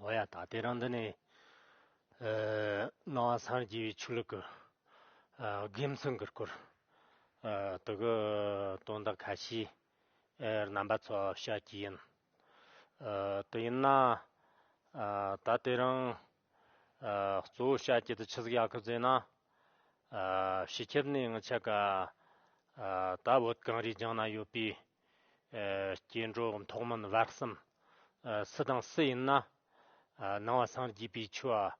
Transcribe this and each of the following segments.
ཨོ་ཡ་ད་ལྟའི་རང་འདི་ནས་སྣང་བ་སངས་རྒྱས་པའི་ཆོས་ལུགས་ཀྱི་དགེ་མཚན་གྱི་སྐོར་དུ་གུ་དོན་དག་ཁ་ཤས་རྣམ་པ་ཚོ་བཤད་ཀྱི་ཡིན། དེ་ཡིན་ན་ད་ལྟའི་རང་གཙོ་བོ་བཤད་ཀྱི་དུ་ཆི་ཟིག་ཡ་ཁུ་ཟེ་ན་ཤི་ཁྱེར་ནས་ངི་ཆ་ག་ད་བོད་གངས་རིའི་ལྗང་ན་ཡོད་པའི་སྐྱེ་འགྲོ་ཐོག་མིན་བར་གསུམ། སུ་དང་སུ་ཡིན་ན། སྣང་བ་སངས་རྒྱས་པའི་ཆོས།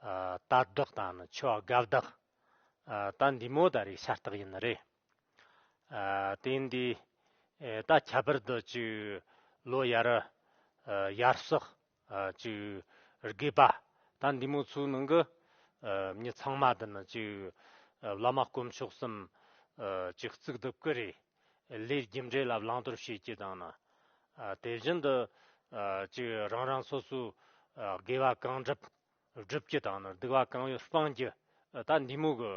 ལྟ་བདག་དང་ནི་ཆོས་དགའ་བདག། ལྟ་འདི་མོ་ད་རེས་ཤ་སྟག་ཡིན་ནི་རེད། དེ་འདི་ད་ཁྱད་པར་དུ་བཅུ། ལོ་ཡར་ཡར་སོགས། ཅིག་དགོས་པ། ད་འདི་མོ་ཚོའི་ནང་གི་མྱི་ཚང་མ་འདི་ནི་ཅིག་བླ་མ་དཀོན་མཆོག་གསུམ་ཅིག་གཙུག་ཏུ་བཀུར་རེས་ལས་རྒྱུ་འབྲས་ལ་བླང་དོར་བྱེད་ཀྱི་དང་ན། དེ་བཞིན་དུ་ཅིག་རང་རང་སོ་སོའི་དགེ་བ་གང་བསྒྲུབ་བསྒྲུབ་ཀྱི་དང་ན་སྡིག་བ་གང་ཡོད་སྤང་རྒྱུ་ད་འདི་མོ་གི་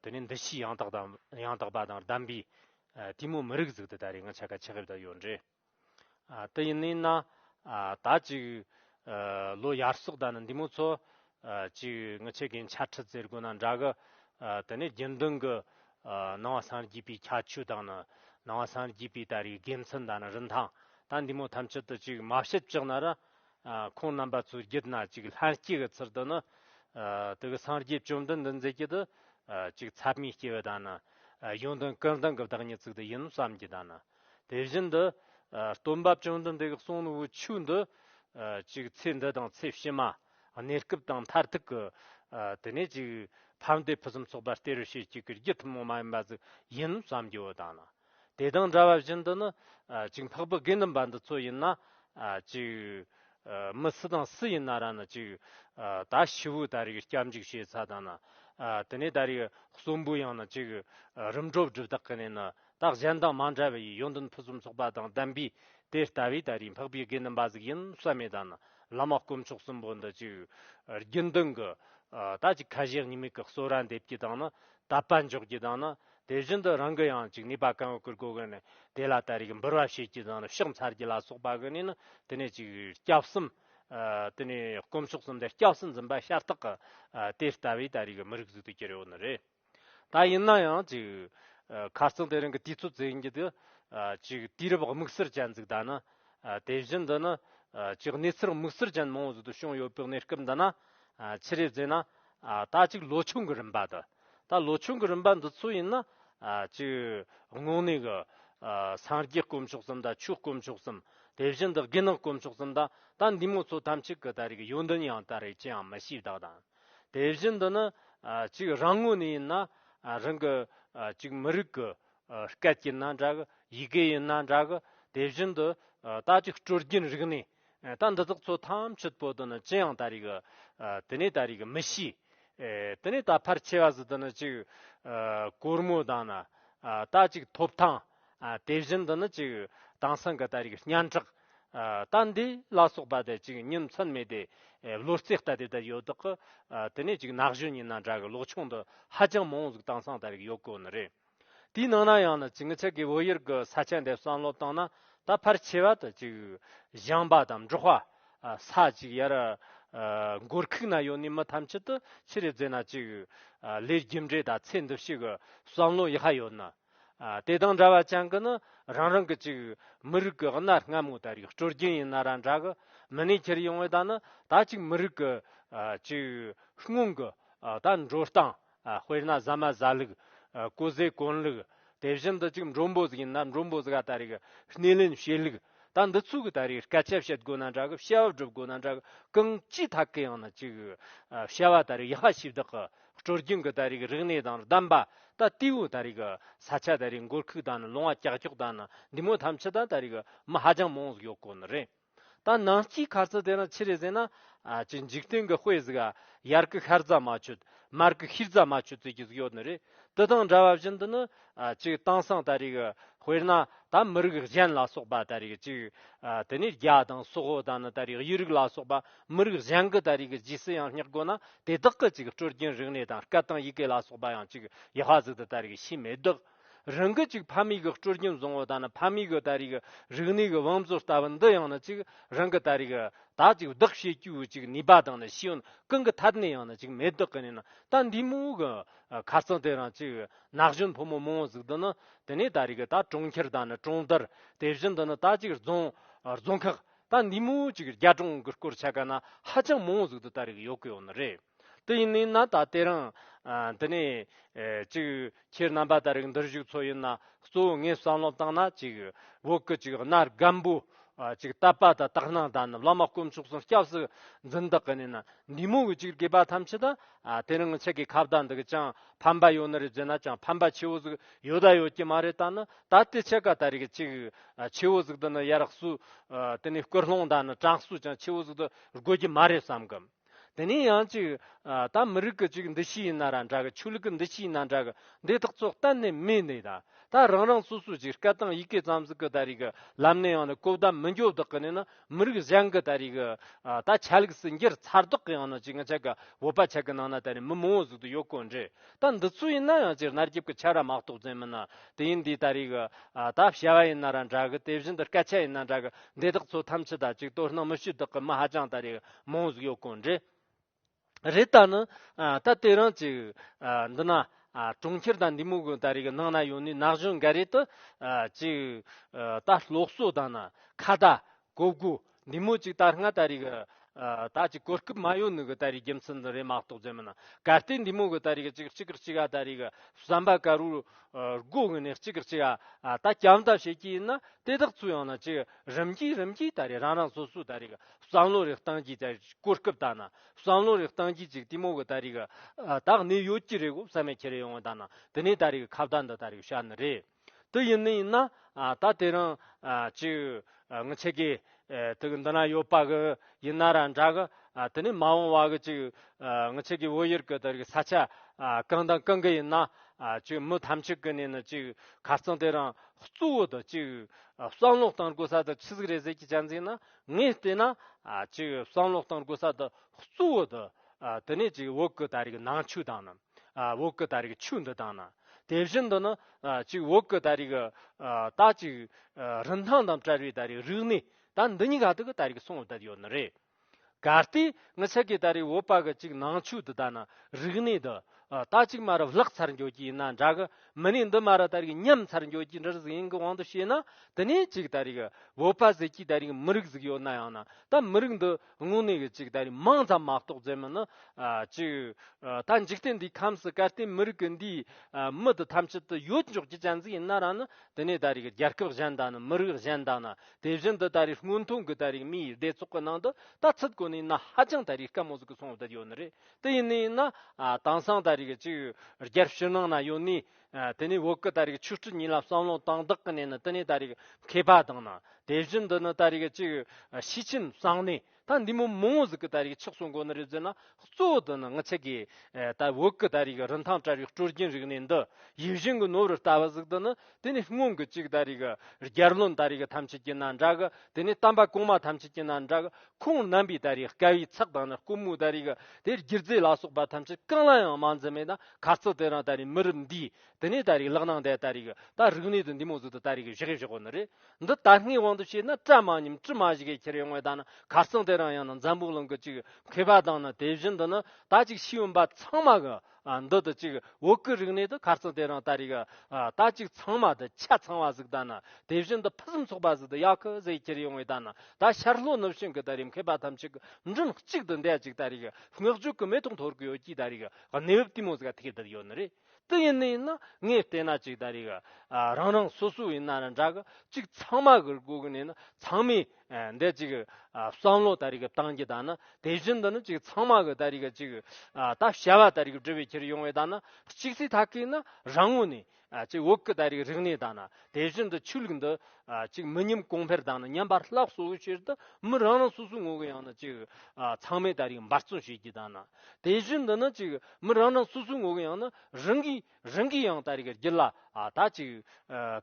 དེ་ནས་འདི་ཕྱིའི་ཡང་དག་དང་ཡང་དག་པ་དང་གདམས་པའི་དེ་མོ་མི་རིགས་གཟུགས་དེ་ད་རེས་ང་ཆ་ག་ཆགས་ཡོད་ད་ཡོད་འདྲེ། དེ་ཡིན་ན་ད་ཅིག་ལོ་ཡར་སོགས་ད་ནི་འདི་མོ་ཚོ་ཅིག་ངི་ཆེ་གེ་འཆལ་ཁྲི་ཟེར་དགོས་ན་འདྲ་གི་དེ་ནི་རྒྱུན་ལྡན་གི་ནང་བ་སངས་རྒྱས་པའི་ཁྱད་ཆོས་དང་ནི་ནང་བ་སངས་རྒྱས་པའི་ད་རེའི་དགེ་མཚན་ད་ནི་རིན་ཐང་ད་འདི་མོ་ཐམས་ཅད་དུ་ཅིག་མ་ཤེས་ཅིག་ན་ར་ཁོང་རྣམ་པ་ཚོའི་རྒྱུད་ན་ཅིག་ལྷན་སྐྱེས་ཀྱི་ཚུལ་དུ་ནི་དེ་གི་སངས་རྒྱས་བཅོམ་ལྡན་འདས་མཛད་རྒྱུད་དུ་ཅིག་ཚད་མའི་སྐྱེ་བོ་ད་ནི་ཡོན་ཏན་ཀུན་ལྡན་གྱི་བདག་ཉིད་ཚིག་དེ་ཡིན་ནོ་བསམ་གྱི་ད་ནི་དེ་བཞིན་དུ། སྟོན་པ་བཅོམ་ལྡན་འདས་ཀྱི་གསུང་ནི་འུ་ཆོས་འདི། ཅིག་ཚེ་འདི་དང་ཚེ་ཕྱི་མ། གནས་སྐབས་དང་མཐར་ཐུག་གི། དེ་ནས་ཅིག། ཕམ་སྟེ་ཕུན་སུམ་ཚོགས་པ་སྟེ་རུ་ཤེལ་གཅིག་གི་རྒྱུ་ཐུན་མོང་མ་ཡིན་པ་ཟིག་ཡིན་ནོ་བསམ་གྱི་འོ་ད་ནི། དེ་དང་འདྲ་བ་བཞིན་དུ་ནི། ཅིག་འཕགས་པའི་དགེ་འདུན་པ་འདི་ཚོ་ཡིན་ན། ཅིག། མི་སུ་དང་སུ་ཡིན་ན་ར་ནི་ཅིག། ད་ཤི་བོའི་ད་རེས་ཀྱི་སྐྱབས་འཇུག་བྱེད་ས་དང་ནི། དེ་ནས་ད་རེས་ཀྱི་གསོན་པོའི་ཡང་ནི་ཅིག། རིམ་གྲོ་བསྒྲུབ་དག་གི་ནས་ནི་རྟགས་གཞན་དང་མ་འདྲ་བའི་ཡོན་ཏན་ཕུན་སུམ་ཚོགས་པ་དང་ལྡན་པས་དེ་ལྟ་བས་ད་རེས་འཕགས་པའི་དགེ་འདུན་པ་གཟུགས་ཡིན་བསམ་མེད་ད་ནི་བླ་མ་དཀོན་མཆོག་གསུམ་པོ་འདི་ཅིག་རྒྱུན་ལྡན་གྱི་ད་ཅིག་ཁ་ཞེ་གཉིས་མེད་ཀྱི་གསོལ་ར་འདེབས་ཀྱི་དང་ནི་དད་པ་འཇོག་ཀྱི་དང་ནི་དེ་བཞིན་དུ་རང་གི་ཡང་ཅིག་ནུས་པ་གང་ཡོད་ཀྱིས་སྒོ་ཀུན་ནས་དེ་ལ་ད་རེས་འབུལ་བ་བྱེད་ཀྱི་དང་ནི་ཕྱག་འཚལ་གྱི་ལ་སོགས་པ་ཀུན་ནས་ནི་དེ་ནས་ཅིག་སྐྱབས་གསུམ་དེ་ནས་དཀོན་མཆོག་གསུམ་འདི་སྐྱབས་སུ་འཛིན་པ་ཤ་སྟག་གི་དེ་ལྟ་བས་ད་རེས་མི་རིགས་གཟུགས་དུ་གྱུར་ཡོད་ནི་རེད། ད་ཡིན་ན་ཡང་ཅིག་ཁ་རྩང་དེ་རིང་གི་དུས་ཚོད་བཙལ་རྒྱུ་དེ་ཅིག་དུས་རབས་དམིགས་བསལ་ཅན་ཟིག་གདའ་ན། དེ་བཞིན་དུ་ནི་ཅིག་གནས་ཚུལ་དམིགས་བསལ་ཅན་མང་བོ་ཟིག་ཏུ་བྱུང་ཡོད་པའི་གནས་སྐབས་འདི་ན། ཕྱི་རེས་བཙལ་ན། ད་ཅིག་ལོ་ཆུང་གི་རིམ་པ་དུ། ད་ལོ་ཆུང་གི་རིམ་པ་འདི་ཚོ་ཡིན་ན། ཅིག་དངོས་གནས་གི། སངས་རྒྱས་དཀོན་མཆོག་གསུམ་དང་ཆོས་དཀོན་མཆོག་གསུམ། དེ་བཞིན་དུ་དགེ་སྣང་དཀོན་མཆོག་གསུམ་དང་ད་འདི་མོ་ཚོ་ཐམས་ཅད་གི་ད་རེས་ཀྱི་ཡོན་ཏན་ཡང་ད་རེས་ཅི་ཡང་མི་ཤེས་བདག་དང། དེ་བཞིན་དུ་ནི་གཅིག་རང་ངོས་ནས་ཡིན་ན་རང་གི་གཅིག་མི་རིགས་ཀྱི་སྐད་ཀྱིས་ན་འདྲ་གི་ཡི་གེ་ཡིན་ན་འདྲ་གི་དེ་བཞིན་དུ་ད་ཅིག་སྤྲོ་སྐྱིད་རིག་ནས་ད་འདི་དག་ཚོ་ཐམས་ཅད་པོ་དེ་ནི་ཅི་ཡང་ད་རེས་ཀྱི་དེ་ནས་ད་རེས་ཀྱི་མི་ཤེས། དེ་ནས་ད་ཕར་ཆེ་བ་སུ་དེ་ནི་གཅིག་གོར་མོ་དང་ན་ད་ཅིག་ཐོབ་ཐང་དེ་བཞིན་དུ་ནི་གཅིག་དེང་སང་གི་ད་རེས་ཀྱི་སྙན་གྲགས་ད་འདི་བླ་སྲོག་པ་དེ་ཅིག་ཉིན་མཚན་མེད་དེ་བློ་རྩེ་ལྟ་དེ་ལྟར་ཡོད་དག་གི་དེ་ནས་ཅིག་ནགས་གཞོན་ཉིན་ན་འདྲ་གི་ལོག་ཆུང་དུ་ཧ་ཅང་མང་བོ་ཟིག་དྭངས་སང་ལྟ་བའི་ཡོད་དགོས་ནི་རེད། དེའི་ནང་ན་ཡང་ནི་ཅིག་ངི་ཚེ་གི་བོད་ཡུལ་གི་ས་ཆ་འདི་བསམ་བློ་བཏང་ན་ད་ཕར་ཆེ་བ་དུ་ཅིག་བཞེངས་པ་དང་འབྲོག་བ་ས་ཅིག་ཡར་འགོར་ཁུག་ན་ཡོད་ནི་མི་ཐམས་ཅད་དུ་ཕྱི་རེ་རྫེ་ན་ཅིག་ལས་རྒྱུ་འབྲས་དང་ཚེ་འདི་ཕྱི་གི་བསམ་བློ་ཡི་ཧ་ཡོད་ནི། དེ་དང་འདྲ་བ་ཅན་གྱི་ནི་རང་རང་གི་ཅིག། མི་རིགས་ཀྱི་གནའ་སྔ་མོ་ལྟར་ཡི་སྤྲོ་རྒྱན་ཡིན་ན་ར་འདྲ་གི། མི་ནས་ཁྱེར་ཡོང་བའི་ད་ནི་ད་ཅིག་མི་རིགས་ཀྱི། ཅིག། སྔོན་གྱི། ད་འགྲོ་སྟངས། དཔེར་ན་ཟ་མ་ཟ་ལུགས། བཀོལ་ཟས་བཀོལ་ལུགས། དེ་བཞིན་དུ་ཅིག་འགྲོ་འབོ་ཟིག་ཡིན་ན་འགྲོ་འབོ་ཟིག་ད་རེས་ཀྱི་སྣེ་ལེན་བྱེད་ལུགས། ད་འདི་ཚོ་གི་ད་རེས་སྐད་ཆ་བཤད་དགོས་ན་འདྲ་གི་བཤད་བ་སྒྲུབ་དགོས་ན་འདྲ་གི་གང་ཅིའི་ཐད་ཀྱི་ཡང་ན་ཅིག། བཤད་བ་ད་རེས་ཡག་ཤ་ཤི་བདག་གི་སྤྲོ་རྒྱུན་གྱི་ད་རེས་རིག་གནས་དང་གདམས་པ་ད་ལྟའི་བོད་ད་རེས་ས་ཆ་ད་རེས་འགོར་ཁུག་དང་ལུང་བ་ཀྱག་ཀྱོག་དང་འདི་མོ་ཐམས་ཅད་དང་ད་རེས་མི་ཧ་ཅང་མང་ཡོད་སྐོར་ནི་རེད། ད་ནང་སྐྱིད་ཁ་རྩི་དེ་རང་ཕྱི་རེ་ཟེར་ན། ཀྱི་འཇིག་རྟེན་གྱི་དཔེ་ཟིག་ཨ་ཡར་གྱི་ཤར་རྫ་མ་ཆུ་མར་གྱི་ཤིར་རྫ་མ་ཆུ་ཙིག་གི་ཟིག་ཡོད་ནི་རེད། དེ་དང་འདྲ་བ་བཞིན་དུ་ནི་ཅིག་དེང་སང་ད་རེས་ཀྱི་དཔེར་ན་ད་མི་རིགས་གཞན་ལ་སོགས་པ་ད་རེས་ཀྱི་ཅིག་དེ་ནས་རྒྱ་དང་སོག་ཧོ་དང་ནི་ད་རེས་དབྱི་རིགས་ལ་སོགས་པ་མི་རིགས་གཞན་གྱི་ད་རེས་ཀྱི་རྗེས་སུ་ཡང་བསྙེགས་དགོས་ན་དེ་དག་གི་ཅིག་སྤྲོ་སྐྱེན་རིག་གནས་དང་སྐད་དང་ཡི་གེ་ལ་སོགས་པ་ཡང་ཅིག་ཡེ་ཤ་ཟིག་ཏུ་ད་རེས་ཀྱི་ཤེས་མེད་དག་རང་གི་ཅིག་ཕ་མེས་ཀྱི་སྤྲོ་སྐྱེན་བཟང་བོ་དང་ནི་ཕ་མེས་ཀྱི་ད་རེས་ཀྱི་རིག་གནས་ཀྱི་བང་མཛོད་ལྟ་བུ་འདི་ཡང་ནི་ཅིག་རང་གི་ད་རེས་ཀྱི་ད་ཅིག་བདག་བྱེད་རྒྱུའི་ཅིག་ནུས་པ་དང་ནི་ཤེས་ཡོན་གང་གི་ཐད་ནས་ཡང་ནི་ཅིག་མེད་དག་གི་ནས་ན་ད་འདིའི་མོའུ་གི་ཁ་རྩང་དེ་རང་ཅིག་ན་གཞོན་ཕོ་མོ་མང་བོ་གཟིགས་དོན་ནི་དེ་ནས་ད་རེས་ད་གྲོང་ཁྱེར་ད་ནི་གྲོང་རྡལ་དེ་བཞིན་དུ་ནི་ད་ཅིག་རྫོང་རྫོང་ཁག་ད་འདི་མོ་ཅིག་རྒྱ་གྲོང་གི་སྐོར་ཆ་ག་ན་ཧ་ཅང་མང་བོ་གཟིགས་དུ་ད་རེས་ཡོད་གི་ཡོད་ནི་རེད་དེ་ཡིན་ནའི་ན་ད་དེ་རིང་དེ་ནས་ཅིག་ཁྱེད་རྣམ་པ་ད་རེས་འདིར་བཞུགས་ཚོ་ཡིན་ན་གཙོ་བོ་ངས་བསམ་བློ་བཏང་ན་ཅིག་བོད་ཀྱི་ཅིག་གནའ་སྒམ་པོ་ཅིག་ད་པ་ད་དག་སྣང་ད་ནི་བླ་མ་དཀོན་མཆོག་སངས་སྐྱབས་སུ་འཛིན་དག་གི་ནས་ན་འདི་མོ་གི་ཅིག་དགོས་པ་ཐམས་ཅད་ད་དེ་རིང་ཁྱེད་ཀྱི་ཁ་བརྡ་འདི་གི་ཅང་ཕན་པ་ཡོད་ནི་རེད་བརྗོད་ན་ཅང་ཕན་པ་ཆེ་བོ་ཟིག་ཡོད་ད་ཡོད་ཀྱི་མ་རེད་ད་ནི་ད་ལྟའི་ཁྱེད་ཀ་ད་རེ་གི་ཅིག་ཆེ་བོ་ཟིག་འདི་ནི་ཡར་བསུ་དེ་ནས་སྐུལ་སློང་ད་ནི་དྲག་བསུ་ཅང་ཆེ་བོ་ཟིག་ཏུ་དགོས་ཀྱི་མ་རེད་བསམ་གི། དེ་ནས་ཡང་ཅིག་ད་མི་རིགས་གི་ཅིག་འདི་ཤི་ཡིན་ན་ར་འདྲ་གི་ཆོས་ལུགས་གི་འདི་ཤི་ཡིན་ན་འདྲ་གི་འདི་དག་ཚོ་གཏན་ནས་མེད་ནི་ད་ད་རང་རང་སོ་སོ་ཅིག་སྐད་དང་ཡི་གེ་ཙམ་ཟིག་གི་ད་རེ་གི་ལམ་ནས་ཡང་ནི་གོ་བརྡ་མི་འཇོག་བདག་གི་ནི་ནི་མི་རིགས་གཞན་གྱི་ད་རེས་ཀྱི་ཆ་ལུགས་སུ་འགྱུར་ཚར་དོགས་ཀྱི་ཡང་ན་ཅིག་ང་ཅག་གི་བོད་པ་ཆགས་ཀྱི་ནང་ན་ད་རེས་མི་མང་བོ་ཟུག་ཏུ་ཡོད་དགོས་འདྲི། ད་འདི་ཚོ་ཡིན་ན་ཡང་སྤྱིར་གནར་རྒྱབ་ཀྱི་ཆ་ར་མ་གཏོགས་ཅན་མིན་ན་དེ་ཡིན་དུས་ད་རེས་ཀྱི་ད་བྱ་བ་ཡིན་ན་ར་འདྲ་གི་དེ་བཞིན་དུ་སྐད་ཆ་ཡིན་ན་འདྲ་གི་འདི་དག་ཚོ་ཐམས་ཅད་ད་ཅིག་དོ་སྣང་མི་བྱེད་དོགས་ཀྱི་མི་ཧ་ཅང་ད་རེས་མང་བོ་ཟུག་ཡོད་དགོས་འདྲི། རེད་ད་ནི་ད་དེ་རང་ཅིག་འདི་ན་གྲོང་ཁྱེར་དང་འདི་མོ་གོ་ད་རིག་ནང་ན་ཡོང་ནས་ནག་གཞོན་འགའ་རེ་དུ་ཅིག་ད་སློག་གསོ་དང་ན་ཁ་བརྡ་གོ་དགོ་འདི་མོ་ཅིག་ད་སྔ་ད་རིག་ད་ཅིག་གོ་སྐབས་མ་ཡོ་ནི་གོ་ད་རིག་རྒྱུ་མཚན་འདི་རེ་མ་གཏོགས་རྫས་མིན་ན་ག་ལྟེ་འདི་མོ་གོ་ད་རིག་ཅིག་གཅིག་གིར་གཅིག་ག་ད་རིག་བསམ་པ་ག་རུ་རྒོ་གི་ནས་གཅིག་གིར་གཅིག་ག་ད་སྐྱམ་ཐབས་བྱེད་ཀྱི་ཡིན་ན་དེ་དག་ཚུ་ཡང་ན་ཅིག་རིམ་གྱིས་རིམ་གྱིས་ད་རིག་རང་རང་སོ་སོ་ད་རིག་བསམ་བློ་རེ་བཏང་གྱིས་ཀྱང་གོ་སྐབས་དག་ན་བསམ་བློ་རེ་བཏང་གྱིས་ཅིག་གཏི་མུག་གི་ད་རིག་གི་དག་ནི་ཡོད་ཀྱི་རེད་གོ་བསམ་མེད་ཁྱེད་རེ་ཡོང་བ་དག་ན་དེ་ནས་ད་རིག་གི་ཁ་བརྡ་འདི་ད་རིག་བྱ་ནི་རེད་དེ་ཡིན་ནི་ཡིན་ན་ད་དེ་རིང་ཅིག་ངི་ཆེ་གི་དུག་འདི་ན་ཡོད་པ་གི་ཡིན་ན་ར་འདྲ་གི་དེ་ནས་མ་འོང་བ་གི་ཅིག་ངི་ཆེ་གི་བོད་ཡུལ་གི་ད་རིག་ས་ཆ་གང་དང་གང་གི་ཡིན་ན་ཅིག་མི་ཐམས་ཅད་གི་ནས་ནི་ཅིག་ཁ་རྩང་དེ་རིང་གཙོ་བོ་དང་ཅིག་བསམ་བློ་བཏང་དགོས་ས་དང་ཆི་ཟིག་རེ་ཟེར་གྱིས་ཀྱང་འཛིན་ན་ངས་བལྟས་ན། ཅིག་བསམ་བློ་གཏང་དགོས་ས་དེ་གཙོ་བོ་དེ་དེ་ནས་ཅིག་འོག་གི་ད་རེས་ཀྱི་ནང་ཆོས་དང་ནི། འོག་གི་ད་རེས་ཀྱི་ཆོས་འདི་དང་ནི། དེ་བཞིན་དུ་ནི། ཅིག་འོག་གི་ད་རེས་ཀྱི། ད་ཅིག། རིན་ཐང་དང་བྲལ་བའི་ད་རེས་རིག་གནས། ད་འདི་གཉིས་ག་དུས་ཀྱི་ད་རེས་ཀྱི་གསུང་བསྡད་ཡོད་ནི་རེད། གལ་ཏེ། ངས་ཆེ་གེ་ད་རེས་འོག་པ་གི་ཅིག་ནང་ཆོས་འདི་དང་ནི་རིག་གནས་འདི། ད་ཅིག་མ་རུ་བརླག་ཚར་འགྱོ་གྱི་ཡིན་ན་འདྲ་གི་མི་ནས་འདི་མ་རུ་ད་རིག་ཉམས་ཚར་འགྱོ་གྱི་འདྲར་གཟིགས་ཡིན་གི་དབང་དུ་བྱས་ན་དེ་ནས་ཅིག་ད་རིག་བོད་པ་ཟེར་གྱི་ད་རིག་མི་རིགས་གཟིགས་ཡོད་ན་ཡང་ན་ད་མི་རིགས་འདི་དངོས་གནས་གི་ཅིག་ད་རིག་མང་ཙམ་མ་གཏོགས་རྫས་མི་ནི་ཅིག་ད་འཇིག་རྟེན་འདིའི་ཁམས་སུ་གལ་ཏེ་མི་རིགས་གི་འདིའི་མི་འདི་ཐམས་ཅད་དུ་ཡོད་འཇོག་གྱི་གྱན་ཟིག་ཡིན་ན་རང་ནི་དེ་ནས་ད་རིག་རྒྱལ་ཁབ་གཞན་དང་ནི་མི་རིགས་གཞན་དང་ནི་དེ་བཞིན་དུ་ད་རིག་སྔོན་ཐོན་གི་ད་རིག་མིའི་སྡེ་ཚོགས་གི་ནང་དུ་ད་ཚུད་གོ་ནས་ན་ཧ་ཅང་ད་རིག་དཀའ་མོ་ཟིག་གི་སོང་བསྡད་ཡོད་ནི་རེད་དེ་ཡིན་ནའི་ན་དྭངས་སང་ད་རིག་ཅིག་རྒྱར་ཕྱི་ནང་ན་ཡོད་ནའི། དེ་ནས་འོག་གི་ད་རིག་ཆུ་སྤྲུལ་ཉིད་ལ་བསམ་ལོང་དང་བདག་གི་གནས་ནི་དེ་ནས་ད་རིག་མཁས་པ་དང་ན་དེ་བཞིན་དུ་ནི་ད་རིག་ཅིག་ཕྱི་ཁྱིམ་སང་ནས་ད་འདི་མོ་མོ་ངོ་ཟིག་གི་ད་རིག་ཆགས་སུ་འགོ་ནི་རེ་ཟིན་ན་གཙོ་བོ་དུ་ནི་ངི་ཆི་གའི་ད་འོག་གི་ད་རིག་རིན་ཐང་བྲལ་བའི་སྤྲུལ་རྒྱུན་རིག་ནས་འདི་ཡིད་བཞིན་གྱི་ནོར་བུར་ལྟ་བ་ཟིག་དུ་ནི་དེ་ནི་སྔོན་གྱི་གཅིག་ཟླ་རིག། རྒྱལ་བློན་ཟླ་རིག་ཐམས་ཅད་ཀྱི་ན་འདྲ་གི། དེ་ནི་གཏམ་པ་གོང་མ་ཐམས་ཅད་ཀྱི་ན་འདྲ་གི། ཁོང་རྣམ་པའི་ཟླ་རིག་དཀའ་བའི་ཚགས་དང་ནི་ཀུ་མུ་ད་རིག། དེ་སྒྱུ་རྩལ་ལ་སོགས་པ་ཐམས་ཅད་གང་ལ་ཡང་མ་འཛིན་པས་ན་ག་ཚོད་དེ་རང་ད་རིག་མི་རབས་འདིའི། དེ་ནི་ད་རིག་ལག་ན་འདས་ད་རིག་གི། ད་རིག་ནད་དུ་འདི་མོ་ཟུག་ཏུ་ད་རིག་གི་བཞི་གའི་བཞི་གོ་ནི་རེ། འདི་ད་སྔའི་དབང་དུ་བྱས་ན་བཀྲ་མ་ཉིམ་དྲི་མ་བཞི་གའི་ཁྱེར་བའི་དངོས་དང་ནི་ག་ཚོད་དེ་རང་ཡང་ན་འཛམ་བུའི་གླིང་གི་གཅིག་མཁས་པ་དང་ནི་དེ་བཞིན་དུ་ནི་ད་ཅིག་ཤེས་ཡོན་པ་ཚང་མ་གི། འདི་དང་གཅིག་འོག་གི་རིག་གནས་དང་ཁར་ཚང་དེ་རང་ལྟ་རིག། རྟ་གཅིག་ཚང་མ་དང་ཆ་ཚང་བ་ཟིག་ལྟ་ན་དེ་བཞིན་དུ་ཕུན་སུམ་ཚོགས་པ་ཟིག་དང་གཡག་ཁུ་ཟིག་ཁྱེར་ཡོང་བའི་ལྟ་ན་ད་ཤར་ལྷོ་ནུབ་བྱང་གི་ལྟ་རིག་མཁས་པ་ཐམས་ཅད་ཀྱི་མགྲིན་གཅིག་ཏུ་འདེད་ཅིག་ལྟ་རིག་སྔགས་རྒྱུད་ཀྱི་མེ་ཏོག་འཐོར་གི་ཡོད་ཀྱིས་ལྟ་རིག་གནས་བབ་ལྟུས་མོ་ཟིག་ཐིག་གདབ་ཡོད་ནི་རེད་དེ་ཡིན་ནི་ཡིན་ན་ངས་བལྟས་ན་ཅིག་ལྟ་རིག་རང་རང་སོ་སོའི་ཡིན་ན་ར་འདྲ་གི་ཅིག་ཚང་མ་གིར་གོ་གི་ནི་ཡིན་ཚང་མས། འདས་གཅིག་གི་བསམ་བློ་ལྟར་རིགས་བཏང་གི་དང་ན་དེ་བཞིན་དུ་ནི་གཅིག་ཚང་མ་གི་ལྟར་རིགས་གཅིག་ད་བྱ་བ་ལྟར་རིགས་འབྲི་བའི་ཁྱེར་ཡོང་བའི་དང་ན་གཅིག་ཚིག་ཐག་གིས་ན་རང་ངོ་ནས་གཅིག་འོག་གི་ལྟར་རིགས་རིག་གནས་དང་ན་དེ་བཞིན་དུ་ཆོས་ལུགས་འདི་གཅིག་མི་ཉམས་གོང་འཕེལ་དང་ན་ཉམས་པར་བརླག་སོ་བའི་ཕྱིར་དུ་མི་རང་རང་སོ་སོའི་ངོ་བོ་ཡང་ན་གཅིག་ཚང་མའི་ལྟར་རིགས་འབར་བརྩོན་བྱེད་ཀྱི་དང་ན་དེ་བཞིན་དུ་ནི་གཅིག་མི་རང་རང་སོ་སོའི་ངོ་བོ་ཡང་ན་རང་གིས་རང་གིས་ཡང་ད་རེ་གར་གྱི་ལ་ད་ཅིག་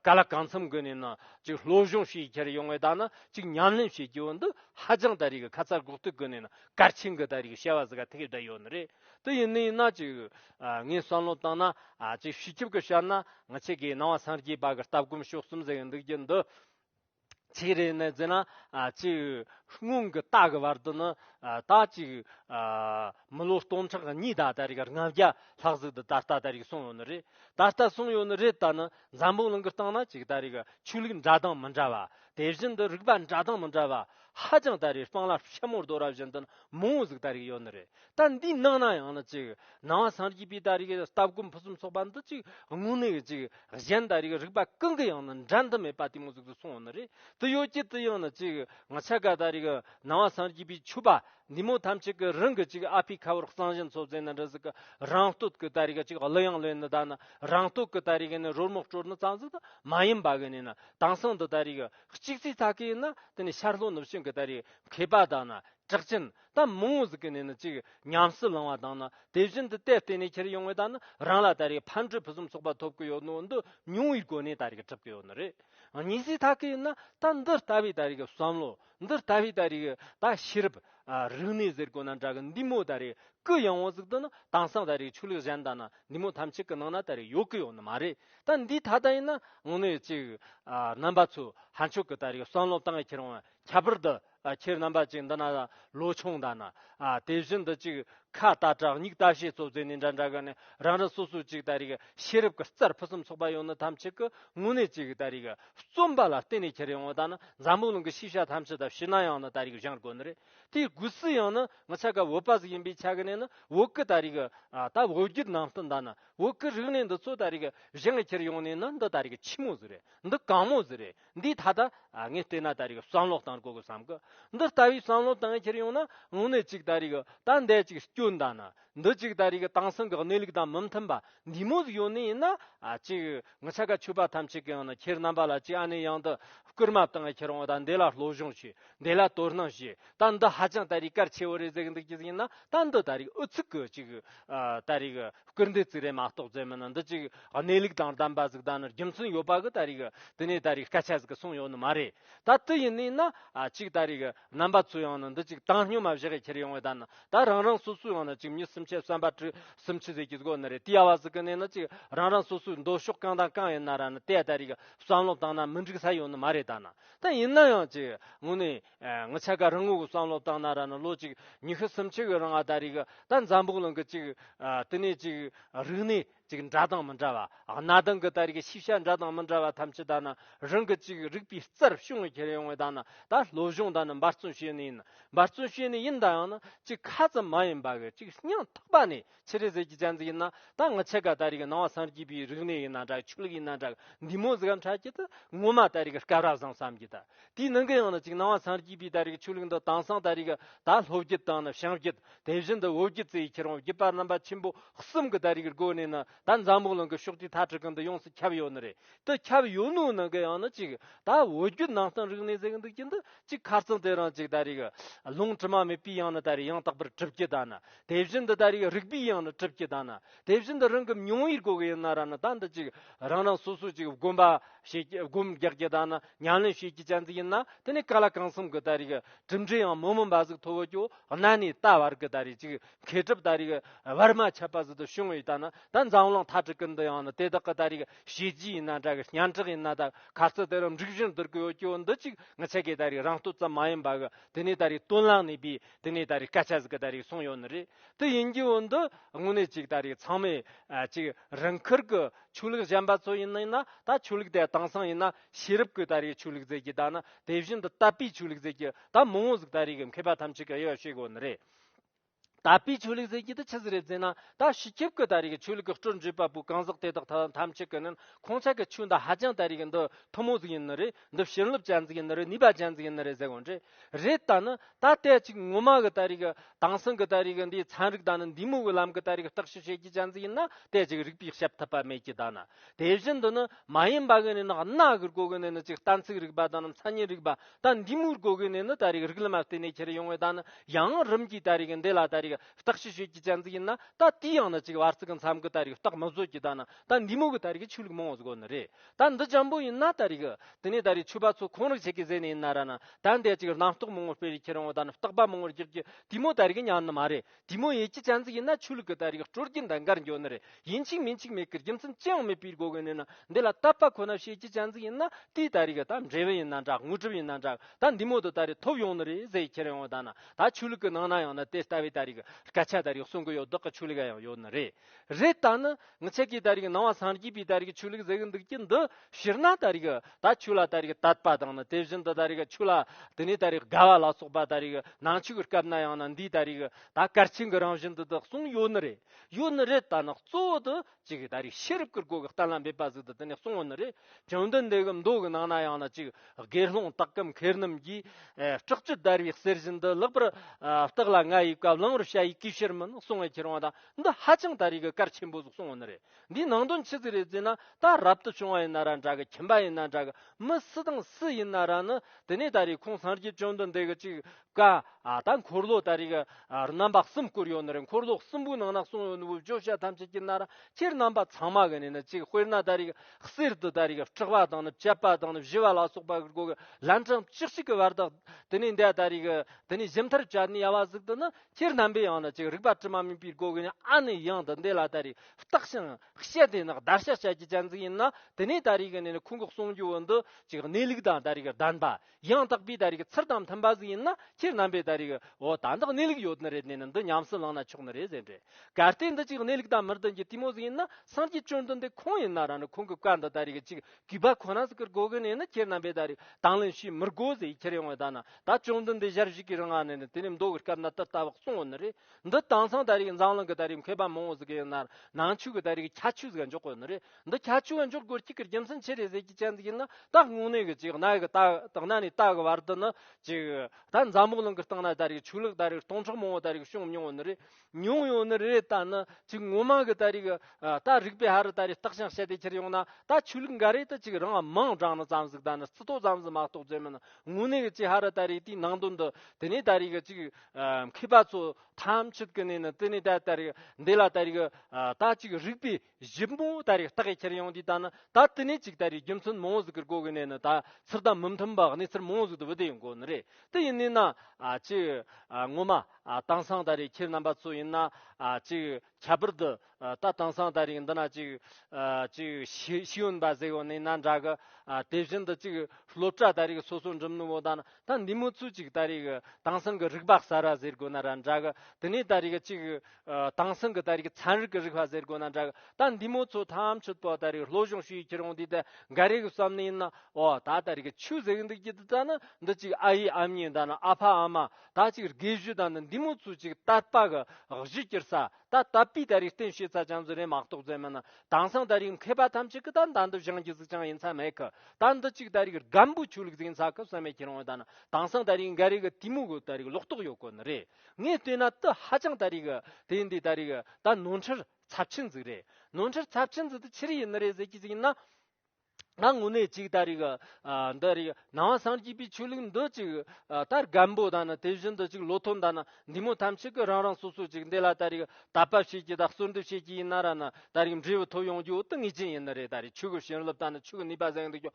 ག་ལ་གང་འཚམ་དགོས་ནས་ན་ཅིག་སློབ་སྦྱོང་ཞིག་ཡི་གེར་ཡོང་བའི་ད་ན་ཅིག་ཉམས་ལེན་བྱེད་ཀྱི་འོ་འདི་ཧ་ཅང་ད་རེ་གི་ཁ་ཚར་འགོག་ཏུ་དགོས་ནས་ན་གར་ཆེན་གི་ད་རེ་གི་བཤད་བ་ཟི་ག་ཐེག་བསྒྲལ་ཡོད་ནི་རེད་དེ་ཡིན་ནི་ཡིན་ན་ཅིག་ངས་བསམ་བློ་བཏང་ན་ཅིག་བྱིས་སྐྱོབ་གི་ཤར་ན་ང་ཆེ་གེའི་སྣང་བ་སངས་རྒྱས་པ་གི་ལྟ་སྒོམ་ཕྱོགས་གསུམ་ཟེར་གི་འདུག་རྒྱུ་འདི། ཚིག་རེ་ནས་བརྗོད་ན་གཅིག་སྔོན་གྱི་རྟགས་ཀྱི་བར་དུ་ནི་རྟགས་གཅིག་མི་ལོ་སྟོང་ཕྲག་གཉིས་ད་ལྟ་རིག་ལྔ་བརྒྱ་ལྷག་ཟིག་ད་ལྟ་ད་རིག་སོང་ཡོད་ནི་རེད་ད་ལྟ་སོང་ཡོད་ནི་རེད་ད་ནི་འཛམ་བུ་གླིང་གི་སྟེང་ན་གཅིག་ད་རིག་ཆོས་ལུགས་འདྲ་དང་མི་འདྲ་བ་དེ་བཞིན་དུ་རིག་པ་འདྲ་དང་མི་འདྲ་བ་ཧ་ཅང་ད་རིག་སྤང་ལ་ཤ་མོར་རྡོ་ར་བཞིན་དུ་ནི་མང་བོ་ཟིག་ད་རིག་ཡོད་ནི་རེད་ལྟར་འདི་སྣང་ན་ཡང་ན་ཅིག་སྣང་བ་སངས་རྒྱས་པའི་ད་རེས་ཀྱི་ལྟ་སྒོམ་ཕུན་སུམ་ཚོགས་པ་འདི་ཅིག་དངོས་གནས་ཀྱི་ཅིག་གཞན་ད་རེས་ཀྱི་རིགས་པ་གང་གི་ཡང་ན་འགྲན་ཟླ་མེད་པ་དེ་མངོན་སུམ་དུ་སོང་བ་ན་རེ་དེ་ཡོད་ཀྱི་དེ་ཡང་ན་ཅིག་ང་ཆ་ག་ད་རེས་ཀྱི་སྣང་བ་སངས་རྒྱས་པའི་ཆོས་པ་འདི་མོ་ཐམས་ཅད་ཀྱི་རང་གི་ཅིག་ཨ་ཕའི་ཁ་བར་གསང་གཞི་འཚོ་བཙན་ན་འདྲ་ཟིག་གི་རང་སྟོད་ཀྱི་ད་རེས་ཀྱི་ཅིག་གླུ་དབྱངས་ལོས་ནི་ད་ནི་རང་སྟོད་ཀྱི་ད་རེས་ཀྱི་ནི་རོལ་མོ་སྤྲོ་ནི་རྩ་འཛུགས་དང་མ་ཡིན་པ་གི་ནི་ནི་དེང་སང་འདི་ད་རེས་ཀྱི་གཅིག་རྩེ་ཚ་གི་ཡིན་ན་དེ་ནི་ཤར་ལྷོ་ནུབ་བྱང་གི་ད་རེས་མཁས་པ་དང་ན་དྲག་ཅན་གཏམ་མང་བོ་ཟིག་གི་ནས་ནི་ཅིག་ཉམས་སུ་བླང་བ་དང་ནི་དེ་བཞིན་དུ་དེ་བརྟེན་ནས་ཁྱེར་ཡོང་བའི་ད་ནི་རང་ལ་ད་རེས་ཕར་འཕྲོས་ཕུན་སུམ་ཚོགས་པ་ཐོབ་ཀི་ཡོད་ནོ་འདི་ཉུང་བའི་སྒོ་ནས་ད་རེས་གྲུབ་ཀི་ཡོད་ནི་རེད། གཉིས་སུའི་ཐག་གིས་ནི་ད་འདི་ལྟ་བུའི་ད་རེས་བསམ་བློ་འདི་ལྟ་བུའི་ད་རེས་ད་ཤེས་རབ་རིག་གནས་ཟེར་དགོས་ན་འདྲ་གི་འདི་མོ་ད་རེས་ཀི་ཡང་བོ་ཟིག་ཏུ་ནི་དྭངས་སང་ད་རེས་ཆོས་ལུགས་གཞན་ད་ནི་འདི་མོ་ཐམས་ཅད་ཀི་ནང་ན་ད་རེས་ཡོད་ཀི་ཡོད་ནི་མ་རེད་ད་འདི་ད་ལྟ་ཡིན་ན་ངོ་ནས་ཅིག་རྣམ་པ་ཚོས་ཧ་མཆོག་གི་ད་རེས་བསམ་བློ་བཏང་ཡ་ཁྱེར་འོང་བ་ཁྱད་པར་དུ་ཁྱེད་རྣམ་པ་ཅིག་འདི་ན་ལོ་ཆུང་ད་ན། དེ་བཞིན་དུ་ཅིག་ཁ་ལྟ་དྲག་སྙིགས་ལྟ་བྱེད་གཙོ་རྫས་ནི་འདྲ་འདྲ་གི་ནི་རང་རང་སོ་སོའི་ཅིག་ལྟ་རིག་ཤེས་རབ་ཀྱི་རྩར་ཕུན་སུམ་ཚོགས་པ་ཡང་ནི་ཐམས་ཅད་ཀྱི་དངོས་གནས་ཅིག་ལྟ་རིག་རྩོམ་པ་ལ་བརྟེན་ནས་ཁྱེར་ཡོང་བ་ད་ནི་འཛམ་བུ་གླིང་གི་ཤེས་བྱ་ཐམས་ཅད་ལྟ་བྱེད་ན་ཡང་ནི་ལྟ་རིག་གཞན་དགོས་ནི་རེད་དེའི་དགོས་ཚུལ་ཡང་ནི་ངོ་ཚ་ག་འོད་པ་ཟིག་ཡིན་པའི་ཆ་གི་ནས་ནི་འོད་ཀྱི་ལྟ་རིག་ད་འོད་བརྒྱུད་ནང་བསྟན་ད་ནི་འོད་ཀྱི་རིག་གནས་འདི་ཚོ་ལྟ་རིག་གཞན་ལ་ཁྱེར་ཡོང་ནས་ནི་འདི་ལྟ་རིག་ཆེན་མོ་ཟིག་རེད་འདི་གང་མོ་ཟིག་རེད། འདིས་ད་ལྟ་ངས་བལྟས་ན་ད་རེས་ཀྱི་བསམ་བློ་བཏང་དགོས་གི་བསམ་གི། འདི་ལྟ་བུའི་བསམ་བློ་བཏང་ཁྱེར་ཡོང་ན་དངོས་གནས་ཅིག་ད་རེས་ཀྱི་ད་འདས་ཅིག་སྐྱོན་བདག་ན་འདི་ཅིག་ད་རེས་ཀྱི་དྭངས་སིང་གི་གནས་ལུགས་དང་མི་མཐུན་པ་འདི་མོ་ཟིག་ཡོང་ནི་ཡིན་ན་ཅིག་ངི་ཆ་ག་ཆོད་པ་ཐམས་ཅད་ཀྱི་ཡང་ན་ཁྱེར་རྣམ་པ་ལ་ཅིག་ཨ་ནི་ཡང་འདི་བསྐུར་མ་བཏང་ཁྱེར་འོང་ད་འདི་ལ་བློ་སྦྱོང་བྱོས་འདི་ལ་དོ་སྣང་བྱོས་ད་འདི་ཧ་ཅང་ད་རེས་གལ་ཆེ་བོ་རེ་ཟིག་འདུག་ཅིག་ཡིན་ན་ད་འདི་ད་རེས་ཨུ་ཚུགས་གི་ཅིག་ད་རེས་ཀྱི་སྐུལ་འདེད་རྩིས་རའི་མ་རྟོགས་རྩལ་མི་ནི་འདི་ཅིག་གནས་ལུགས་དང་ལྡན་པ་གཟུགས་ད་ནི་རྒྱུ་མཚན་ཡོད་པ་གི་ད་རེས་ཀྱི་དེ་ནས་ད་རེས་སྐད་ཆ་ཟིག་གི་གསུངས་ཡོད་ནི་མ་རེད་ད་དི་ཡིན་ནི་ན་ཅིག་ད་རེས་ཀྱི་རྣམ་པ་ཚོ་ཡང་ནི་འདི་ཅིག་བཏང་སྙོམས་མ་བཞག་གི་ཁྱེར་ཡོང་བའི་ད་ནི་ད་རང་རང་སོ་སོའི་ཡང་ནི་ཅིག་མྱི་སུམ་ཆའི་གསོན་པ་དྲུག་སུམ་ཅི་ཟིག་གི་སྒོ་ནི་རེད་དེ་ཡ་བ་ཟིག་གི་ནས་ནི་ཅིག་རང་རང་སོ་སོའི་འདོད་ཕྱོགས་གང་དང་གང་ཡིན་ན་ར་ནི་དེ་ད་རེས་ཀྱི་བསམ་བློ་བཏང་ན་མི་འགྲིག་ས་ཡོད་ནི་མ་རེད་ད་ནི་ད་ཡིན་ན་ཡང་ཅིག་ངོ་ནས་ང་ཆ་ག་རང་ངོ་གུ་བསམ་བློ་བཏང་ན་ར་ན་ལོ་གཅིག་ཉི་ཤུ་སུམ་ཆིག་གི་རང་ཨ་ད་རིག་གི་ད་འཛམ་བུག་ལང་གི་གཅིག་དེ་ནས་གཅིག་རིག་གནས་གཅིག་འདྲ་དང་མི་འདྲ་བ་གནའ་དང་གི་ད་རིག་གི་ཤེས་བྱ་འདྲ་དང་མི་འདྲ་བ་ཐམས་ཅད་ད་ན་རང་གི་གཅིག་རིག་པའི་རྩར་བྱུང་གི་ཁྱེར་ཡོང་བའི་ད་ན་ད་བློ་གཞུང་ད་ནི་འབར་བརྩོན་བྱེད་ནི་ཡིན་འབར་བརྩོན་བྱེད་ནི་ཡིན་ད་ཡང་ན་གཅིག་ཁ་ཙམ་མ་ཡིན་པ་གི་གཅིག་སྙིང་ཐག་པ་ནས་ཕྱི་རི་ཟེར་གྱི་ཅན་ཙི་ཡིན་ན་ད་ང་ཆེ་ག་ད་རིག་ནང་བ་སངས་རྒྱས་པའི་རིག་གནས་ཡིན་ན་འདྲ་ཆོས་ལུགས་ཡིན་ན་འདྲ་འདི་མོ་ཟི་གམ་ཁྲ་ཁྱི་ད་ངོ་མ་ད་རིག་སྐལ་ར་བཟང་བསམ་གྱི་ད་དེའི་ནང་གི་ཡང་ན་ཅིག་ནང་བ་སངས་རྒྱས་པའི་ད་རིག་ཆོས་ལུགས་འདི་དྭངས་སངས་ད་རིག་ད་ལྷོ་བརྒྱུད་དང་ནི་བྱང་བརྒྱུད་དེ་བཞིན་དུ་བོད་བརྒྱུད་ཙི་ཁྱེར་བོང་བརྒྱུད་པ་རྣམ་པ་ཆེན་པོ་གསུམ་གྱི་ད་རིག་སྒོ་ནས་ནི་ད་འཛམ་བུ་གླིང་གི་ཕྱོགས་དུས་ཐ་དྲི་གི་འདི་ཡོངས་སུ་ཁྱབ་ཡོད་ནི་རེད་དེ་ཁྱབ་ཡོད་ནུའི་ནང་གི་ཡང་ན་ཅིག་ད་བོད་བརྒྱུད་ནང་བསྟན་རིག་གནས་ཟེར་གི་འདུག་གི་འདི་ཅིག་ཁ་རྩང་དེ་རང་ཅིག་ད་རིག་ལུང་དྲི་མ་མེད་པའི་ཡང་ན་ད་རིག་ཡང་དག་པར་གྲུབ་ཀྱི་ད་ནི་དེ་བཞིན་དུ་ད་རེས་རིག་པའི་དབྱངས་ནི་གྲུབ་ཀྱི་ད་ན་དེ་བཞིན་དུ་རང་གི་མྱོང་བའི་སྒོ་ཡིན་ན་ར་ན་ད་འདི་གཅིག་རང་རང་སོ་སོ་ཅིག་བསྒོམ་པ་བྱེད་ཀྱི་བསྒོམ་རྒྱག་ཀྱི་ད་ན་ཉམས་ལེན་བྱེད་ཀྱི་ཅན་ཟིག་ཡིན་ན་དེ་ནི་ག་ལ་གང་བསམ་གི་ད་རེས་གྲུབ་འབྲས་ཡང་མི་མངོན་པ་ཟིག་ཐོ་བོ་ཀྱོ་ན་ནས་ད་བར་གི་ད་རེས་ཅིག་མཁས་གྲུབ་ད་རེས་བར་མ་ཆད་པ་ཟིག་ཏུ་བྱུང་བའི་ད་ན་ད་འཛམ་གླིང་ཐ་དྲུག་གི་འདི་ཡང་ནི་དེ་དག་གི་ད་རེས་བྱས་རྗེས་ཡིན་ན་འདྲ་གི་སྙན་གྲགས་ཡིན་ན་ད་ག་ཚོད་དེ་རུ་འགྲིག་བཞིན་དུར་གོ་ཡོད་ཀྱོ་འདི་གཅིག་ངི་ཆད་ཀྱི་ད་རེས་རང་སྟོབས་ཙམ་མ་ཡིན་པ་གི་དེ་ནས་ད་རེས་དོན་ལ་གནས་པའི་དེ་ནས་ད་རེས་སྐད་ཆ་ཟིག་ད་རེས་གསུངས་ཡོད་ནི་རེད་དེ་ཡིན་རྒྱུ་འོན་ཏེ་དངོས་གནས་ཅིག་ད་རེས་ཚང་མས་ཅིག་རང་འཁུར་གི་ཆོས་ལུགས་གཞན་པ་ཚོ་ཡིན་ན་ད་ཆོས་ལུགས་དེ་དེང་སང་ཡིན་ན་ཤེས་རབ་གིས་ད་རེས་ཆོས་ལུགས་མཛད་ཀྱི་ད་ནི་དེ་བཞིན་དུ་དད་པའི་ཆོས་ལུགས་མཛད་ཀྱི་ད་མི་དངོས་ཟིག་ད་རེས་གི་མཁས་པ་ཐམས་ཅད་ཀྱི་དབྱེ་བ་ཤེས་དགོས་ནི་རེད། དད་པའི་ཆོས་ལུགས་མཛད་རྒྱུ་དེ་ཆི་ཟིག་རེད་ཟེར་ན་ད་ཤི་ཁྱིབ་གི་ད་རེས་གི་ཆོས་ལུགས་གི་སྤྲོ་འཇུག་པ་པོ་གང་ཟག་དེ་དག་ཐམས་ཅད་ཀྱི་ནི་ཁོང་ཅག་གི་ཆོས་འདི་ཧ་ཅང་ད་རེས་གི་འདི་ཐུན་མོང་ཟིག་ཡིན་ནི་རེད་འདི་བྱིན་རླབས་ཅན་ཟིག་ཡིན་ནི་རེད་ནུས་པ་ཅན་ཟིག་ཡིན་ནི་རེད་ཟེར་གོ་འདྲེ། རེད་ད་ནི་ད་ལྟའི་ཅིག་ངོ་མ་གི་ད་རིག་གི་དྭངས་སིང་གི་ད་རིག་གི་འདིའི་ཚན་རིག་ད་ནི་འདི་མོ་གི་ལམ་གི་ད་རིག་གི་བརྟག་ཞིབ་བྱེད་རྒྱུ་ཅན་ཙིག་ཡིན་ན་དེ་ཅིག་རིག་པའི་ཞབས་ཐུབ་པ་མེད་ཀྱི་ད་ནི་དེ་བཞིན་དུ་ནི་མ་ཡིན་པ་གི་ནི་ནི་གནའ་གི་རི་གོ་གི་ནི་ནི་ཅིག་གཏན་ཚིགས་རིག་པ་ད་ནི་མཚན་ཉིད་རིག་པ་ད་འདི་མོའི་རི་གོ་གི་ནི་ནི་ད་རིག་རིག་ལམ་མ་བསྟན་ནས་ཁྱེར་ཡོང་བའི་ད་ནི་ཡང་རིམ་གྱིས་ད་རིག་གི་འདི་ལ་ད་རིག་གི་བརྟག་ཞིབ་བྱེད་རྒྱུ་ཅན་ཙིག་ཡིན་ན་ད་དེའི་ཡང་ནི་ཅིག་བར་ཚིག་གི་མཚམས་གི་ད་རིག་བརྟག་མི་བཟོད་ཀྱི་ད་ནི་ད་འདི་མོ་གི་ད་རིག་གི་ཆོས་ལུགས་མང་བོ་བཟོ་གི་ནི་རེད་ད་འདི་འཇམ་པོ་ཡིན་ན་ད་རིག། དེ་ནས་ད་རིག་ཆོས་པ་ཚོ་ཁོང་རིག་བྱེད་ཀྱི་ཟས་ནི་ཡིན་ན་ར་ན། ད་འདས་ཅིག་རྣམ་རྟོག་མང་བོ་སྤེལ་བའི་ཁྱེད་རང་བོ་ད་ནི་རྟག་པ་མང་བོར་རྒྱག་གི་དུས་མོ་ད་རིག་ཉམས་ནི་མ་རེད་དུས་མོ་ཡེ་ཀྱི་ཆ་འཛིག་ཡིན་ན་ཆོས་ལུགས་ཀྱི་ད་རིག་སྤྲོ་སྐྱིད་འདི་འགར་འཇོག་ནི་རེད་ཡིན་ཅིག་མིན་ཅིག་མེད་ཀི་རྒྱུ་མཚན་ཅི་ཡང་མེད་པའི་སྒོ་གི་ནས་ན་འདི་ལ་བཏབ་པ་ཁོ་ན་བྱེད་ཀྱི་ཆ་འཛིག་ཡིན་ན་དེས་ད་རིག་ད་འབྲས་བུ་ཡིན་ན་འདྲ་དངོས་གྲུབ་ཡིན་ན་འདྲ་ད་འདི་མོ་དུ་ད་རིག་ཐོབ་ཡོང་ནི་རེད་ཟས་ཁྱེད་རང་བོ་ད་ན་ད་ཆོས་ལུགས་ཀྱི་ནང་ན་ཡང་ན་དེ་ལྟ་བའི་ད་རིག་སྐད་ཆ་ད་རིག་གསུང་གི་ཡོད་བདག་གི་ཆོས་ལུགས་ཡང་ཡོད་ནི་རེད། རེད་ད་ནི་ངི་ཆད་ཀི་ད་རིག་སྣང་བ་སངས་རྒྱས་པའི་ད་རིག་ཆོས་ལུགས་ཟེགས་འདུག་ཀྱི་འདི་ཕྱིར་ན་ད་རིག་ད་ཆོས་ལ་ད་རིག་དད་པ་དང་ནི་དེ་བཞིན་དུ་ད་རིག་ཆོས་ལ་དེ་ནས་ད་རིག་དགའ་བ་ལ་སོགས་པ་ད་རིག་ནང་ཆོས་ཀི་སྐབས་ན་ཡང་ན་འདིའི་ད་རིག་ད་སྐར་ཆེན་གི་རང་བཞིན་དུ་དག་གསུང་ཡོད་ནི་རེད་ཡོད་ནི་རེད་ད་ནི་གཙོ་བོ་དུ་གཅིག་ད་རིག་ཤེས་རབ་ཀི་སྒོ་གི་གཏན་ལ་འབེབས་པ་ཟིག་དུ་དེ་ནས་གསུང་བ་ནི་རེད་བྱང་བདུན་འདི་གི་མདོ་གི་ནང་ན་ཡང་ན་གཅིག་དགེ་སློང་དག་གམ་མཁས་རྣམས་ཀྱིས་སྐྲག་ཅི་ད་རིག་གསེར་བཞིན་དུ་ལེགས་པར་བརྟགས་ལ་ང་ཡི་བཀའ་བླང་རོ་ཤ་ཡི་གིས་ཕྱིར་མི་གསུང་བའི་ཁྱེར་བ་དང། འདི་ཧ་ཅང་ད་རིག་གི་སྐར་ཆེན་པོ་ཟིག་སོང་བ་ནི་རེད་འདིའི་ནང་དོན་ཆི་ཟིག་རེད་ཟེར་ན་ད་རབ་ཏུ་བྱུང་བ་ཡིན་ན་ར་འདྲ་གི་ཁྱིམ་པ་ཡིན་ན་འདྲ་གི་མི་སུ་དང་སུ་ཡིན་ན་ར་ནི་དེ་ནས་ད་རིག་ཁོང་སངས་རྒྱས་བྱོན་དུ་འདེགས་གི་ཅིག་ཀ་ཨ་ད་འཁོར་ལོ་ད་རིག་གི་རྣམ་པ་གསུམ་བསྐུར་ཡོད་ནི་རེད་འཁོར་ལོ་གསུམ་པོའི་ནང་ན་གསུངས་ཡོད་ནི་བུ་བཅོ་ཤ་ཐམས་ཅད་ཀྱི་ན་ར་སྤྱིར་རྣམ་པ་ཚང་མ་གི་ནི་ནི་ཅིག་དཔེར་ན་ད་རིག་གི་གསེར་དུ་ད་རིག་གི་སྐྲག་པ་དང་ནི་བཅད་པ་དང་ནི་བཞི་བ་ལ་སོགས་པ་གི་སྒོ་གི་ལན་གྲངས་བཅུ་གཅིག་གི་བར་དག་དེ་ནས་འདས་ད་རིག་གི་དེ་ནས་གཞི་མཐར་བྱ་ནི་ཡ་བ་ཟིག་ཏུ་ནི་སྤྱིར་རྣམ་པའི་ཡང་ན་ཅིག་རིག་པ་དྲི་མ་མེད་པའི་སྒོ་ཀུན་ཨ་ནི་ཡང་དུ་འདས་ལ་ད་རེས་བརྟགས་ཤིང་དཔྱད་དེ་ནི་བརྡར་ཤ་བྱ་རྒྱུའི་གཅན་ཚིག་ཡིན་ན་དེ་ནས་ད་རེས་ཀྱི་ནི་ཁུངས་འགོག་གསུངས་རྒྱུ་འོན་ཏུ་ཅིག་གནས་ལུགས་དང་ད་རེས་ཀྱི་བདེན་པ་ཡང་དག་པའི་ད་རེས་ཀྱི་ཚུལ་དང་མཐུན་པ་ཟིག་ཡིན་ན་སྤྱིར་རྣམ་པའི་ད་རེས་ཀྱི་འོ་ད་འདི་གནས་ལུགས་ཡོད་ནི་རེད་དེ་ནི་འདི་ཉམས་སུ་བླངས་ན་ཆོག་ནི་རེད་ཟེར་འདྲི་གལ་ཏེ་འདི་ཅིག་གནས་ལུགས་དང་མི་མཐུན་གྱི་ལྟད་མོ་ཟིག་ཡིན་ན་སངས་རྒྱས་བཅོམ་ལྡན་འདས་ཁོང་ཡིན་ན་རང་ནི་ཁོང་གི་བཀའ་འདི་ད་རེས་ཀྱི་ཅིག་གུས་པ་ཁོ་ན་ཟིག་གི་རྒོལ་གི་ནས་ནི་ཁྱེད་རྣམ་པས་ད་རེས་དང་ལེན་བྱས་མི་རྒོལ་ཟིག་ཁྱེར་ཡོང་བའི་ད་ན་ད་ཅུང་ཙམ་འདི་ཞར་བྱས་གི་རི་ང་ནས་ནི་དེ་ནས་མདོ་གི་སྐབས་ན་ཏི་ཏཱ་བག་སོང་བ་ནི་རེད་འདི་དྭངས་སང་ད་རེས་འཛམ་གླིང་གི་ད་རེས་མཁས་པ་མང་བོ་ཟིག་གི་ཡིན་ནར་ནང་ཆོས་གི་ད་རེས་ཁྱད་ཆོས་ཟིག་འཇོག་གི་ནི་རེད་འདི་ཁྱད་ཆོས་འཇོག་དགོས་གཅིག་གི་རྒྱུ་མཚན་ཆེ་རེ་ཟེར་གྱི་ཅན་ཟིག་ཡིན་ན་ད་དངོས་གནས་གི་ཅིག་གནའ་གི་ད་དང་གནའ་ནས་ད་གི་བར་དུ་ནི་ཅིག་ད་འཛམ་བག་གླིང་གི་སྟེང་ན་ད་རེས་ཆོས་ལུགས་ད་རེས་སྟོང་ཕྲག་མང་བོ་ད་རེས་བྱུང་མྱོང་བ་ནི་རེད། ཉུང་ཡོད་ནི་རེད་ད་ནི་ཅིག་ངོ་མ་གི་ད་རིག་ད་རིག་པའི་ཧ་རི་ད་རིག་རྟགས་ཤིང་བཤད་དེ་ཁྱེར་ཡོང་ན་ད་ཆོས་ལུགས་འགའ་རེ་ད་ཅིག་རང་དམངས་དྲང་ན་ཙམ་ཟིག་ད་ནི་རྩི་ཏོག་ཙམ་ཟིག་མ་གཏོགས་བརྩོད་མིན་དངོས་གནས་ཀྱི་ཅིག་ཧ་རི་ད་རིག་དེའི་ནང་དོན་འདི་དེ་ནས་ད་རིག་ཅིག་མཁས་པ་ཚོ་ཐམས་ཅད་ཀྱི་ནས་ནི་དེ་ནས་ད་ད་རིག་འདི་ལ་ད་རིག་ད་ཅིག་རིག་པའི་བཞི་པོ་ད་རེས་རྟགས་ཁྱེར་ཡོང་དུས་ད་ནི་ད་དེ་ནས་ཅིག་ད་རེས་རྒྱུ་མཚན་མང་བོ་ཟིག་གིར་གོ་གི་ནས་ནི་ད་ཚུར་ད་མི་མཐུན་པ་གནས་ཚུལ་མང་བོ་ཟིག་ཏུ་བུ་དེ་ཡིན་གོ་ནི་རེད་དེ་ཡིན་ནས་ན་ཅིག་ངོ་མ་དེང་སང་ད་རེས་ཁྱེད་རྣམ་པ་ཚོ་ཡིན་ན་ཅིག་ཁྱད་པར་དུ་ད་དེང་སང་ད་རེས་འདི་ན་ཅིག་ཅིག་ཤེས་ཡོན་པ་ཟེར་བ་ནི་ན་འདྲ་གི་དེ་བཞིན་དུ་ཅིག་སློབ་གྲྭ་ད་རེས་སོ་སོ་འགྲིམ་ནི་བོ་ད་ནི་ད་འདི་མོ་ཚོས་ཅིག་ད་རེས་དེང་སང་གི་རིག་པ་གསར་བ་ཟེར་གོ་ན་ར་འདྲ་གི་དེ་ནས་ད་རེས་ཅིག་དེང་སང་གི་ད་རིག་ཚན་རིག་གི་རིག་པ་ཟེར་དགོས་ན་འདྲ་གི་ད་འདི་མོ་ཚོ་ཐམས་ཅད་པོ་ད་རིག་བློ་གཞུང་ཞུ་ཡིས་ཁྱེར་ཡོང་དུས་ད་འགའ་རེ་གི་བསམ་ནི་ཡིན་ན་འོ་ད་ད་རིག་གི་ཆུ་ཟེགས་འདུག་ཅི་ད་ད་ནི་འདི་གཅིག་ཨ་ཡེ་ཨམ་ཡེ་ད་ནི་ཨ་ཕ་ཨ་མ་ད་གཅིག་རྒས་གཞུ་ད་ནི་འདི་མོ་ཚོ་གཅིག་ད་པ་གི་གཞི་ཀྱིར་ས་ད་ད་པའི་ད་རིག་བསྟན་བྱེད་ས་ཅང་ཙི་རེ་མག་ཏོག་ཙེ་མིན་ན་དེང་སང་ད་རིག་མཁས་པ་ཐམས་ཅད་གི་ད་ད་འདི་བཞིན་གྱི་གཟུགས་ཀྱང་ཡིན་ས་མེད་གི་ད་འདི་གཅིག་ད་རིག་རྒན་པོ་ཆོས་ལུགས་ཟིན་ས་གི་བསམ་ཡས་ཁྱེར་ཡོང་ད་ནི་དེང་སང་ད་རིག་འགའ་རེ་གི་དུས་མོ་གི་ད་རིག་ལོག་རྟོག་ཡོད་དགོས་ནི་རེད། ངས་ལྟོས་ན་དུ་ཧ་ཅང་ད་རིག་དེ་འདི་ད་རིག་ད་ནོར་འཁྲུལ་ཚབས་ཆེན་ཟིག་རེད་ནོར་འཁྲུལ་ཚབས་ཆེན་ཟིག་དུ་ཆི་རི་ཡི་ནི་རེད་ཟེར་གྱི་ཟིག་ཡིན་ན་ང་དངོས་གནས་ཅིག་ད་རིག་འདི་རིག་ནང་བ་སངས་རྒྱས་པའི་ཆོས་ལུགས་འདི་ཅིག་ད་རྒན་པོ་ད་ནི་དེ་བཞིན་དུ་ཅིག་ལོ་ཐོ་ད་ནི་འདི་མོ་ཐམས་ཅད་ཀྱི་རང་རང་སོ་སོ་ཅིག་འདི་ལ་ད་རིག་ད་བབ་བྱེད་ཀྱི་ད་གསོལ་འདེབས་བྱེད་ཀྱི་ཡིན་ན་ར་ནི་ད་རིག་འབྲས་བུ་ཐོབ་ཡོང་རྒྱུ་དེ་ངེས་ཅན་ཡིན་ནི་རེད་ད་རིག་ཆོས་ཀྱི་བྱིན་རླབས་ད་ནི་ཆོས་ཀྱི་ནུས་པ་བཟང་འདུག་ཀྱང་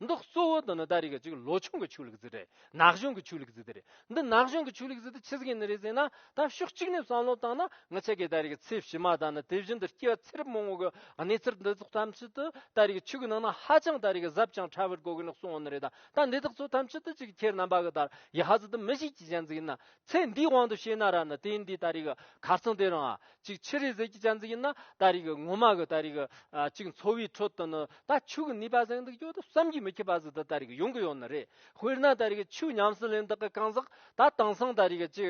འདི་གཙོ་བོ་དང་ནི་ད་རེས་ཀྱི་གཅིག་ལོ་ཆུང་གི་ཆོས་ལུགས་རྫི་རེད་ནག་གཞུང་གི་ཆོས་ལུགས་རྫི་དེ་རེད་འདི་ནག་གཞུང་གི་ཆོས་ལུགས་རྫི་དེ་ཆི་ཟིག་ཡིན་ནི་རེད་ཟེར་ན་ད་ཕྱོགས་གཅིག་ནས་བསམ་བློ་བཏང་ན་ངི་ཆད་ཀྱི་ད་རེས་ཀྱི་ཚེ་ཕྱི་མ་དང་ནི་དེ་བཞིན་དུ་སྐྱེ་བ་ཚེ་རབས་མང་བོ་གི་གནས་ཚུལ་འདི་ཚོགས་ཐམས་ཅད་དུ་ད་རེས་ཀྱི་ཆོས་ཀྱི་ནང་ན་ཧ་ཅང་ད་རེས་ཀྱི་གཟབ་ཅིང་ཕྲ་བར་གོ་གི་ནི་སོང་བ་ནི་རེད་ད་འདི་དག་ཚོ་ཐམས་ཅད་དུ་གཅིག་ཁྱེད་རྣམ་པ་གི་ད་ཡི་ཧ་ཟི་དུ་མི་ཞིག་གྱི་གཞན་རྫི་ཡིན་ན་ཚེ་འདིའི་དབང་དུ་བྱས་ན་ར་ནི་དེ་འདི་ལྟ་རིག་ག་ཚང་དེ་རང་ཨ་ཅིག་ཕྱི་རི་ཟིལ་གྱི་ཅན་ཟིག་ཡིན་ན་ད་རིག་ངོ་མ་གི་ད་རིག་ཨ་ཅིག་འཚོ་བའི་ཁྲོད་དུ་ནི་ད་ཆུ་གི་ནུས་པ་ཟིག་འདུག་ཀྱོ་ད་བསམ་གྱིས་མི་ཁྱབ་པ་ཟིག་འདི་ད་རིག་ཡོང་གི་ཡོད་ནི་རེད་དཔེར་ན་ད་རིག་ཆུ་ཉམས་སུ་ལེན་བདག་གི་གང་ཟག་ད་དེང་སང་ད་རིག་ཅི་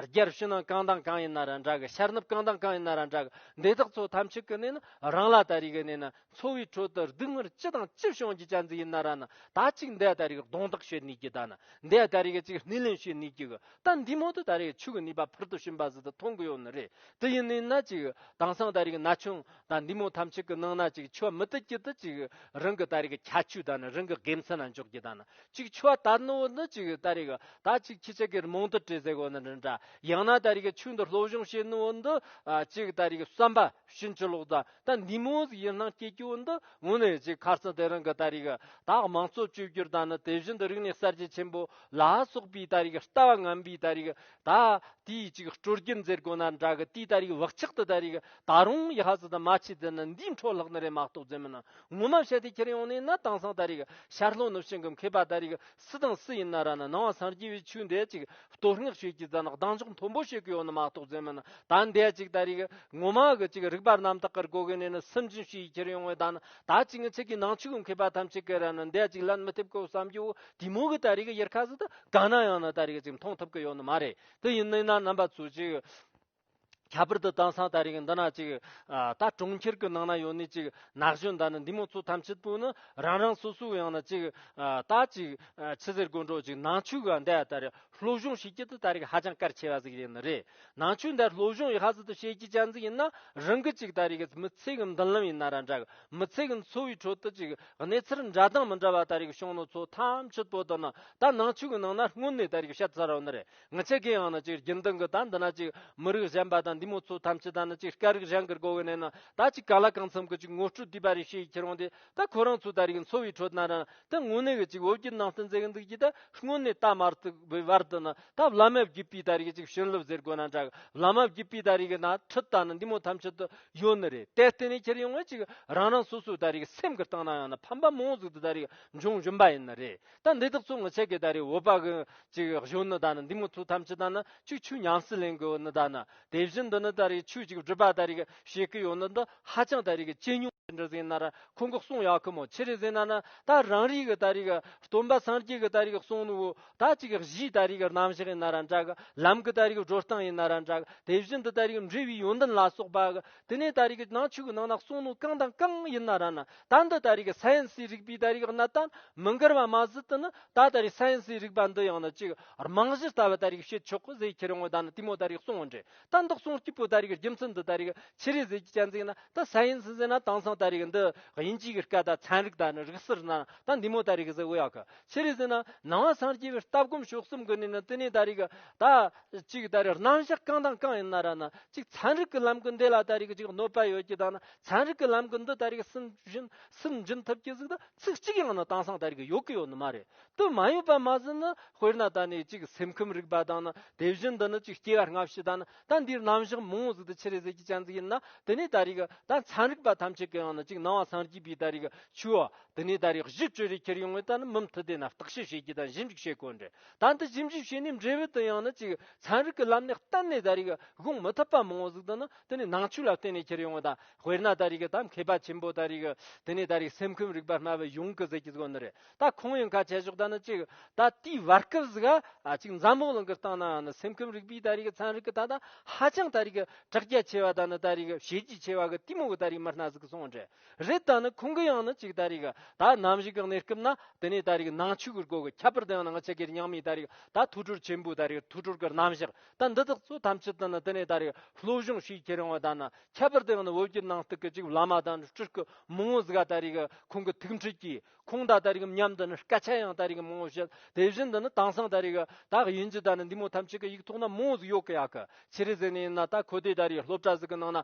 རྒྱར་ཕྱི་ནང་གང་དང་གང་ཡིན་ན་ར་འདྲ་གི་ཤར་ནུབ་གང་དང་གང་ཡིན་ན་ར་འདྲ་གི་འདི་དག་ཚོ་ཐམས་ཅད་ཀྱི་ནི་རང་ལ་ད་རིག་ནི་ནི་འཚོ་བའི་ཁྲོད་དུ་སྡུག་བསྔལ་ཅི་དང་ཅི་བྱུང་རྒྱུ་ཅན་ཙི་ཡི་ན་ར་ན་ད་ཅིག་འདས་ད་རེས་ཀྱི་གདོང་དག་ཤེས་ནུས་ཀྱི་ད་ན་འདས་ད་རེས་ཀྱི་ཅིག་སྣེ་ལེན་ཤེས་ནུས་ཀྱི་གི་ད་འདིས་མོ་དུ་ད་རེས་ཀྱི་ཆུ་གི་ནུས་པ་ཕུལ་དུ་ཕྱིན་པ་ཟིན་དུ་མཐོང་གི་ཡོད་ནི་རེད་དུ་ཡིན་ནུས་ན་ཅིག་དེང་སང་ད་རེས་ཀྱི་ན་ཆུང་ད་འདིས་མོ་ཐམས་ཅད་ཀྱི་ནང་ན་ཅིག་འཆི་བ་མི་དུ་ཅི་དུ་ཅིག་རང་གི་ད་རེས་ཀྱི་ཁྱད་ཆོས་ད་ནི་རང་གི་དགེ་མཚན་ན་འཇོག་རྒྱུ་ད་ན་ཅིག་འཆི་བ་དར་ནུ་བོ་ནི་ཅིག་ད་རེས་ཀྱི་ད་ཅིག་ཁྱི་སྤྱད་ཀྱི་རྨོངས་དད་བྲེལ་ཟེ་གོ་ནི་རི་འདྲ་ཡང་ན་ད་རེས་ཀྱི་ཆུ་འདི་སློབ་སྦྱོང་བྱེད་ནུ་བོ་འདི་ཅིག་ད་རེས་ཀྱི་བསམ་པ་ཕྱིན་ཅི་ལོག་ད་ད་འདི་མོ་ཟིག་ཡིན་སྣང་སྐྱེ་སྐྱོ་འདི་ངོ་ནས་ཅིག་ཁར་ཙི་དེ་རིང་གི་ད་རིག་དྭགས་མང་གཙོ་བཅོས་བསྒྱུར་ད་ནི་དེ་བཞིན་དུ་རིག་གནས་གསར་བརྗེ་ཆེན་པོ་ལ་སོགས་པའི་ད་རིག་ལྟ་བ་ངན་པའི་ད་རིག་ད་ལྟའི་ཅིག་སྤྲོ་སྐྱིད་མཛད་དགོས་ན་འདྲ་གི་དེའི་ད་རིག་བག་ཆགས་དེ་ད་རིག་ད་རུང་ཡི་ཧ་ཟི་དུ་མ་ཆིག་འཛིན་ནི་འདིའི་འཕྲོ་ལྷག་ནི་རེད་མ་གཏོགས་རྫུན་མིན་ངོ་མ་བཤད་དེ་ཁྱེར་ཡོང་ནས་ནི་དེང་སང་ད་རིག་ཤར་ལྷོ་ནུབ་བྱང་གི་མཁས་པ་ད་རིག་སུ་དང་སུ་ཡིན་ན་ར་ན་སྣང་བ་སངས་རྒྱས་པའི་ཆོས་འདི་ཅིག་བསྟོད་བསྔགས་བྱེད་ཀྱི་རྫ་ནག་གདངས་འཇོག་མཐོན་པོ་བྱེད་ཀྱི་ཡོད་ནི་མ་གཏོགས་རྫུན་མིན་ད་འདས་ཅིག་ད་རིག་ངོ་མ་གི་ཅིག་རིག་པ་རྣམ་དག་གི་སྒོ་གི་ནས་ནི་སུན་འབྱིན་བྱེད་ཡི་ཁྱེར་ཡོང་བའི་ད་ནི་ད་ཅིག་ངི་ཚེ་གི་ནང་ཆོས་གི་མཁས་པ་ཐམས་ཅད་ཀྱི་ར་ན་འདས་ཅིག་ལན་མི་ཐེབས་གི་བསམ་རྒྱུ་བོ་དེ་མོ་གི་ད་རིག་ཡུལ་ཁ་ཟི་དུ་ག་ན་ཡང་ནི་ད་རིག་ཅིག་མཐོང་ཐུབ་ཀྱི་ཡོད་ནི་མ་རེད་དུ་ཡིན་ནི་ན་རྣམ་པ་ཚོས་ཅིག། ཁྱད་པར་དུ་དེང་སང་ད་རིང་འདི་ན་ཅིག་ད་གྲོང་ཁྱེར་གྱི་ནང་ན་ཡོད་ནི་ཅིག་ནགས་གཞོན་ད་ནི་འདི་མོ་ཚོ་ཐམས་ཅད་པོ་ནི་རང་རང་སོ་སོའི་ཡང་ན་ཅིག་ད་ཅིག་ཕྱི་ཟེར་དགོན་གྲོགས་ཅིག་ནང་ཆོས་ག་འདའ་ད་རེ་སློབ་སྦྱོང་བྱེད་ཀྱི་དུ་ད་རིག་ཧ་ཅང་གར་ཆེ་བ་ཟིག་ཡིན་ནི་རེད་ནང་ཆོས་འདའ་སློབ་སྦྱོང་ཡི་ཧ་ཟི་དུ་བྱེད་ཀྱི་ཅན་ཟིག་ཡིན་ན་རང་གི་ཅིག་ད་རིག་མི་ཚེ་གི་མདུན་ལམ་ཡིན་ན་ར་འདྲ་གི་མི་ཚེ་གི་འཚོ་བའི་ཁྲོད་དུ་ཅིག་གནས་ཚུལ་འདྲ་དང་མི་འདྲ་བ་ད་རིག་བྱུང་ནི་ཚོ་ཐམས་ཅད་པོ་དུ་ནི་ད་ནང་ཆོས་གི་ནང་ན་སྔོན་ནས་ད་རིག་བཤད་ཚར་རོ་ནི་རེད་ང་ཅི་དགེ་ཡང་ན་ཅིག་རྒྱུན་ལྡན་གྱི་ད་འདི་ན་ཅིག་མི་རིགས་གཞན་པ་དང་འདི་མོ་ཚོ་ཐམས་ཅད་ད་ནི་ཅིག་སྐད་རིགས་གཞན་གྱིར་གོ་བས་ནས་ན་ད་ཅིག་ག་ལ་གང་འཚམ་གྱི་ཅིག་ངོ་སྤྲོད་བསྡུས་པ་རེ་བྱེད་ཡི་ཁྱེར་འོང་དེ་ད་ཁོ་རང་ཚོ་ད་རིགས་འཚོ་བའི་ཁྲོད་ན་ན་ད་དངོས་གནས་གྱི་ཅིག་འོ་བརྒྱུད་ནང་བསྟན་མཛད་ཀྱི་འདུག་ཅིག་ད་དངོས་གནས་ད་མར་ཏུ་བའི་བར་དུ་ན་ད་བླ་མའི་བརྒྱུད་པའི་ད་རིགས་ཅིག་བྱིན་རླབས་ཟེར་དགོས་ན་འདྲ་གི་བླ་མའི་བརྒྱུད་པའི་ད་རིགས་ན་ཁྲི་ད་ནི་འདི་མོ་ཐམས་ཅད་དུ་ཡོད་ནི་རེད་དེ་བརྟེན་ནས་ཁྱེར་ཡོང་བས་ཅིག་རང་རང་སོ་སོའི་ད་རིགས་སེམས་ཀྱི་སྟེང་ན་ཡང་ན་ཕམ་པ་མང་ཟུག་ཏུ་ད་རིགས་འབྱུང་བཞིན་པ་ཡིན་ནི་རེད། ད་འདི་དག་ཚོ་ངོ་ཆེ་གེ་ད་རེ་འོ་པ་གི་ཅིག་གཞོན་ནུ་ད་ནི་འདི་མོ་ཚོ་ཐམས་ཅད་ད་ནི་ཅིག་ཆུ་ཉམས་སུ་ལེན་གི་འོ་ནི་ད་ནི་དེ་བཞིན་འདི་ནི་ད་རེ་ཆུ་ཅིག་སྒྲུབ་པ་ད་རེ་གི་བྱེད་གི་ཡོ་ནི་འདི་ཧ་ཅང་ད་རེ་གི་ཅི་ཉུང་ཅི་འདྲ་ཟིན་ན་ར་ཁོང་གི་གསུང་ཡག་གི་མོ་ཆི་རེ་ཟིན་ན་ནི་ད་རང་རེ་གི་ད་རེ་གི་སྟོན་པ་སངས་རྒྱས་གི་ད་རེ་གི་གསུང་ནི་འོ་ད་ཅིག་གི་གཞིའི་ད་རེ་གི་རྣམ་གཞག་ཡིན་ན་ར་འདྲ་གི་ལམ་གི་ད་རེ་གི་བགྲོ་སྟངས་ཡིན་ན་ར་འདྲ་གི་དེ་བཞིན་དུ་ད་རེ་གི་འབྲས་བུའི་ཡོན་ཏན་ལ་སོགས་པ་གི་དེ་ནས་ད་རེ་གི་ནང་ཆོས་གི་ནང་ན་གསུང་ནི་གང་དང་གང་ཡིན་ན་ར་ནི་ད་འདི་ལྟ་རིགས་ས་ཡན་སའི་རིགས་པའི་ལྟ་རིགས་གནད་དང་མི་འགལ་བ་མ་ཟད་དུ་ནི་ད་ལྟ་རིགས་ས་ཡན་སའི་རིགས་པ་འདི་ཡང་ནི་གཅིག་རྨང་གཞིར་ལྟ་བའི་ལྟ་རིགས་བྱེད་ཆོག་གོ་ཟེར་ཁྱེད་རང་ངོ་ད་ནི་ལྟད་མོ་ལྟ་རིགས་གསུང་ངོ་འདྲེ་ད་འདི་གསུང་སྐྱིད་པོ་ལྟ་རིགས་རྒྱུ་མཚན་འདི་ལྟ་རིགས་ཕྱི་རིས་ཟེར་གྱི་སྐྱ་འཛེགས་ན་ད་ས་ཡན་སའི་ཟེར་ན་དེང་སང་ལྟ་རིགས་འདི་དབྱིན་ཇིའི་གི་སྐད་ད་ཚན་རིག་ད་ནི་རིགས་སིར་ན་ད་འདི་མོ་ལྟ་རིགས་ཟེར་འོས་ཡག་གི་ཕྱི་རིས་ཟེར་ན་ནང་བ་སངས་རྒྱས་པའི་ལྟ་སྒོམ་ཕྱོགས་གསུམ་གི་ནས་ནི་དེ་ནས་ལྟ་རིགས་ད་གཅིག་ལྟ་རིགས་རྣམ་གཞག་གང་དང་གང་ཡིན་ན་ར་ན་གཅིག་ཚན་རིག་གི་ལམ་གི་འདི་ལ་ལྟ་རིགས་གཅིག་གནོད་པ་ཡོད་ཀྱི་ད་ནི་ཚན་རིག་གི་ལམ་གྱི་འདི་ལྟ་རིགས་སུན་འབྱིན་སུན་འབྱིན་ཐུབ་ཀྱི་གཟིགས་ན་ཚིག་གཅིག་ཡང་ནི་དེང་སང་ལྟ་རིགས་ཡོད་ཀྱི་ཡོད་ནི་མ་རེད་དུ་མ་ཡོད་པ་མ་ཟིན་ནི་དཔེར་ན་ད་ནི་ཅིག་སེམས་ཁམས་རིག་པ་དང་ནི་དེ་བཞིན་དུ་ནི་ཅིག་སྐྱེ་བ་སྔ་ཕྱི་དང་ནི་ད་འདིར་རྣམ་གཞག་མང་བོ་གཟིགས་ཏེ་ཕྱི་རེ་ཟད་ཀྱི་སྤྱན་གཟིགས་ཡིན་ན་དེ་ནས་ད་རིགས་ད་ཚན་རིག་པ་ཐམས་ཅད་ཀྱི་ཡང་ནི་ཅིག་སྣང་བ་སངས་རྒྱས་པའི་ད་རིགས་ཆོས་བ་དེ་ནས་ད་རིགས་གཞི་བཅོས་རེ་ཁྱེར་ཡོང་བས་ད་ནི་མི་མཐུ་དེ་ན་བརྟག་དཔྱད་བྱེད་ཀྱི་ད་ཞིབ་འཇུག་བྱེད་དགོས་འདྲེ་ད་འདི་ཞིབ་འཇུག་བྱས་ནས་འབྲས་བུ་དེ་ཡང་ནི་ཅིག་ཚན་རིག་གི་ལམ་ནས་གཏན་ནས་ད་རིགས་དགོངས་མི་ཐུབ་པ་མང་བོ་གཟིགས་དུ་ནི་དེ་ནི་ནང་བཅུད་ལ་བརྟེན་ནས་ཁྱེར་ཡོང་བ་དང་དཔེར་ན་ད་རེས་ཀྱི་ད་མཁས་པ་ཆེན་པོ་ད་རེས་ཀྱི་དེ་ནི་ད་རེས་སེམས་ཁམས་རིག་པ་སྨྲ་བའི་ཡོངས་ཀྱི་གཟིགས་ཀྱི་གཟུགས་ནི་རེད་ད་ཁོང་ཡང་ཁ་ཆད་ཞོག་ད་ནི་གཅིག་ད་དུས་བར་སྐབས་སུ་གཅིག་འཛམ་གླིང་གླིང་གི་སྟེང་ན་ནི་སེམས་ཁམས་རིག་པའི་ད་རེས་ཀྱི་ཚན་རིག་གི་ད་ད་ཧ་ཅང་ད་རེས་ཀྱི་དྲག་རྒྱ་ཆེ་བ་ད་ནི་ད་རེས་ཀྱི་བྱས་རྗེས་ཆེ་བ་གི་ལྟད་མོ་གི་ད་རེས་མི་སྣ་ཟིག་གི་སོང་འདྲེ་རེད་ད་ནི་ཁོང་གི་ཡང་ནི་གཅིག་ད་རེས་ཀྱི་ད་ནམ་བཞི་གི་གནས་སྐབས་ན་དེ་ནི་ད་རེས་ཀྱི་ནང་ཆོས་ཀྱི་སྒོ་གི་ཁྱད་པར་དེ་ཡང་ནང་ཆོས་ཀྱི་རྙིང་མའི་ད་རེས་ཀྱི་ད་ཐུགས་སྤྲོར་ཆེན་པོའི་ད་རེས་ཀྱི་ཐུགས་སྤྲོར་གྱི་རྣམ་གཞག་ད་འདི་དག་ཚོ་ཐམས་ཅད་དུ་ནི་དེ་ནས་ད་རེས་བློ་གཞུང་ཞིག་ཁྱེད་རང་བ་དང་ནི་ཁྱད་པར་དུ་ཡང་ནི་བོད་ཀྱི་ནང་སྟུག་གི་ཅིག་བླ་མ་དང་ནི་སྤྲུལ་སྐུ་མང་བོ་ཟིག་ག་ད་རེས་ཁོང་གི་ཐུགས་འཕྲད་ཀྱིས་ཁོང་དང་ད་རེས་མཉམ་དུ་ནི་སྐད་ཆ་ཡང་ད་རེས་མང་བོ་བཤད་དེ་བཞིན་དུ་ནི་དེང་སང་ད་རེས་དག་ཡིན་གྱི་ད་ནི་འདི་མོ་ཐམས་ཅད་ཀྱི་ཡིག་ཐོག་ན་མང་བོ་ཟིག་ཡོད་གི་ཡག་གི་ཕྱིར་ཟིག་ནས་ཡིན་ན་ད་ཁོ་དེ་ད་རེས་སློབ་གྲྭ་ཟིག་གི་ནང་ན།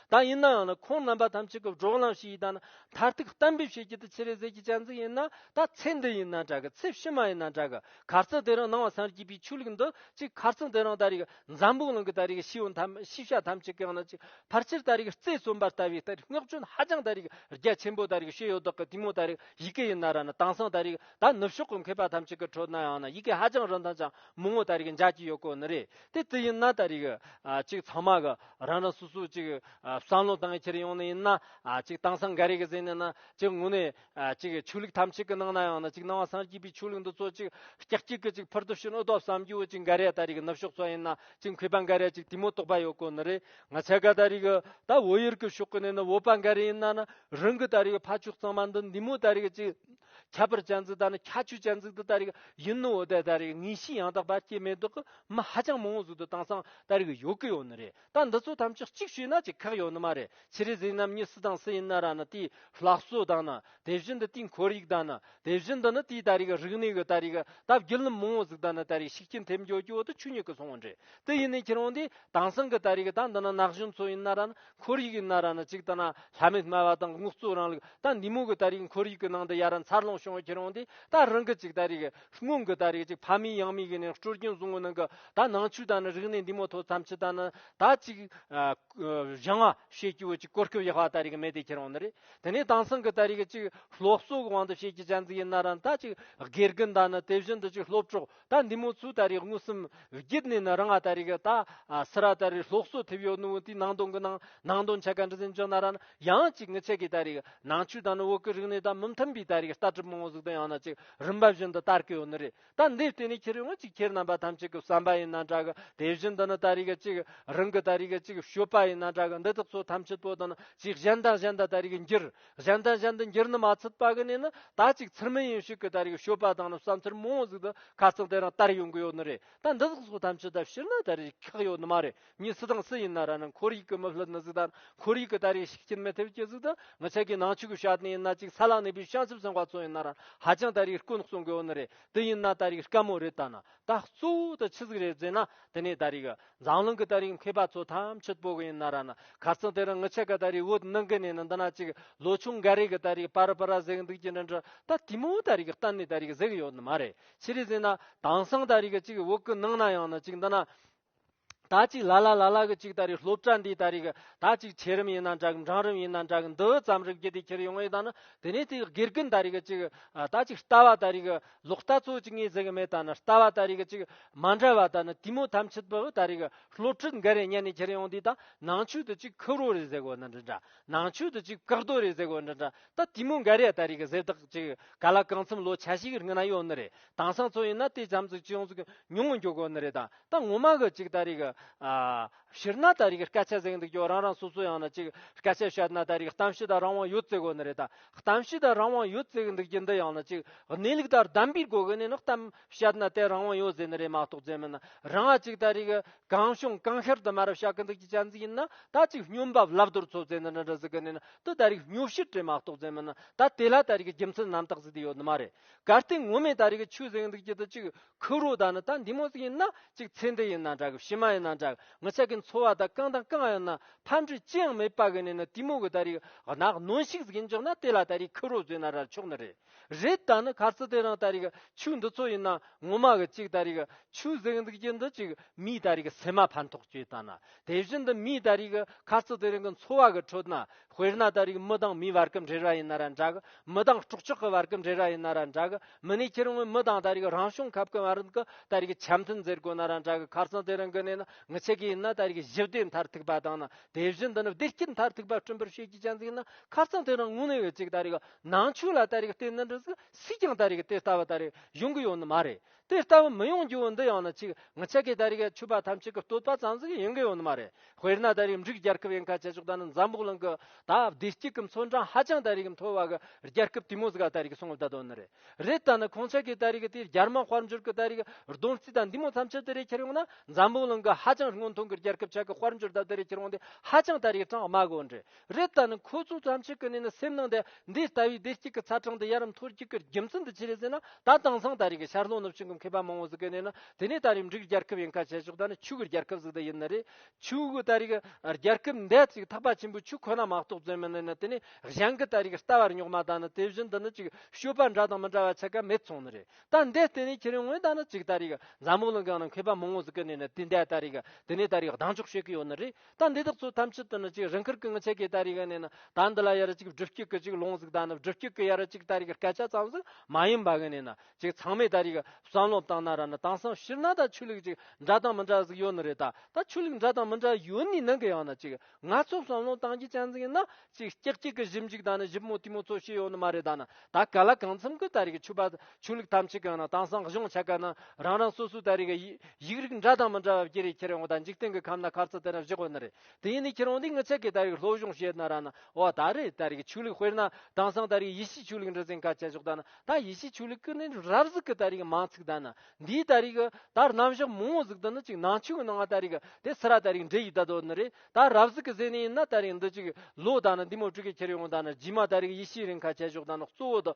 ད་ཡིན་ནའང་ནི་ཁོང་རྣམ་པ་ཐམས་ཅད་ཀྱི་འགྲོགས་ལམ་ཞིག་ཡིན་ད་ནི་མཐར་ཐུག་གཏན་འབེབས་བྱེད་རྒྱུ་དེ་ཕྱི་རོལ་ཟས་ཀྱི་སྤྱན་གཟིགས་ཡིན་ན་ད་ཚེ་འདི་ཡིན་ན་འདྲ་གི་ཚེ་ཕྱི་མ་ཡིན་ན་འདྲ་གི་གར་རྩེད་དེ་རིང་སྣང་བ་སངས་རྒྱས་པའི་ཆོས་ལུགས་འདི་གཅིག་གར་རྩེད་དེ་རིང་ད་རེས་འཛམ་བུའི་གླིང་གི་ད་རེས་ཤེས་ཡོན་ཤེས་བྱ་ཐམས་ཅད་ཀྱང་ནི་གཅིག་ཕར་ཆེར་ད་རེས་རྩེ་གསུམ་པར་ལྟ་བའི་ལྟར་བསྔགས་བརྗོད་ཧ་ཅང་ད་རེས་རྒྱ་ཆེན་པོ་ད་རེས་བྱེད་ཡོད་དོ་ཀི་དེ་མོ་ད་རེས་ཡི་གེ་ཡིན་ན་ར་ནི་དྭངས་སང་ད་རེས་ད་ནུབ་ཕྱོགས་ཀྱི་མཁས་པ་ཐམས་ཅད་ཀྱི་ཁྲོད་ནའང་ནི་ཡི་གེ་ཧ་ཅང་རིན་ཐང་ཅང་མང་བོ་ད་རེས་འཇགས་ཀྱི་ཡོད་སྐོར་ནི་རེད་དེ་ཅི་ཡིན་ན་ད་རེས་ཀྱི་ཅིག་ཚང་མ་གི་རང་རང་སོ་སོའི་ཅིག་བསམ་བློ་གཏང་ཕྱིར་ཡོང་ནི་ཡིན་ན་ཅིག་དེང་སང་འགའ་རེ་གི་གཟེངས་ནས་ན་ཅིག་དངོས་ནས་ཅིག་ཆོས་ལུགས་ཐམས་ཅད་ཀྱི་ནང་ན་ཡང་ན་ཅིག་ནང་བ་སངས་རྒྱས་པའི་ཆོས་ལུགས་འདི་ཚོ་ཅིག་སྐྱག་སྐྱིག་གི་ཅིག་ཕུར་དུ་ཕྱིན་ཨུ་ཏོ་བསམ་རྒྱུ་བོ་ཅིག་འགའ་རེ་ད་རེས་ཀྱི་ནུབ་ཕྱོགས་ཚོ་ཡིན་ན་ཅིག་མཁས་པ་འགའ་རེ་ཅིག་དེ་མོ་རྟོགས་པ་ཡོད་དགོས་ནི་རེད་ང་ཚ་ག་ད་རེས་ཀྱི་ད་བོད་ཡུལ་གྱི་ཕྱོགས་ཀྱི་ནས་ན་བོད་པ་འགའ་རེ་ཡིན་ན་ན་རང་གི་ད་རེས་ཀྱི་ཕ་ཕྱོགས་གཙང་མ་འདི་འདི་མོ་ད་རེས་ཀྱི་ཅིག་ཁྱད་པར་ཅན་ཚིག་ད་ནི་ཁྱད་ཆོས་ཅན་ཚིག་འདི་ད་རེས་ཀྱི་ཡིན་ནོ་འོ་ད་ད་རེས་ཀྱི་ངེས་ཤེས་ཡང་དག་པ་སྐྱེས་མེད་དོགས་ཀྱི། མི་ཧ་ཅང་མང་བོ་ཟུར་དུ་བཏང་སང་ད་རིག་ཡོད་གི་ཡོད་ནི་རེད་ད་འདི་ཚོ་ཐམས་ཅད་གཅིག་བྱོས་ན་ཅིག་ཁག་ཡོད་ནི་མ་རེད་ཕྱི་རེ་ཟིན་ནམ་ཉི་སི་དང་སི་ཡིན་ན་ར་ནི་དེའི་ལྷག་བསོད་དང་ནི་དེ་བཞིན་དུ་དེའི་འཁོར་ཡིག་དང་ནི་དེ་བཞིན་དུ་ནི་དེའི་ད་རིག་རིག་གནས་གི་ད་རིག་ད་བརྒྱུད་ལམ་མང་བོ་ཟིག་དང་ནི་ད་རིག་ཤིག་སྐྱིན་ཐེབས་འཇོག་རྒྱུ་བོ་དུ་ཆུ་ཉིད་གི་སོང་བོ་འདྲེ་དི་ཡིན་ནི་ཁྱེད་རང་དེ་དང་སང་གི་ད་རིག་ད་འདི་ནི་ནག་གཞུང་ཚོ་ཡིན་ན་ར་ནི་འཁོར་ཡིག་ཡིན་ན་ར་ནི་ཅིག་ད་ན་ལྷ་མེད་སྨྲ་བ་དང་དངུག་རྩོད་རང་ལུགས་ད་འདི་མོ་གི་ད་རིག་འཁོར་ཡིག་གི་ནང་དུ་ཡ་ར་མཚར་ལོངས་བྱུང་བ་ཁྱེད་རང་དེ་ད་རང་གི་ཅིག་ད་རིག་སྔོན་གྱི་ད་རེས་ཀྱི་ཕ་མའི་ཡང་མིག་གི་ནས་སྤྲོ་སྐྱིན་བཟུང་བ་ནང་གི་ད་ནང་ཆོས་དང་ནི་རིག་གནས་འདི་མོ་ཐོ་ཙམ་ཆུ་དང་ནི་ད་ཅིག་བཞང་བ་ཞེས་བསྐྱུར་བ་ཅིག་གོར་སྐྱོབ་ཡག་བ་ད་རེས་ཀྱི་མེ་དེ་ཁྱེར་འོང་ནི་རེད་དེ་ནས་དང་སང་གི་ད་རེས་ཀྱི་ཅིག་སློབ་གསོ་གི་དབང་དུ་བྱེད་ཀྱི་བྱ་འཛིན་ཡིན་ན་རང་ད་ཅིག་དགེ་རྒན་དང་ནི་དེ་བཞིན་དུ་ཅིག་སློབ་གྲོགས་ད་འདི་མོ་ཚོས་ད་རེས་དངུལ་སུམ་བརྒྱུད་ནས་ནི་རང་ང་ད་རེས་ཀྱི་ད་སི་ར་ད་རེས་སློབ་གསོ་ཐེབས་ཡོད་ནུ་བོ་དེའི་ནང་དོན་གྱི་ནང་ནང་དོན་ཆ་ག་འདྲི་ཟིན་ཅོ་ན་ར་ཡང་ཅིག་ངི་ཆད་ཀྱི་ད་རེས་ནང་ཆོས་དང་ནི་བོད་ཀྱི་རིག་གནས་ད་མི་མཐུན་པའི་ད་རེས་ཀྱི་ལྟ་གྲུབ་མང་བོ་ཟུག་དང་ཡང་ན་ཅིག་རིམ་པ་བཞིན་དུ་ལྟར་གི་ཡོད་ནི་རེད་ད་འདིའི་སྟེང་ནས་ཁྱེད་རེ་ངོས་ཀྱིས་ཁྱེད་རྣམ་པ་ཐམས་ཅད་ཀྱི་བསམ་པ་ཡིན་ན་འདྲ་གི་དེ་བཞིན་དུ་ནི་ལྟར་རིག་གཅིག་རང་གི་ལྟར་རིག་གཅིག་ཤོད་པ་ཡིན་ན་འདྲ་གི་འདི་དག་ཚོ་ཐམས་ཅད་དོ་དང་ཅིག་གཞན་དང་གཞན་དང་ལྟར་རིག་འགྱུར་གཞན་དང་གཞན་དུ་འགྱུར་ནི་མ་ཚུད་པ་གི་ནས་ནི་ད་ཅིག་ཚུར་མི་ཡིན་ཞིག་གི་ལྟར་རིག་ཤོད་པ་དང་ནི་བསམ་ཚུལ་མང་བོ་ཟིག་དང་ཁ་ཚང་དེ་རང་ལྟར་ཡོང་གི་ཡོད་ནི་རེད་ད་འདི་དག་ཚོ་ཐམས་ཅད་ལྟར་ཕྱིར་ན་ལྟར་རིག་ཁག་ཡོད་ནི་མ་རེད། གཉིས་སུ་དང་སུ་ཡིན་ན་ར་ནི་འཁོར་ཡིག་གི་མི་ཕལ་ནི་གཟུགས་དང་འཁོར་ཡིག་གི་ད་རེས་ཤིག་སྐྱིན་མི་ཐེབས་ཀྱི་གཟུགས་དང་མི་ཆགས་ཀྱི་ནང་ཆོས་ཀྱི་ཤ་དེ་ཡིན་ན་ཅིག་ས་ལ་གནས་པའི་བྱང་ཆུབ་སེམས་དཔའ་ཚོ་ཡིན་ན་ར་ཧ་ཅང་ད་རེས་དཀོན་གསུང་གི་བོ་ནི་རེད་དེ་ཡིན་ན་ད་རེས་དཀའ་མོ་རེད་ད་ན་ད་གཙོ་བོ་དུ་ཆི་ཟིག་རེད་བཟོས་ན་དེ་ནས་ད་རེས་འཛམ་གླིང་གི་ད་རེས་མཁས་པ་ཚོ་ཐམས་ཅད་པོ་གི་ཡིན་ན་ར་ནི་གར་ཚང་དེ་རུ་མི་ཆགས་གི་ད་རེས་བོད་ནང་གི་ནས་ནི་འདི་ན་ཅིག་ལོ་ཆུང་འགའ་རེ་གི་ད་རེས་པར་པར་གཟིགས་འདུག་ཀྱི་འདྲི་འདྲི་ད་དེ་མོ་ད་རེས་གཏན་ནས་ད་རེས་གཟིགས་ཡོད་ནི་མ་རེད་ཕྱི་རེས་ཟེར་ན་དེང་སང་ད་རེས་ཅིག་བོད་ཀི་ནང་ན་ཡང་ནི་ཅིག་འདི་ན་ད་ཅིག་ལ་ལ་ལ་ལ་གི་ཅིག་ད་རེས་སློབ་གྲྭ་འདི་ད་རེས་གི་ད་ཅིག་ཆེ་རིམ་ཡིན་ན་འདྲ་གི་འབྲང་རིམ་ཡིན་ན་འདྲ་གི་འདི་ཙམ་རིགས་རྒྱུ་དེ་ཁྱེར་ཡོང་ངེས་ད་ནི་དེ་ནས་དེ་དགེ་རྒན་ད་རེས་གི་ཅིག་ད་ཅིག་ལྟ་བ་ད་རེས་གི་ལོག་ལྟ་ཚོ་ཅིག་ངས་ཟེར་གི་མེད་ད་ནི་ལྟ་བ་ད་རེས་གི་ཅིག་མ་འདྲ་བ་ད་ནི་དུས་མོ་ཐམས་ཅད་པུ་ད་རེས་གི་སློབ་ཁྲིད་འགའ་རེ་གཉེར་ནས་ཁྱེར་ཡོང་དུས་ད་ནང་ཆོས་དུ་ཅིག་ཁུ་རོ་རེ་ཟེར་གོ་ནི་འདི་འདྲ་ནང་ཆོས་དུ་ཅིག་བཀག་རྡོ་རེ་ཟེར་གོ་འདི་འདྲ་ད་དུས་མོ་འགའ་རེ་ད་རེས་གི་ཟེར་དག་ཅིག་ག་ལ་གང་འཚམ་ལོ་ཆ་ཞིག་རིང་ན་ཡོད་ནི་རེད་དྭངས་སང་ཚོ་ཡིན་ན་དེ་རྒྱམ་ཚོ་ཅུང་ཟུག་ཉུང་ངུ་འགྱོ་དགོ་ནི་རེད་ད་ད་ངོ་མ་གི་ཅིག་ད་རིག་ཕྱིར་ན་ད་རིག་སྐད་ཆ་གཟེང་འདུག་ཀྱོ་རང་རང་སོ་སོ་ཡང་ན་ཅིག་སྐད་ཆ་བཤད་ན་ད་རིག་གཏམ་བཤད་དང་རང་དབང་ཡོད་བརྩི་དགོ་ནི་རེད་ད་གཏམ་བཤད་དང་རང་དབང་ཡོད་བརྩི་འདུག་ཀྱི་འདི་ཡང་ན་ཅིག་གནས་ལུགས་ལྟར་གདམ་པའི་སྒོ་གི་ནས་ནི་གཏམ་བཤད་ན་དེ་རང་དབང་ཡོད་ཟེར་ནི་རེད་མ་གཏོགས་རྫས་མིན་ན་རང་ཨ་ཅིག་ད་རིག་གང་བྱུང་གང་ཤར་དུ་མ་རབ་བཤད་གི་འདུག་ཀྱི་གཅན་ཟིག་ཡིན་ན་ད་ཅིག་སྨྱོན་འབབ་ལབ་རྡོར་ཚོ་རྫས་འདི་འདྲ་འདྲ་ཟིག་གི་ནས་ན་དུ་ད་རིག་སྨྱོ་བཤད་བྲིས་མ་གཏོགས་རྫས་མིན་ན་ད་དེ་ལ་ད་རིག་རྒྱུ་མཚན་རྣམ་དག་ཟིག་དེ་ཡོད་ནི་མ་རེད། གར་སྟེགས་ངོ་མས་ད་རེས་ཀྱི་ཆུ་གཟེངས་འདུག་ཅི་ད་ཅིག་ཁུག་རོ་ད་ནི་ད་འདི་མོ་ཟིག་ཡིན་ན་ཅིག་ཚེ་འདི་ཡིན་ན་འདྲ་གི་ཕྱི་མ་ཡིན་ན་འདྲ་གི་ངི་ཆ་གི་འཚོ་བ་ད་རྐང་དང་རྐང་ཡིན་ན་ཕམ་འབྲས་ཅི་ཡང་མེད་པ་གི་ནས་ནི་དེ་མོ་གི་ད་རེས་ཀྱི་ནག་གནོན་ཤིག་ཟིག་ཡིན་ཅོག་ན་དེ་ལ་ད་རེས་ཁུག་རོ་ཟོས་ན་ར་ཆོག་ནི་རེད་རེད་ད་ནི་གར་སྟེགས་དེ་རང་ད་རེས་ཀྱི་ཆུ་འདི་ཚོ་ཡིན་ན་ངོ་མ་གི་ཅིག་ད་རེས་ཀྱི་ཆུ་གཟེངས་འདུག་ཅི་འདི་ཅིག་མིའི་ད་རེས་ཀྱི་སེམས་མ་ཕན་ཐོགས་ཅོད་ད་ནི་དེ་བཞིན་དུ་མིའི་ད་རེས་ཀྱི་གར་སྟེགས་དེ་རིང་གི་འཚོ་བ་གི་ཁྲོད་ན་དཔེར་ན་ད་རིགས་མི་དང་མིའི་བར་གྱི་འབྲེལ་བ་ཡིན་ན་ར་འདྲ་གི། མི་དང་སྤྲོ་སྐྱིད་ཀྱི་བར་གྱི་འབྲེལ་བ་ཡིན་ན་ར་འདྲ་གི། མི་ནས་ཁྱེར་ངོས་མི་དང་ད་རིགས་རང་བྱུང་ཁབ་ཀྱི་བར་གྱི་ད་རིགས་འཆམ་མཐུན་མཛད་དགོས་ན་ར་འདྲ་གི། ཁ་རྩང་དེ་རང་གི་གནས་ན་ངི་ཆད་ཀྱི་ཡིན་ན་ད་རིགས་གཞི་བདེ་མཐར་ཐུག་པ་དང་ན་དེ་བཞི་འདི་ནི་བདེ་སྐྱིད་མཐར་ཐུག་པ་བསྐྲུན་པར་བྱེད་ཀྱི་ཅན་ཟིག་ན་ཁ་རྩང་དེ་རང་ངུ་ནས་ཡོད་ཅིག་ད་རིགས་ནང་ཆོས་ལ་ད་རིགས་བརྟེན་ན་འགྲིག་ཟིག་སྲིད་ཀྱང་ད་རིགས་དེ་ལྟ་བུ་ད་རིགས་ཡོང་གི་ཡོད་ནི་མ་རེད་དེ་ལྟ་བུ་མི་ཡོང་རྒྱུ་འོ་འདི་ཡང་ན་ཅིག་ངི་ཆད་ཀའི་ད་རི་གའི་ཆུ་བ་ཐམས་ཅད་ཀྱི་བསྟོད་པ་ཙམ་ཟིག་ཡིན་གི་ཡོད་ནི་མ་རེད་དཔེར་ན་ད་རིའི་འབྲུག་རྒྱལ་ཁབ་ཡིན་ཁ་ཆེ་ཕྱོགས་ད་ནི་འཛམ་བུག་གླིང་གི་ད་བདེ་སྐྱིད་ཀྱི་མཚོ་འགྲམ་ཧ་ཅང་ད་རི་གའི་མཐོ་བ་གི་རྒྱལ་ཁབ་དེ་མོ་ཟིག་ག་ད་རི་གའི་སྲུང་བར་ད་དོ་ནི་རེད་རེད་ད་ནི་ཁོང་ཆད་ཀའི་ད་རི་གའི་དེ་རྒྱར་མང་དཔལ་འབྱོར་གྱི་ད་རི་གའི་སྡོམ་རྩིས་ད་འདི་མོ་ཐམས་ཅད་ད་རི་ཁྱེར་ཡོང་ན་འཛམ་བུག་གླིང་གི་ཧ་ཅང་སྔོན་ཐོན་གྱི་རྒྱལ་ཁབ་ཆག་གི་དཔལ་འབྱོར་ད་ད་རི་ཁྱེར་ཡོང་དེ་ཧ་ཅང་ད་རི་གྲངས་དམའ་གི་འོ་འདྲེ་རེད་ད་ནི་ཁོ་ཚོ་བྱམས་ཆེན་གི་གནས་ན་སེམས་ནང་དེ་འདི་ལྟ་བུའི་བདེ་སྐྱིད་ཀྱི་ཚ་གྲང་དེ་ཡར་རམ་མཐོར་རྒྱུག་གི་རྒྱུ་མཚན་དེ་ཅི་རེད་ཟེར་ན་ད་དེང་སང་ད་རེས་ཀྱི་ཤར་ལྷོ་ནུབ་བྱང་གི་མཁས་པ་མང་བོ་ཟིག་གི་གནས་ན་དེ་ནས་ད་རེས་འབྲུག་རྒྱལ་ཁབ་ཡིན་ཁ་བྱས་ཆོག་ད་ནི་ཕྱུག་གི་རྒྱལ་ཁབ་ཟིག་དེ་ཡིན་ན་རེད་ཕྱུག་གི་ད་རེས་ཀྱི་རྒྱལ་ཁབ་འདས་ཅིག་ཐག་པ་ཆེན་པོའི་ཕྱུག་ཁོ་ན་མ་གཏོགས་བཙོན་མི་གནས་ན་དེ་ནས་གཞན་གྱི་ད་རེས་ཀྱི་ལྟ་བར་རྙོག་མ་ད་ནི་དེ་བཞིན་དུ་ནི་ཅིག་ཤོས་པ་འདྲ་དང་མི་འདྲ་བ་ཆགས་ཀ་མེད་ཚོང་ནི་རེད་ད་འདས་དེ་ནས་ཁྱེད་རང་ངོས་ད་ནི་ཅིག་ད་རེས་ཀྱི་འཛམ་བུ་གླིང་གང་ན་མཁས་པ་མང་བོ་ཟིག་གི་གནས་ན་དེ་འདས་ད་རེས་ཀྱི་དེ་ནས་ད་རེས་ཀྱི་གདངས་འཇོག་བྱེད་ཀྱི་ཡོད་ནི་རེད། ད་འདི་དག་ཚོ་ཐམས་ཅད་དུ་ནི་ཅིག་རིང་ཁུར་གི་ངི་ཚེ་གེ་ད་རི་ག་ནས་ནི་ད་འདི་ལ་ཡ་ར་ཅིག་སྒྲིབ་སྐྱུག་གི་ཅིག་ལོང་ཟིག་ད་ནི་སྒྲིབ་སྐྱུག་གི་ཡ་ར་ཅིག་ད་རི་ག་སྐད་ཆ་ཙམ་ཟིག་མ་ཡིན་པ་གི་ནས་ནི་ཅིག་ཚང་མས་ད་རི་ག་བསམ་བློ་བཏང་ན་ར་ནི་དེང་སང་ཕྱིར་ན་ད་ཆོས་ལུགས་ཅིག་འདྲ་དང་མི་འདྲ་ཟིག་ཡོད་ནི་རེད་ད་ད་ཆོས་ལུགས་འདྲ་དང་མི་འདྲ་ཡོད་ནི་ནང་གི་ཡང་ན་ཅིག་ང་ཚོ་བསམ་བློ་བཏང་རྒྱུ་ཅན་ཟིག་ཡིན་ན་ཅིག་སྐྱག་སྐྱིག་གི་གཞིབ་འཇུག་དང་ནི་གཞིབ་མོ་དུས་མོ་ཚོ་ཤེས་ཡོད་ནི་མ་རེད་ད་ནི་ད་ག་ལ་གང་འཚམ་གི་ད་རེ་གི་ཆུ་པ་ཆུ་ལུག་ཐམས་ཅད་གང་ན་དྭངས་སང་གཞུང་ཆ་ག་ན་རང་རང་སོ་སོའི་ད་རེ་གི་ཡིག་རིགས་འདྲ་དང་མི་འདྲ་བ་བརྒྱད་རེ་ཁྱེར་ཡོང་གི་ད་འཇིག་རྟེན་གི་ཁམས་ན་ཁ་རྩ་དེ་ན་བཞག་གི་ནི་རེད་དེ་ཡིན་ནི་ཁྱེར་ཡོང་དུས་ངི་ཆ་གི་ད་རེ་གི་ལྷོ་གཞུང་ཞེས་ན་ར་ན་བ་ད་རེ་ད་རེ་གི་ཆུ་ལུག་དཔེར་ན་དྭངས་སང་ད་རེ་གི་ཡེ་ཤེས་ཆུ་ལུག་འདྲ་ཙན་ཁ་ཆ་བཞག་ད་ནི་ད་ཡེ་ཤེས་ཆུ་ལུག་གི་ནི་རབ་གཟུགས་གི་ད་རེ་གི་མང་ཚིག་ད་ནི་འདིའི་ད་རེ་གི་ད་རྣམ་གཞག་མང་བོ་གཟུགས་ད་ནི་ཅིག་ནང་ཆོས་གི་ནང་ང་ད་རེ་གི་དེ་སི་ར་ད་རེ་གི་འདྲེ་ཡིས་ད་དོ་ནི་རེད། ད་རབ་གཟིགས་ཀྱི་ཟས་ནི་ཡིན་ན་ད་རིང་འདི་གཅིག་ལོ་དང་ནི་འདི་མོ་དྲུག་གི་ཁྱེར་ཡོང་དང་ནི་རྗེས་མ་ད་རིག་ཡེ་ཤེས་རིང་ཁ་ཆད་ཞོག་དང་ནི་གཙོ་བོ་དང།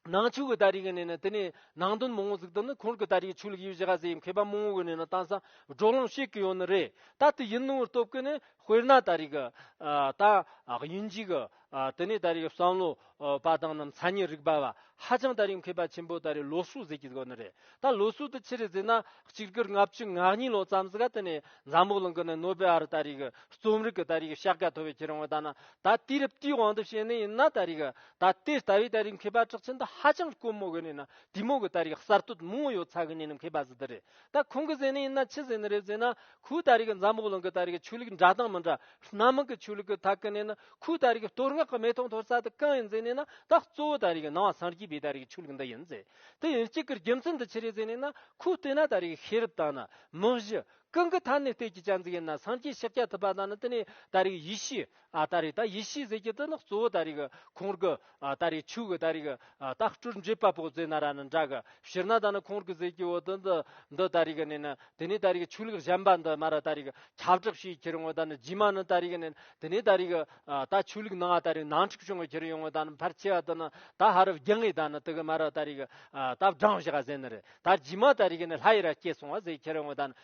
ནང་ཆོས་ཀྱི་ད་རིག་གི་ནི་ནི་དེ་ནི་ནང་དོན་མང་བོ་གཟིགས་དང་ནི་ཁོང་གི་ད་རིག་ཆོས་ལུགས་ཡུལ་གཞི་ཁ་ཟས་ཡི་མཁས་པ་མང་བོ་གི་ནི་ནི་དང་སང་སྒྲོག་ལམ་བཤད་ཀྱི་ཡོད་ནི་རེད་ད་དེ་ཡིན་ནོར་སྟོབས་ཀྱི་ནི་དཔེར་ན་ད་རིག་གི་ད་དབྱིན་ཇིའི་གི་དེ་ནས་ད་རེས་ཀྱི་བསམ་བློ་པ་དང་ནམ་མཚར་ཉིན་རིག་པ་བ་ཧ་ཅང་ད་རེས་མཁས་པ་ཆེན་པོ་ད་རེས་ལོ་སུ་ཟིག་གི་དགོས་ནི་རེད་ད་ལོ་སུ་དུ་ཆི་རེ་ཟིག་ན་གཅིག་དགུར་ལྔ་བཅུ་ང་གཉིས་ལོ་ཙམ་ཟིག་ག་དེ་ནས་འཛམ་བུ་གླིང་གི་ནི་ནོ་བེ་ཨར་ད་རེས་ཀྱི་རྩོམ་རིག་གི་ད་རེས་ཀྱི་ཤག་ག་ཐོ་བའི་ཁྱེད་རང་བ་ད་ན་ད་དུས་རབས་དུས་དབང་དུ་བྱེད་ནི་ཡིན་ན་ད་རེས་ཀྱི་ད་དེ་ལྟ་བུའི་ད་རེས་མཁས་པ་གྲགས་ཆེན་དུ་ཧ་ཅང་དཀོན་མོ་གི་ནི་ན་དུས་མོ་གི་ད་རེས་གསར་གཏོད་མང་བོ་ཡོད་ཚ་གི་ནི་ནི་མཁས་པ་ཟིག་ད་རེད་ད་ཁོང་གི་ཟེར་ནི་ཡིན་ན་ཆི་ཟེར་ནི་རེད་ཟེར་ན་ཁོའི་ལྟ་རིགས་འཛམ་བུ་གླིང་གི་ལྟ་རིགས་ཆོས་ལུགས་འདྲ་དང་མི་འདྲ་སྣ་མང་གི་ཆོས་ལུགས་ཀྱི་ཐད་ཀ་ནས་ནི་ཁོའི་ལྟ་རིགས་གཏོར་བསྔགས་ཀྱི་མེ་ཏོག་འཐོར་ས་དེ་གང་ཡིན་ཟེར་ནས་ན་ད་གཙོ་བོ་ལྟ་རིགས་སྣང་བ་སངས་རྒྱས་པའི་ལྟ་རིགས་ཆོས་ལུགས་འདི་ཡིན་ཟེར་དེ་ཡིན་གཅིག་གི་རྒྱུ་མཚན་འདི་ཅི་རེད་ཟེར་ནས་ན་ཁོའི་ལྟས་ན་ལྟ་རིགས་ཤེས་རབ་དང་ནི་མི་གཞི་ཀུན་གྱི་མཐའ་ནས་ལྟས་ཀྱི་སྤྱན་གཟིགས་ཡིན་ན་སངས་རྒྱས་ཕྱག་རྒྱ་ཐུབ་པ་དང་ནི་དེ་ནས་ལྟ་རིགས་ཡེ་ཤེས། ཨ་ད་རིག་ད་ཡིད་ཤེས་ཟེར་གྱི་འདི་ནི་གཙོ་བོ་ད་རིག་ཁོང་རྒུ་ཨ་ད་རིག་ཆུ་གི་ད་རིག་ད་སྤྲུལ་མཇེ་དཔའ་བོ་ཛེ་ན་ར་ནི་འདྲ་གི་ཕྱིར་ན་ད་ནི་ཁོང་རྒུ་ཟེར་གྱི་འོ་དི་འདི་འདི་ད་རིག་ནི་ནི་དེ་ནས་ད་རིག་ཆུ་ལུག་གཞན་པ་འདི་མ་ར་ད་རིག་ཁྱབ་བསྒྲགས་བྱེད་ཁྱེར་ཡོང་ད་ནི་རྗེས་མ་ནི་ད་རིག་ནི་དེ་ནས་ད་རིག་ད་ཆུ་ལུག་ནང་ད་རིག་ནང་འཁྲུག་བྱུང་ཁྱེར་ཡོང་ད་ནི་ཕར་ཆེ་བ་འདི་ནི་ད་ཧ་རུ་བརྒྱུད་ངེས་ད་ནི་དི་གི་མ་ར་ད་རིག་ད་བགྲང་བྱ་ཟེ་ནི་རེད་ད་རྗེས་མ་ད་རིག་ནི་ལྷ་ཡི་ར་སྐྱེས་སོང་བ་ཟེར་ཁྱེར་ཡོང་ད་ནི་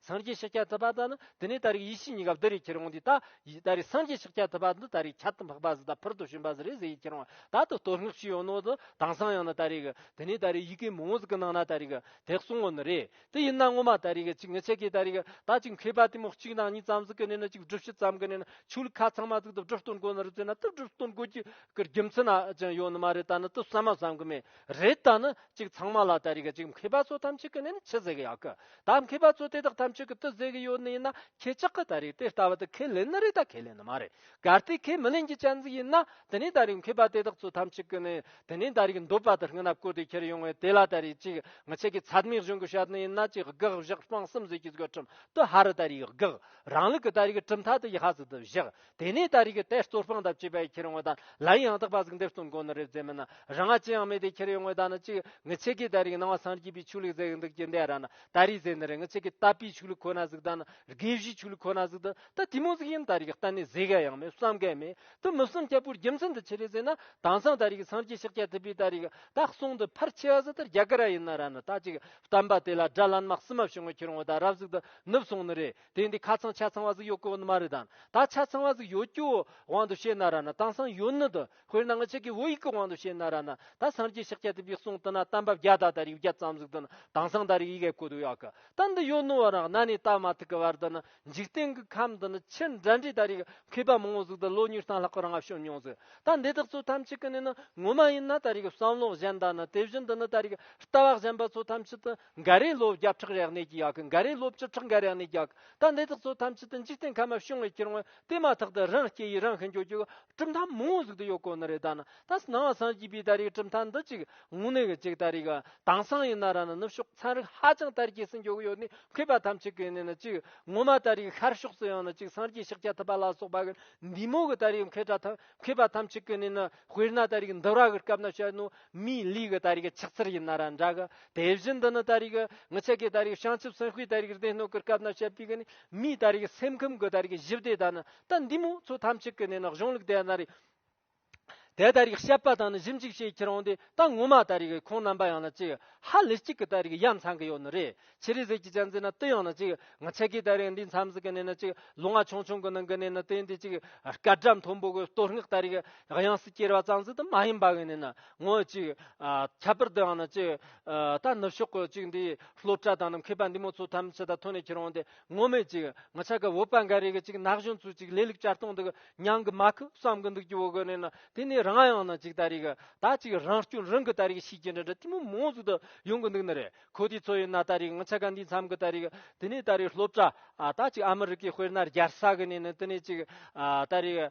སངས་རྒྱས་ཤཱཀྱ་ཐུབ་པ་དང་དེ་ནས་ད་རེས་ཡེ་ཤེས་གཉིས་ཀ་འདི་རེས་ཁྱེར་འོང་དུས་ད་ད་རེས་སངས་རྒྱས་ཤཱཀྱ་ཐུབ་པ་འདི་ད་རེས་ཁྱད་དུ་འཕགས་པ་ཟི་དང་ཕུར་དུ་བྱོན་པ་ཟི་རེས་ཟི་ཡིས་ཁྱེར་འོང་ད་དུ་བསྟོད་བསྔགས་ཞུས་ཡོང་ནོ་ད་དྭངས་སང་ཡང་ན་ད་རེས་དེ་ནས་ད་རེས་ཡི་གེ་མང་བོ་ཟི་གི་ནང་ན་ད་རེས་དེ་གསུང་ངོ་ནི་རེད་དེ་ཡིན་ན་ངོ་མ་ད་རེས་གཅིག་ངེད་ཆེ་གེ་ད་རེས་ད་གཅིག་མཁས་པ་དེ་མོ་གཅིག་དང་གཉིས་ཙམ་ཟི་གི་ནས་ན་གཅིག་སྒྲུབ་བྱེད་ཙམ་གི་ནས་ན་ཆོས་ལུགས་ཁ་ཚང་མ་ཟིག་དུ་སྒྲུབ་བསྟོད་འགོ་ནི་རུ་ཚོད་ན་དུ་སྒྲུབ་བསྟོད་འགོ་གི་རྒྱུ་མཚན་ན་ཅང་ཡོད་ནི་མ་རེད་ད་ནི་དུ་བསམ་མ་བསམ་གི་མེད་རེད་ད་ནི་གཅིག་ཚང་མ་ལ་དེ་རིགས་གཅིག་མཁས་པ་ཚོ་ཐམས་ཅད་ཀྱི་ནས་ནི་ཆི་ཟེར་གི་ཡག་གི་ད་མཁས་པ་ཚོ་དེ་དག་ཐམས་ཅད་ཀྱི་དུ་ཟེར་གི་ཡོད་ནི་ཡིན་ན་ཁྱེད་ཅག་གི་དེ་རིགས་དེ་ལྟ་བ་དེ་ཁས་ལེན་ནི་རེད་ད་ཁས་ལེན་ནི་མ་རེད་གལ་ཏེ་ཁས་མི་ལེན་གྱི་སྐྱ་འཛིན་ཡིན་ན་དེ་ནས་དེ་རིགས་མཁས་པ་དེ་དག་ཚོ་ཐམས་ཅད་ཀྱི་ནས་དེ་ནས་དེ་རིགས་འདོད་པ་དེ་རྔ་ན་བསྐོར་དེ་ཁྱེར་ཡོང་བས་དེ་ལ་དེ་རིགས་གཅིག་མི་ཆད་ཀྱི་ཚད་མའི་གཞུང་གི་བཤད་ནི་ཡིན་ན་གཅིག་དགག་བཞག་སྤང་གསུམ་ཟེར་གྱི་གཟུགས་ཁྲིམས་དུ་ཧ་རུ་དེ་རིགས་དགག་རང་ལུགས་ཀྱི་དེ་རིགས་གྲུབ་མཐའ་དེ་ཡི་ཧ་ཟེར་དུ་བཞག་དེ་ནས་ད་རེས་ཀྱི་དེ་གཙོར་དཔང་ལྟར་བྱས་པའི་ཁྱེར་ཡོང་བ་དང་ལའི་ཡང་དག་པ་གཟུགས་འདེབས་གསུམ་གོ་ནི་རེ་བཙལ་མིན་ན་རང་ང་ཅི་ཡང་མེད་དེ་ཁྱེར་ཡོང་བའི་ད་ནི་གཅིག་ངི་ཚེ་གིས་ད་རེས་ཀྱི་སྣང་བ་སངས་རྒྱས་པའི་ཆོས་ལུགས་ཟེར་གྱི་འདུག་ཅི་འདའི་ར་ན་ད་རེས་ཟེར་ནི་རེ་ངི་ཚེ་གིས་བཏབ་པའི་ཆོས་ལུགས་ཁོ་ན་གཟུགས་ད་ནི་དགེ་བཤེས་ཆོས་ལུགས་ཁོ་ན་གཟུགས་ད་ད་དེ་མོ་གཟུགས་ཡིན་ད་རེས་ཀྱི་གཏན་ནས་བཟོས་གལ་ཡང་མེད་བསམ་གལ་མེད་དུ་མི་བསམ་ཁྱད་པོར་རྒྱུ་མཚན་འདི་ཆི་རེ་ཟེར་ན་དྭངས་སངས་ད་རེས་ཀྱི་སངས་རྒྱས་ཕྱག་རྒྱ་ཐུབ་པའི་ད་རེས་ཀྱི་ད་གསུང་འདི་ཕར་ཆེ་བ་ཟི་ལྟར་རྒྱ་གར་ར་ཡིན་ན་ར་ནི་ད་གཅིག་བསྟན་པ་དེ་ལ་དགྲ་ལྷ་ནག་སྲི་མ་བྱུང་བ་ཁྱེར་ཡོང་བ་ད་རབ་གཟུགས་ད་ནུབ་སོང་ནི་རེད། དེ་འདི་ཁ་ཚང་ཆ་ཚང་བ་ཟིག་ཡོད་གོ་ནི་མ་རེད་དམ་ད་ཆ་ཚང་བ་ཟིག་ཡོད་ཀྱི་དབང་དུ་བྱས་ན་ར་ན་དང་སང་ཡོད་ནི་དུ་དཔེར་ན་ང་ཅི་གི་བོད་ཡིག་གི་དབང་དུ་བྱས་ན་ར་ན་ད་སངས་རྒྱས་ཕྱག་རྒྱ་དེ་པའི་གསུང་དུ་ན་གཏམ་བབ་བརྒྱ་དག་དར་ཡུག་བརྒྱ་ཙམ་ཟིག་དུ་ན་དང་སང་དར་ཡིག་ཡས་གོ་དུ་ཡག་གི་ད་འདི་ཡོད་ནི་བ་རང་གནའ་ནས་ད་མ་ཐུག་གི་བར་དུ་ན་འཇིག་རྟེན་གི་ཁམས་དུ་ན་ཕྱིར་འགྲན་འདྲེ་དར་ཡིག་མཁས་པ་མང་བོ་ཟིག་དུ་ལོ་ཉུལ་སྟངས་ལྷག་གི་རང་བྱུང་མྱོང་ཟིག་ད་འདི་དག་ཚོ་ཐམས་ཅད་ཀི་ནི་ནི་ངོ་མ་ཡིན་ན་དར་ཡིག་བསམ་བློ་གཞན་དང་ན་དེ་བཞིན་དུ་ན་དར་ཡིག་ལྟ་བ་གཞན་པ་ཚོ་ཐམས་ཅད་དུ་འགའ་རེས་ལོ་བརྒྱ་ཕྲག་རེག་ནས་རྒྱག་གི་འགའ་རེས་ལོ་བཅུ་ཕྲག་འགའ་རེག་ནས་རྒྱག་གི་ད་འདི་དག་ཚོ་ཐམས་ཅད་དུ་འཇིག་རྟེན་ཁམས་མ་བྱུང་བའི་ཕྱིར་ངོ་དེ་མ་ཐག་ཏུ་རང་སྐྱེ་ཡིས་རང་ཤི་འགྱོད་རྒྱུ་གྲུབ་མཐའ་མང་བོ་ཟིག་ཏུ་ཡོད་དགོས་ནི་རེད་ད་ནི་ད་སྣང་བ་སངས་རྒྱས་པའི་ད་རེའི་གྲུབ་མཐའ་འདི་གཅིག་ངུ་ནས་གི་ཅིག་ད་རེ་གི་དྭངས་སང་ཡིན་ན་ར་ནི་ནུབ་ཕྱོགས་ཚན་རིག་ཧ་ཅང་དར་རྒྱས་སུ་འགྱོ་གི་ཡོད་ནི་མཁས་པ་ཐམས་ཅད་གི་ནི་ནི་ཅིག་ངོ་མ་ད་རེ་གི་ཤར་ཕྱོགས་སུ་ཡང་ནི་ཅིག་སངས་རྒྱས་ཤཱཀྱ་ཐུབ་པ་ལ་སོགས་པ་གི་འདི་མོ་གི་ད་རེའི་མཁས་གྲ་ཐམས་མཁས་པ་ཐམས་ཅད་ཀྱི་ནི་ནི་དཔེར་ན་ད་རེས་འདི་ར་གི་སྐབས་ན་བཤད་ནོ་མིའི་ལུས་ཀྱི་ད་རེས་ཆགས་ཚུལ་ཡིན་ན་ར་འདྲ་གི་དེ་བཞིན་དུ་ནི་ད་རེས་ངི་ཆད་ཀྱི་ད་རེས་བྱང་ཆུབ་སེམས་དཔའི་ད་རེས་སྡེ་སྣོད་ཀྱི་སྐབས་ན་བཤད་པའི་ནི་མིའི་ད་རེས་སེམས་ཁམས་ཀྱི་ད་རེས་གཞི་བདེ་ད་ནི་ད་འདི་མོ་ཚོ་ཐམས་ཅད་ཀྱི་ནི་ནི་གཞུང་ལུགས་དེ་ན་རེ་དེ་ད་རེས་བཤད་པ་དང་ནི་ཞིབ་འཇུག་བྱེད་ཁྱེད་རང་དེ་ད་ངོ་མ་ད་རེས་ཁོང་རྣམ་པ་ཡང་ན་ཅི་ཧ་ལི་ཅིག་གི་ད་རེས་ཡ་མཚང་གི་ཡོད་ནི་རེད་ཕྱི་རི་གཟིགས་ཀྱི་སྤྱན་གཟིགས་ན་ཏི་ཡང་ན་ཅིག་ང་ཆད་ཀི་ད་རེག་འདིའི་མཚམས་སུ་གི་ནས་ན་ཅིག་ལུ་ང་ཆུང་ཆུང་གི་ནང་གི་ནས་ན་ཏི་འདི་ཅིག་སྐལ་བཀྲ་མཐོན་པོ་གི་གཏོར་སྔགས་ད་རེག་དབྱངས་སུ་གྱེར་བ་གཙང་སྲིད་དུ་མ་ཡིན་པ་གི་ནས་ན་ངོ་ཅིག། ཁྱད་པར་དུ་ཡང་ན་ཅིག་ད་ནུབ་ཕྱོགས་གི་ཅིག་འདིའི་ལྷོ་བཀྲ་དང་ནམ་མཁའི་པ་འདི་མོ་ཚོ་ཐམས་ཅད་ད་ཐོན་ནས་ཁྱེར་འོང་སྟེ་ངོ་མེད་ཅིག་ང་ཆ་གི་འོད་པ་འགའ་རེ་གི་ཅིག་ནགས་གཞོན་ཚོས་ཅིག་ལས་ལུག་ཅར་སྟོང་འདུག་ཉང་གི་མ་ཁུ་བསམ་གི་འདུག་ཅིག་འོ་གི་ནས་ན་དེ་ནས་རང་ཡང་ན་ཅིག་ད་རེག་ད་ཅིག་རང་སྐྱོན་རང་གི་ད་རེག་ཤིས་ཀྱི་འདྲ་འདྲ་ཏི་མོ་མོ་ཟིག་ཏུ་ཡོང་གི་འདུག་ན་རེ་ཁོ་དེའི་ཚོ་ཡོད་ན་ད་རེས་ང་ཆ་ག་འདིའི་མཚམས་ཀྱི་ད་རེས་དེ་ནས་ད་རེས་སློབ་གྲྭ་ད་ཅིག་ཨ་མི་རི་ཀའི་དཔེར་ན་རྒྱལ་ས་གི་ནས་ནི་དེ་ནས་ཅིག་ད་རེས་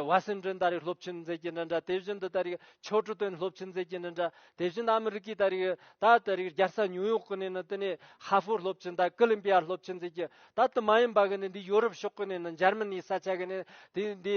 ཝ་སིན་ཏྲན་ད་རེས་སློབ་ཆེན་མཛད་ཀྱི་འདྲ་འདྲ་དེ་བཞིན་དུ་ད་རེས་ཕྱོགས་ཀྲི་ཏོན་སློབ་ཆེན་མཛད་ཀྱི་འདྲ་འདྲ་དེ་བཞིན་དུ་ཨ་མི་རི་ཀའི་ད་རེས་ད་ད་རེས་རྒྱལ་ས་ཉུའུ་ཡོག་གི་ནས་ནི་དེ་ནས་ཧྭ་ཧྥོར་སློབ་ཆེན་ད་ཀི་ལིམ་པི་ཡར་སློབ་ཆེན་མཛད་ཀྱི་ད་དེ་མ་ཡིན་པ་གི་ནི་འདི་ཡོ་རུབ་ཕྱོགས་གི་ནས་ནི་འཇར་མི་ནིའི་ས་ཆ་གི་ནས་དེ་འདི་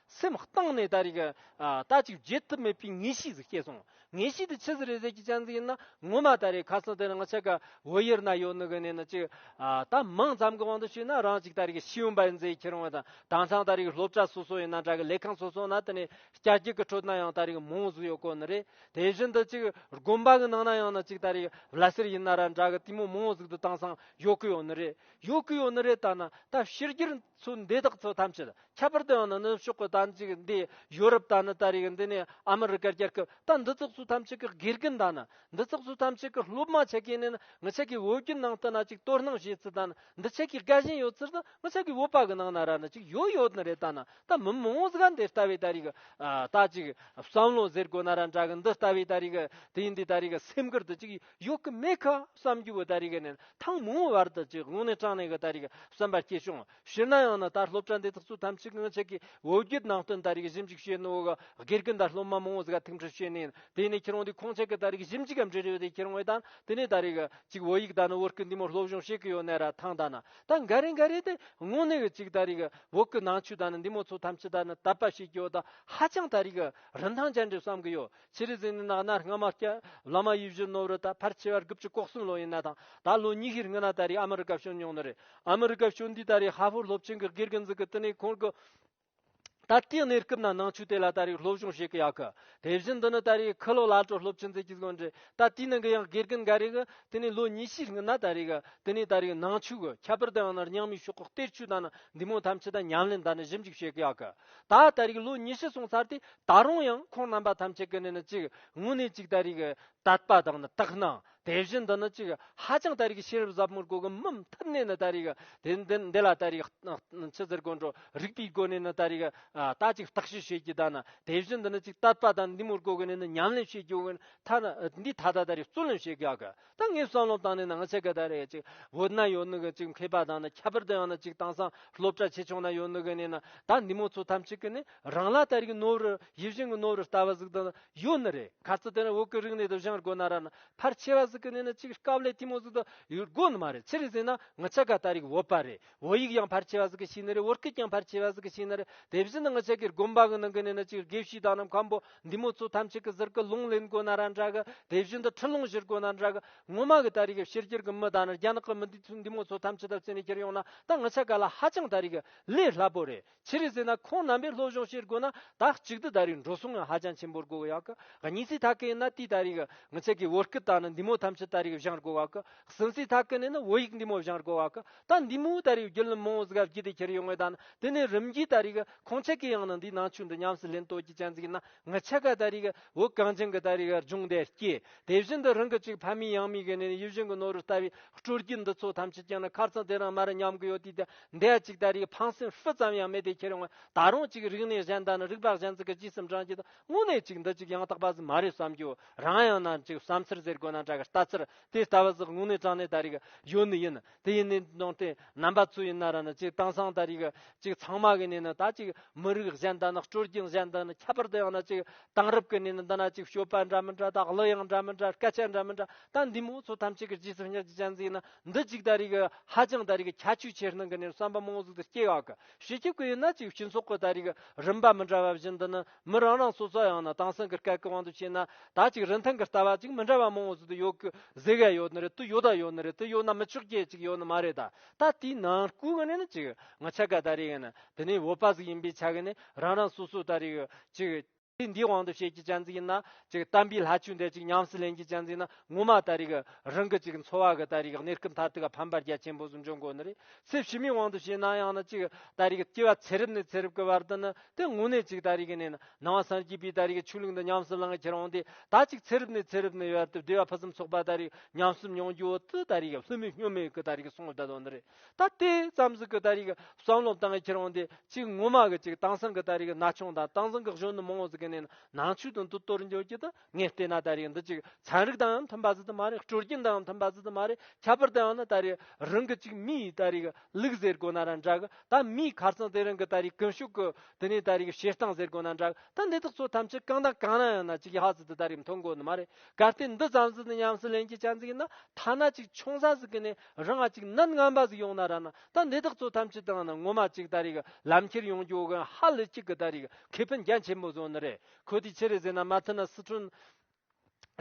སེམས་གཏིང་ནས་ད་རེས་ཀྱི་ལྟ་ཅི་བརྗེད་ཐུབ་མེད་པའི་ངེས་ཤེས་ཟིག་སྐྱེས་སོང། ངེས་ཤེས་དེ་ཆི་ཟེར་རེ་ཟེར་གྱི་ཆ་ཟིག་ཡིན་ན་ངོ་མ་ད་རེས་ཁ་སང་དེ་རང་ཆགས་ཀ་བོད་ཡུལ་ན་ཡོད་ནི་གི་ནས་ནི་ཅི། ད་མང་ཙམ་གྱི་དབང་དུ་བྱས་ན་རང་ཅིག་ད་རེས་ཀྱི་ཤེས་ཡོན་པ་ཡིན་ཟེར་ཁྱེར་འོང་བ་དང་དྭངས་གཙང་ད་རེས་ཀྱི་སློབ་གྲྭ་སོ་སོ་ཡིན་ན་འདྲ་གི་ལས་ཁང་སོ་སོ་ན་དེ་ནས་སྐྱ་རྒྱུག་གི་ཁྲོད་ན་ཡང་ད་རེས་ཀྱི་མང་བོ་ཟིག་ཡོད་དགོས་ནི་རེད། དེ་བཞིན་དུ་ཅིག་དགོན་པ་གྱི་ནང་ན་ཡང་ན་ཅིག་ད་རེས་ཀྱི་བླ་སེར་ཡིན་ན་ར་འདྲ་གི་ལྟད་མོ་མང་བོ་ཟིག་དུ་དྭངས་གཙང་ཡོད་གི་ཡོད་ནི་རེད་ཡོད་གི་ཡོད་ནི་རེད་ད་ན་ད་ཕྱི་རྒྱུར་ཚོ་འདི་དག་ཚོ་ཐམས་ཅད། ཁྱད་པར་དུ་ཡང་ནི་ནུབ་ཕྱོགས་ཀྱི་དམ་ཚིག་འདི་ཡོ་རུབ་དང་ནི་ད་རེས་ཀྱི་འདི་ནི་ཨ་མི་རི་ཀར་རྒྱལ་ཁབ་དང་འདི་ཙག་ཙུག་ཐམས་ཅད་ཀྱི་དགེ་རྒན་དང་ནི་འདི་ཙག་ཙུག་ཐམས་ཅད་ཀྱི་སློབ་མ་ཆེ་གེ་ནི་ནི་ངི་ཆད་ཀྱི་འོས་བསྡུའི་ནང་དུ་ན་ཅིག་དོ་སྣང་བྱེད་ཚུལ་དང་ནི་འདི་ཆད་ཀྱི་དགའ་ཞེན་ཡོད་ཚུལ་དང་ངི་ཆད་ཀྱི་འོས་པ་གི་ནང་ན་ར་ནི་ཅིག་ཡོད་ཡོད་ནི་རེད་ད་ནི་ད་མི་མང་བོ་ཟག་འདི་ལྟ་བུའི་ད་རེས་ཀྱི་ད་ཅིག་བསམ་བློ་ཟེར་དགོས་ན་ར་འདྲ་གི་འདི་ལྟ་བུའི་ད་རེས་ཀྱི་དེ་འདི་ད་རེས་ཀྱི་སེམས་ཁུར་དུ་ཅིག་ཡོད་ཀྱི་མེད་ཁ་བསམ་རྒྱུ་བོ་ད་རེས་ཀྱི་ནི་ཐང་མང་བོ་བར་དུ་ཅིག་ངོ་ནས་དྲང་ནས་ཀྱི་ད་རེས་ཀྱི་བསམ་པ་སྐྱེ་བྱུང་ཤི་ན་ཡང་ན་ད་སློབ་གྲྭ་འདི་དག་ཚོ་ཐམས་ཅད་གང་ཞིག་གིས་བོད་བརྒྱུད་ནང་བསྟན་ད་རེས་ཀྱི་ཞིབ་འཇུག་བྱེད་ནོ་གི་སྒེར་གྱི་འདར་སློབ་མ་མང་བོ་ཟིག་ག་ཐུགས་འཕྲོད་བྱེད་ནི་ཡིན་དེ་ནས་ཁྱེད་རང་འདི་ཁོང་ཅག་གི་ད་རེས་ཀྱི་ཞིབ་འཇུག་གམ་འབྲི་རེ་བ་དེ་ཁྱེར་འོང་བའི་དང་དེ་ནས་ད་རེས་ཀྱི་ཅིག་བོད་ཡིག་ད་ནི་བོད་སྐད་འདི་མོ་སློབ་སྦྱོང་བྱེད་ཀྱི་ཡོད་ནའི་ར་ཐང་ད་ན་ད་འགའ་རེ་འགའ་རེ་དེ་དངོས་གནས་ཀྱི་ཅིག་ད་རེས་ཀྱི་བོད་སྐད་ནང་ཆོས་ད་ནི་འདི་མོ་ཚོ་ཐམས་ཅད་ད་ནི་དད་པ་བྱེད་ཀྱི་ཡོད་ད་ཧ་ཅང་ད་རེས་ཀྱི་རིན་ཐང་ཅན་འགྲེལ་བསམ་གྱི་ཡོད་ཕྱི་རུ་གཟིགས་ནས་ནགས་ན་རྔ་མ་སྐྱ། བླ་མ་ཡིད་བཞིན་ནོར་བུ་དང་ཕར་ཆེ་བར་དགུ་བཅུ་ལྐོག་གསུམ་ལོ་ཡིན་ན་དང་ད་ལོ་ཉི་ཤུར་ལྔ་ན་ད་རེས་ཨ་མི་རི་ཀ་བྱོན་མྱོང་ནི་རེད། ཨ་མི་རི་ཀ་བྱོན་དུས་ད་རེས་ཧྭ་ཧྥོར་སློབ་ཆེན་གྱི་སྒེར་གྱི་འཛིན་གི་དི་ནས་ཁོང་གི། ད་ལྟའི་གནས་སྐབས་ན་ནང་ཆོས་དེ་ལ་ད་རེས་སློབ་སྦྱོང་བྱེད་གི་ཡག་གི། དེ་བཞིན་འདི་ནི་ད་རེས་ཁི་ལོ་ལ་ཀྲོ་སློབ་ཆེན་ཚེ་གཅིག་བཟོ་འདྲི་ད་དེའི་ནང་གི་ཡང་སྒེར་གྱི་འགའ་རེ་གི་དི་ནས་ལོ་ཉི་ཤུར་ལྔ་ན་ད་རེས་གི་དི་ནས་ད་རེས་ནང་ཆོས་གི་ཁྱད་པར་དུ་ཡང་ནར་ཉང་མིའི་ཤོག་ཁག་གཏེར་ཆོས་དང་ནི་འདི་མོ་ཐམས་ཅད་དང་ཉམས་ལེན་དང་ནི་ཞིབ་འཇུག་བྱེད་གི་ཡག་གི། ད་ལྟ་རིགས་ལོ་ཉི་ཤུ་སོང་ཚར་ཏེ་ད་རུང་ཡང་ཁོང་རྣམ་པ་ཐམས་ཅད་ཀྱི་ནི་ནི་ཅིག་དངོས་གནས་ཅིག་ད་རིགས་དད་པ་དང་ནི་དག་སྣང་དེ་བཞིན་དུ་ནི་ཅིག་ཧ་ཅང་ད་རིགས་ཤེས་རབ་ཟབ་མོར་གོ་གི་མི་ཐུབ་ནས་ནི་ད་རིགས་དེ་འདི་ལ་ད་རིགས་ཕྱི་ཟེར་གོ་འགྲོ་རིགས་པའི་སྒོ་ནས་ནི་ད་རིགས་ད་ཅིག་བརྟག་དཔྱད་བྱེད་རྒྱུ་ད་ནི་དེ་བཞིན་དུ་ནི་ཅིག་དད་པ་དང་འདི་མུར་གོ་གི་ནི་ནི་ཉམས་ལེན་བྱེད་རྒྱུ་འི་ཐ་ན་འདི་ད་ད་ད་རིགས་རྩོད་ལེན་བྱེད་དགའ་གི་ད་ངས་བསམ་བློ་བཏང་ནས་ནང་ཆེ་གེ་ད་རེད་ཅིག་བོད་ན་ཡོད་ནི་གི་ཅིག་མཁས་པ་དང་ནི་ཁྱད་པར་དུ་ཡང་ན་ཅིག་དང་སང་སློབ་གྲྭ་ཆེ་ཆུང་ན་ཡོད་ནི་གི་ནས་ན་ད་འདི་མོ་ཚོ་ཐམས་ཅད་གི་ནི་རང་ལ་དར་གི་ནོར་བུ་ཡིད་བཞིན་གི་ནོར་བུ་ལྟ་བ་ཟིག་དང་ཡོད་ནི་རེད་ག་ཚོད་དེ་ན་འོག་གི་རིག་གནས་དུ་བཞེངས་དགོས་ན་ར་ན་ཕར་ཆེ་བ་ཟིག་གི་ནས་ན་ཅིག་སྐབས་ལས་ཐིམ་མོ་ཟིག་དང་ཡོད་དགོས་ནི་མ་རེད་ཕྱིར་ཟིན་ན་ང་ཆེ་ག་ད་རིག་འོད་པ་རེད་བོད་ཡིག་ཀྱང་ཕར་ཆེ་བ་ཟིག་གི་ཤི་ནི་རེད་བོད་སྐད་ཀྱང་ཕར་ཆེ་བ་ཟིག་གི་ཤི་ནི་རེད་དེ་བཞིན་དུ་ང་ཆེ་གེར་དགོན་པ་གི་ནང་གི་ནས་ན་ཅིག་དགེ་བཤེས་དག་རྣམས་ཁམས་པོ་འདི་མོ་ཚོ་ཐམས་ཅད་ཀྱི་ཟུར་ཀི་ལུང་ལེན་དགོས་ན་ར་འདྲ་གི་དེ་བཞིན་དུ་ཁྲི་ལུང་བཞེར་དགོས་ན་འདྲ་གི་ངོ་མ་གི་ད་རེ་གི་ཕྱི་རྒྱལ་གི་མི་དག་ནི་རྒྱ་ནག་གི་མི་འདི་ཚོ་འདི་མོ་ཚོ་ཐམས་ཅད་དག་བརྩིས་ནས་ཁྱེར་ཡོང་ན་ད་ང་ཆེ་ག་ལ་ཧ་ཅང་ད་རེ་གི་ལས་སླ་པོ་རེད། ཕྱི་རིགས་ཟེར་ན་ཁོང་རྣམ་པས་ལྷོ་གཞུང་ཕྱིར་རྒོལ་ན་ད་གཅིག་སྡུད་ད་རིགས་འགྲོ་སོང་ངམ་ཧ་ཅང་ཆེན་པོར་རྒོལ་གི་ཡག་གི་གཉིས་རྩིས་ཐ་སྐད་ཡིན་ན་དུས་ད་རིགས་ངི་ཚེ་གི་བོད་སྐད་ད་ནི་འདི་མོ་ཐམས་ཅད་ད་རིགས་བཞེངས་རྒོལ་ཡག་གི་གསུམ་རྩིས་ཐ་སྐད་ནི་ནི་བོད་ཡིག་འདི་མོ་བཞེངས་རྒོལ་ཡག་གི་ད་འདི་མོའི་ད་རིགས་རྒྱུད་ལམ་མང་བོ་གཟིགས་ཡག་གི་དེ་ཁྱེར་ཡོད་ངོས་ད་ནི་དེ་ནི་རིམ་གྱིས་ད་རིགས་ཁོང་ཚད་གི་ཡང་ན་འདིའི་ནང་ཆོས་འདི་ཉམས་སུ་ལེན་ལྟོས་ཀྱི་སྤྱན་གཟིགས་ན་ངི་ཚེ་ག་ད་རིགས་བོད་གངས་ཅན་གི་ད་རིགས་རྒྱུན་ལྡན་སྐྱེས་དེ་བཞིན་དུ་རང་གི་གཅིག་ཕ་མེས་ཡང་མེས་གི་ནི་ཡིད་བཞིན་གི་ནོར་བུ་ལྟ་བུའི་སྤྲུལ་སྐུ་འདི་ཚོ་ཐམས་ཅད་ཀྱང་ནི་ཁར་ཚང་དེ་རང་མར་ཉམས་གི་ཡོད་དུས་ད་འདས་གཅིག་ད་རེས་ཕངས་སེམས་སྤུ་ཙམ་ཡང་མེད་པའི་ཁྱེད་རང་ད་རུང་གཅིག་རིག་གནས་གཞན་དག་ནི་རིགས་པ་གཞན་ཚང་གི་སྤྱི་སེམས་དྲང་བྱེད་དང་དངོས་གནས་གཅིག་འདི་གཅིག་ཡང་དག་པ་ཟིག་མ་རེད་བསམ་རྒྱུ་རང་ཡང་ནང་གཅིག་བསམ་ཚུལ་ཟེར་དགོས་ན་འདྲ་གི་ལྟ་ཚུལ་དེ་ལྟ་བུ་ཟིག་དངོས་གནས་དྲང་གནས་ད་རེས་ཡོད་ནི་ཡིན་དེ་ཡིན་ནའི་ནང་དེ་རྣམ་པ་ཚོ་ཡིན་ན་ར་ནི་གཅིག་དེང་སང་ད་རེས་གཅིག་ཚང་མ་གི་ནས་ནི་ད་གཅིག་མི་རིགས་གཞན་དག་ནི་སྤྲོ་སྐྱིད་གཞན་དག་ནི་ཁྱད་པར་དུ་ཡང་ན་གཅིག་དེང་རབས་ཀྱི་ནས་ནི་འདི་ན་གཅིག་སྤྱོད་པ་འདྲ་མི་འདྲ་དང་གླུ་དབྱངས་འདྲ་མི་འདྲ་སྐད་ཆ་འདྲ་མི་འདྲ་ད་འདི་མོ་ཚོ་ཐམས་ཅད་ཀྱི་སྤྱི་སེམས་ཉག་གཅིག་ཅན་ཟིག་ཡིན་ན་འདི་གཅིག་ད་རེས་ཀྱི་ཧ་ཅང་ད་རེས་ཀྱི་ཁྱད་ཆོས་ཆེར་སྣང་གི་ནས་བསམ་པ་མང་ཟུག་ཏུ་སྐྱེ་ཡག་གི་ཞེ་ཁྱེད་ཀྱི་ཡིན་ན་ཅིག་སྤྱི་ཚོགས་ཀྱི་ད་རེས་ཀྱི་རིམ་པ་མི་འདྲ་བ་བཞིན་འདི་ནི་མི་རང་རང་སོ་སོ་ཡང་ན་དྭངས་སང་གི་སྐད་ཀྱི་དབང་དུ་བྱས་ན་ད་ཅིག་རིན་ཐང་གི་ལྟ་བ་ཅིག་མི་འདྲ་བ་མང་ཟུག་ཏུ་ཡོད་ཀྱི་ཟེ་ག་ཡོད་ནི་རེད་དུ་ཡོད་ད་ཡོད་ནི་རེད་དུ་ཡོད་ན་མི་ཆོག་གྱི་ཅིག་ཡོད་ནི་མ་རེད་ད་ད་དེའི་ནང་སྐུལ་གི་ནས་ནི་ཅིག་ང་ཆ་ག་ད་རེས་ཀྱི་ནི་དེ་ནས་བོད་པ་ཟིག་ཡིན་པའི་ཆ་གི་ནས་རང་རང་སོ་སོ་ད་རེས་ཀྱི་ཅིག། དེ་འདིའི་དབང་དུ་བྱེད་ཀྱི་སྤྱན་གཟིགས་ཡིན་ན་ཅིག་གཏམ་དཔེའི་ལྷ་ཆོས་འདས་ཅིག་ཉམས་སུ་ལེན་གྱི་སྤྱན་གཟིགས་ན་ངོ་མ་ལྟ་རིག་རང་གི་ཅིག་འཚོ་བ་གི་ལྟ་རིག་གནས་སྐབས་མཐར་ཐུག་ཕམ་པར་རྒྱ་ཆེན་པོ་གསུམ་བྱུང་དགོས་ནི་རེད་ཚེ་ཕྱི་མའི་དབང་དུ་བྱས་ན་ཡང་ན་ཅིག་ལྟ་རིག་སྐྱེ་བ་ཚེ་རབས་ནས་ཚེ་རབས་ཀྱི་བར་དུ་ནི་དེ་དངོས་གནས་ཅིག་ལྟ་རིག་གནས་ན་ནང་བ་སངས་རྒྱས་པའི་ལྟ་རིག་ཆོས་ལུགས་འདི་ཉམས་སུ་བླངས་ཁྱེར་འོང་དེ་ད་ཅིག་ཚེ་རབས་ནས་ཚེ་རབས་ནི་ཡར་དུ་བདེ་བ་ཕུན་སུམ་ཚོགས་པ་ལྟ་རིག་ཉམས་སུ་མྱོང་རྒྱུ་འོ་དུ་ལྟ་རིག་ལྷོད་མེད་སྙོམས་མེད་ཀྱི་ལྟ་རིག་གསུངས་བསྡད་དོ་ནི་རེད། ད་ལྟའི་བརྩམས་སྲོལ་གྱི་ལྟ་རིགས་བསམ་བློ་བཏང་ཡས་ཁྱེར་འོང་དེ་གཅིག་ངོ་མ་གི་གཅིག་དེང་སང་གི་ལྟ་རིགས་ན་ཆུང་དང་དེང་སང་གི་གཞོན་ནུ་མང་བོ་ཟིག་གི་ནས་ནང་ཆོས་དང་དུ་གཏོར་འགྱོད་ཀྱི་དུ་ངས་ལྟས་ན་ལྟ་རིགས་འདི་གཅིག་ཚན་རིག་དང་ཡང་མཐུན་པ་ཟིག་ཏུ་མ་རེད་སྤྲོ་སྐྱིད་དང་ཡང་མཐུན་པ་ཟིག་ཏུ་མ་རེད་ཁྱད་པར་དུ་ཡང་ན་ལྟ་རིགས་རང་གི་གཅིག་མིའི་ལྟ་རིགས་ལུགས་ཟེར་དགོས་ན་རང་འདྲ་གི་ད་མིའི་ཁར་སང་དེ་རང་གི་ལྟ་རིགས་ཀུན་ཤུགས་ཀྱི་དེ་ནས་ལྟ་རིགས་བྱེད་སྟངས་ཟེར་དགོས་ན་འདྲ་གི་ད་འདི་དག་ཚོ་ཐམས་ཅད་གང་དང་གང་ན་ཡང་ན་གཅིག་ཡག་ཟིག་ཏུ་ལྟ་རིགས་མཐོང་དགོས་ནི་མ་རེད་གལ་ཏེ་འདི་བརྩམས་སྲོལ་འདི་ཉམས་སུ་ལེན་གྱི་བྱ་འཛིན་ཡིན་ན་ཐ་ན་གཅིག་ཆུང་ས་ཟིག་གི་ནས་རང་གཅིག་གནད་ངན་པ་ཟིག་ཡོང་ན་ར་ན་ད་འདི་དག་ཚོ་ཐམས་ཅད་དང་ན་ངོ་མ་གཅིག་ད་རེག་ལམ་ཁྱེར་ཡོང་རྒྱུ་གན་ཧ་ལི་གཅིག་གི་ད་རེག་ཁེ་ཕན་རྒྱ་ཆེན་པོ་བཟོ་ནི་རེད་ཁོ་དེ་ཕྱི་རེ་ཟེར་ན་མ་མཐུན་ན་སི་ཁྲོན་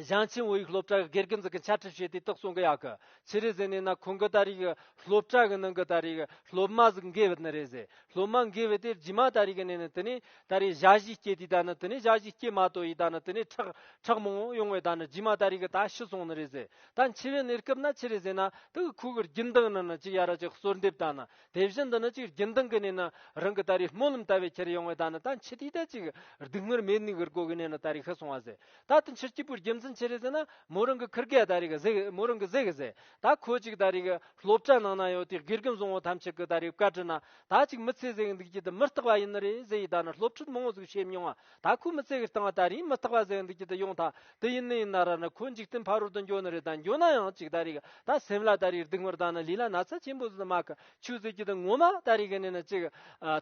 ཞང་ཆེན་བོད་ཡིག་སློབ་གྲྭ་གི་དགེ་རྒན་ཟིག་གི་འཆལ་ཁྲིད་བྱེད་དེ་དག་སོང་གི་ཡག་གི་ཕྱི་རེ་ཟེར་ནས་ན་ཁོང་གི་ད་རེག་སློབ་གྲྭ་གི་ནང་གི་ད་རེག་སློབ་མ་ཟིག་འགས་བུད་ནི་རེད་ཟེར་སློབ་མ་འགས་བུད་དེ་རྗེས་མ་ད་རེག་ནས་ནི་དེ་ནས་ད་རེག་བྱ་བྱིས་སྐྱེས་དེ་ད་ནི་དེ་ནས་བྱ་བྱིས་སྐྱེས་མ་ཏོ་ཡིས་ད་ནི་དེ་ནས་ཁྲག་ཁྲག་མང་བོ་ཡོང་བས་ད་ནི་རྗེས་མ་ད་རེག་ད་ཤི་སོང་ནི་རེད་ཟེར་ད་འཆི་བའི་གནས་སྐབས་ན་ཆི་རེ་ཟེར་ན་དུག་གི་ཁུག་གི་རྒྱུན་མདངས་ནི་ནི་ཅིག་ཡ་ར་ཅིག་གསོལ་འདེབས་དང་ནི་དེ་བཞིན་དུ་ནི་ཅིག་རྒྱུན་མདངས་གི་གནས་ནི་རང་གི་ད་རེས་སྨོན་ལམ་ལྟ་བས་ཁྱེར་ཡོང་བས་ད་ནི་ད་འཆི་དུས་ད་ཅིག་སྡུག་བསྔལ་མེད་ནུས་གིར་གོ་གི་གནས་ནི་ད་རེས་ཤི་སོང་བ་ཟེར་ད་དུ་འཆི་སྐྱིད་པོའི་རྒྱུ་མཚན་ཆི་རེ་ཟེར་ན་མོ་རང་གི་ཁིར་གས་ད་རེས་གཟིགས་མོ་རང་གི་གཟིགས་ཟེར་ད་ཁོ་ཅིག་ད་རེས་གི་སློབ་གྲྭ་ནང་ན་ཡོད་དུས་དགེ་རྒན་བཟང་བོ་ཐམས་ཅད་གི་ད་རེས་བཀའ་དྲི་ན་ད་ཅིག་མི་ཚེ་ཟེར་གི་འདུག་ཅི་དུ་མི་རྟག་པ་ཡིན་ནི་རེད་ཟེར་ཡིས་ད་ནི་སློབ་ཁྲིད་མང་བོ་ཟིག་བྱེད་མྱོང་བ་ད་ཁོས་མི་ཚེ་གི་སྟེང་ད་རིང་མི་རྟག་པ་བཟོས་འདུག་ཅི་དེ་ཡོང་ཐག་དེ་ཡིན་ནི་ཡིན་ན་ར་ནི་ཁོས་འཇིག་རྟེན་ཕ་རོལ་དུ་འགྱོ་ནི་རེད་ད་འགྱོ་ན་ཡང་གཅིག་ད་རིག་གི་ད་སེམས་ལ་ད་རིག་སྡུག་མོར་ད་ནི་ལུས་ལ་ན་ཚ་ཆེན་པོ་ཟིག་ཏུ་མ་གི་ཆུ་ཟིག་ཅི་དེ་ངོ་མ་ད་རིག་གི་ནི་ནི་ཅིག་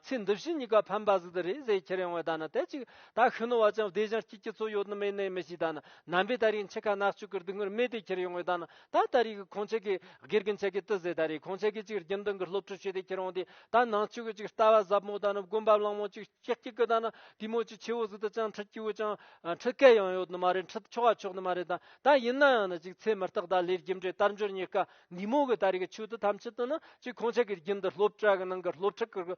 ཚེ་འདི་བཞིན་གཉིས་ཀ་ཕན་པ་ཟིག་ཏུ་རེད་ཟེར་ཁྱེར་ཡོང་བས་ད་ནི་དེ་ཅིག་ད་ཤི་ནོ་བ་ཅང་བདེ་ཞིང་སྐྱིད་ཀྱི་ཚོད་ཡོད་ནི་མེད་ནི་མི་ཤེས་ད་ནི་ནམ་པའི་ད་རིག་འཆི་ཁ་ནག་ཆུ་གི་སྡུག་མོར་མེ་དེ་ཁྱེར་ཡོང་བས་ད་ནི་ད་ད་རིག་གི་ཁོང་ཆེ་གི་སྒེར་གི་འཆི་ཁའི་ཏི་ཟེར་ད་རིག་ཁོང་ཆེ་གི་ཅིག་རྒྱུན་ལྡན་གི་སློབ་ཕྲུག་ཤོས་དེ་ཁྱེར་ཡོང་དུས་ད་ནང་ཆོས་གི་ཅིག་ལྟ་བ་ཟབ་མོ་ད་ནི་དགོན་པ་གླང་མོ་ཅིག་ཤེག་ཅིག་གི་ད་ན་དུས་མོ་ཅི་ཆེ་བོ་ཟིག་ད་ཅང་ཁྲི་སྐྱིད་བོ་ཅང་ཁྲི་སྐད་ཡང་ཡོད་ནི་མ་རེད་ཁྲི་ཆོ་ག་ཆོག་ནི་མ་རེད་ད་ད་ཡིན་ན་ཡང་ན་ཅིག་ཚེ་མི་རྟག་ད་ལས་རྒྱུ་འབྲས་དར་འབྱོར་རྙེད་དཀའ་འདི་མོ་གི་ད་རེ་གི་ཆོས་དུ་ཐམས་ཅད་དུ་ནི་ཅིག་ཁོང་ཅག་གི་རྒྱུན་དུ་སློབ་གྲྭ་གི་ནང་གི་སློབ་ཕྲུག་གི་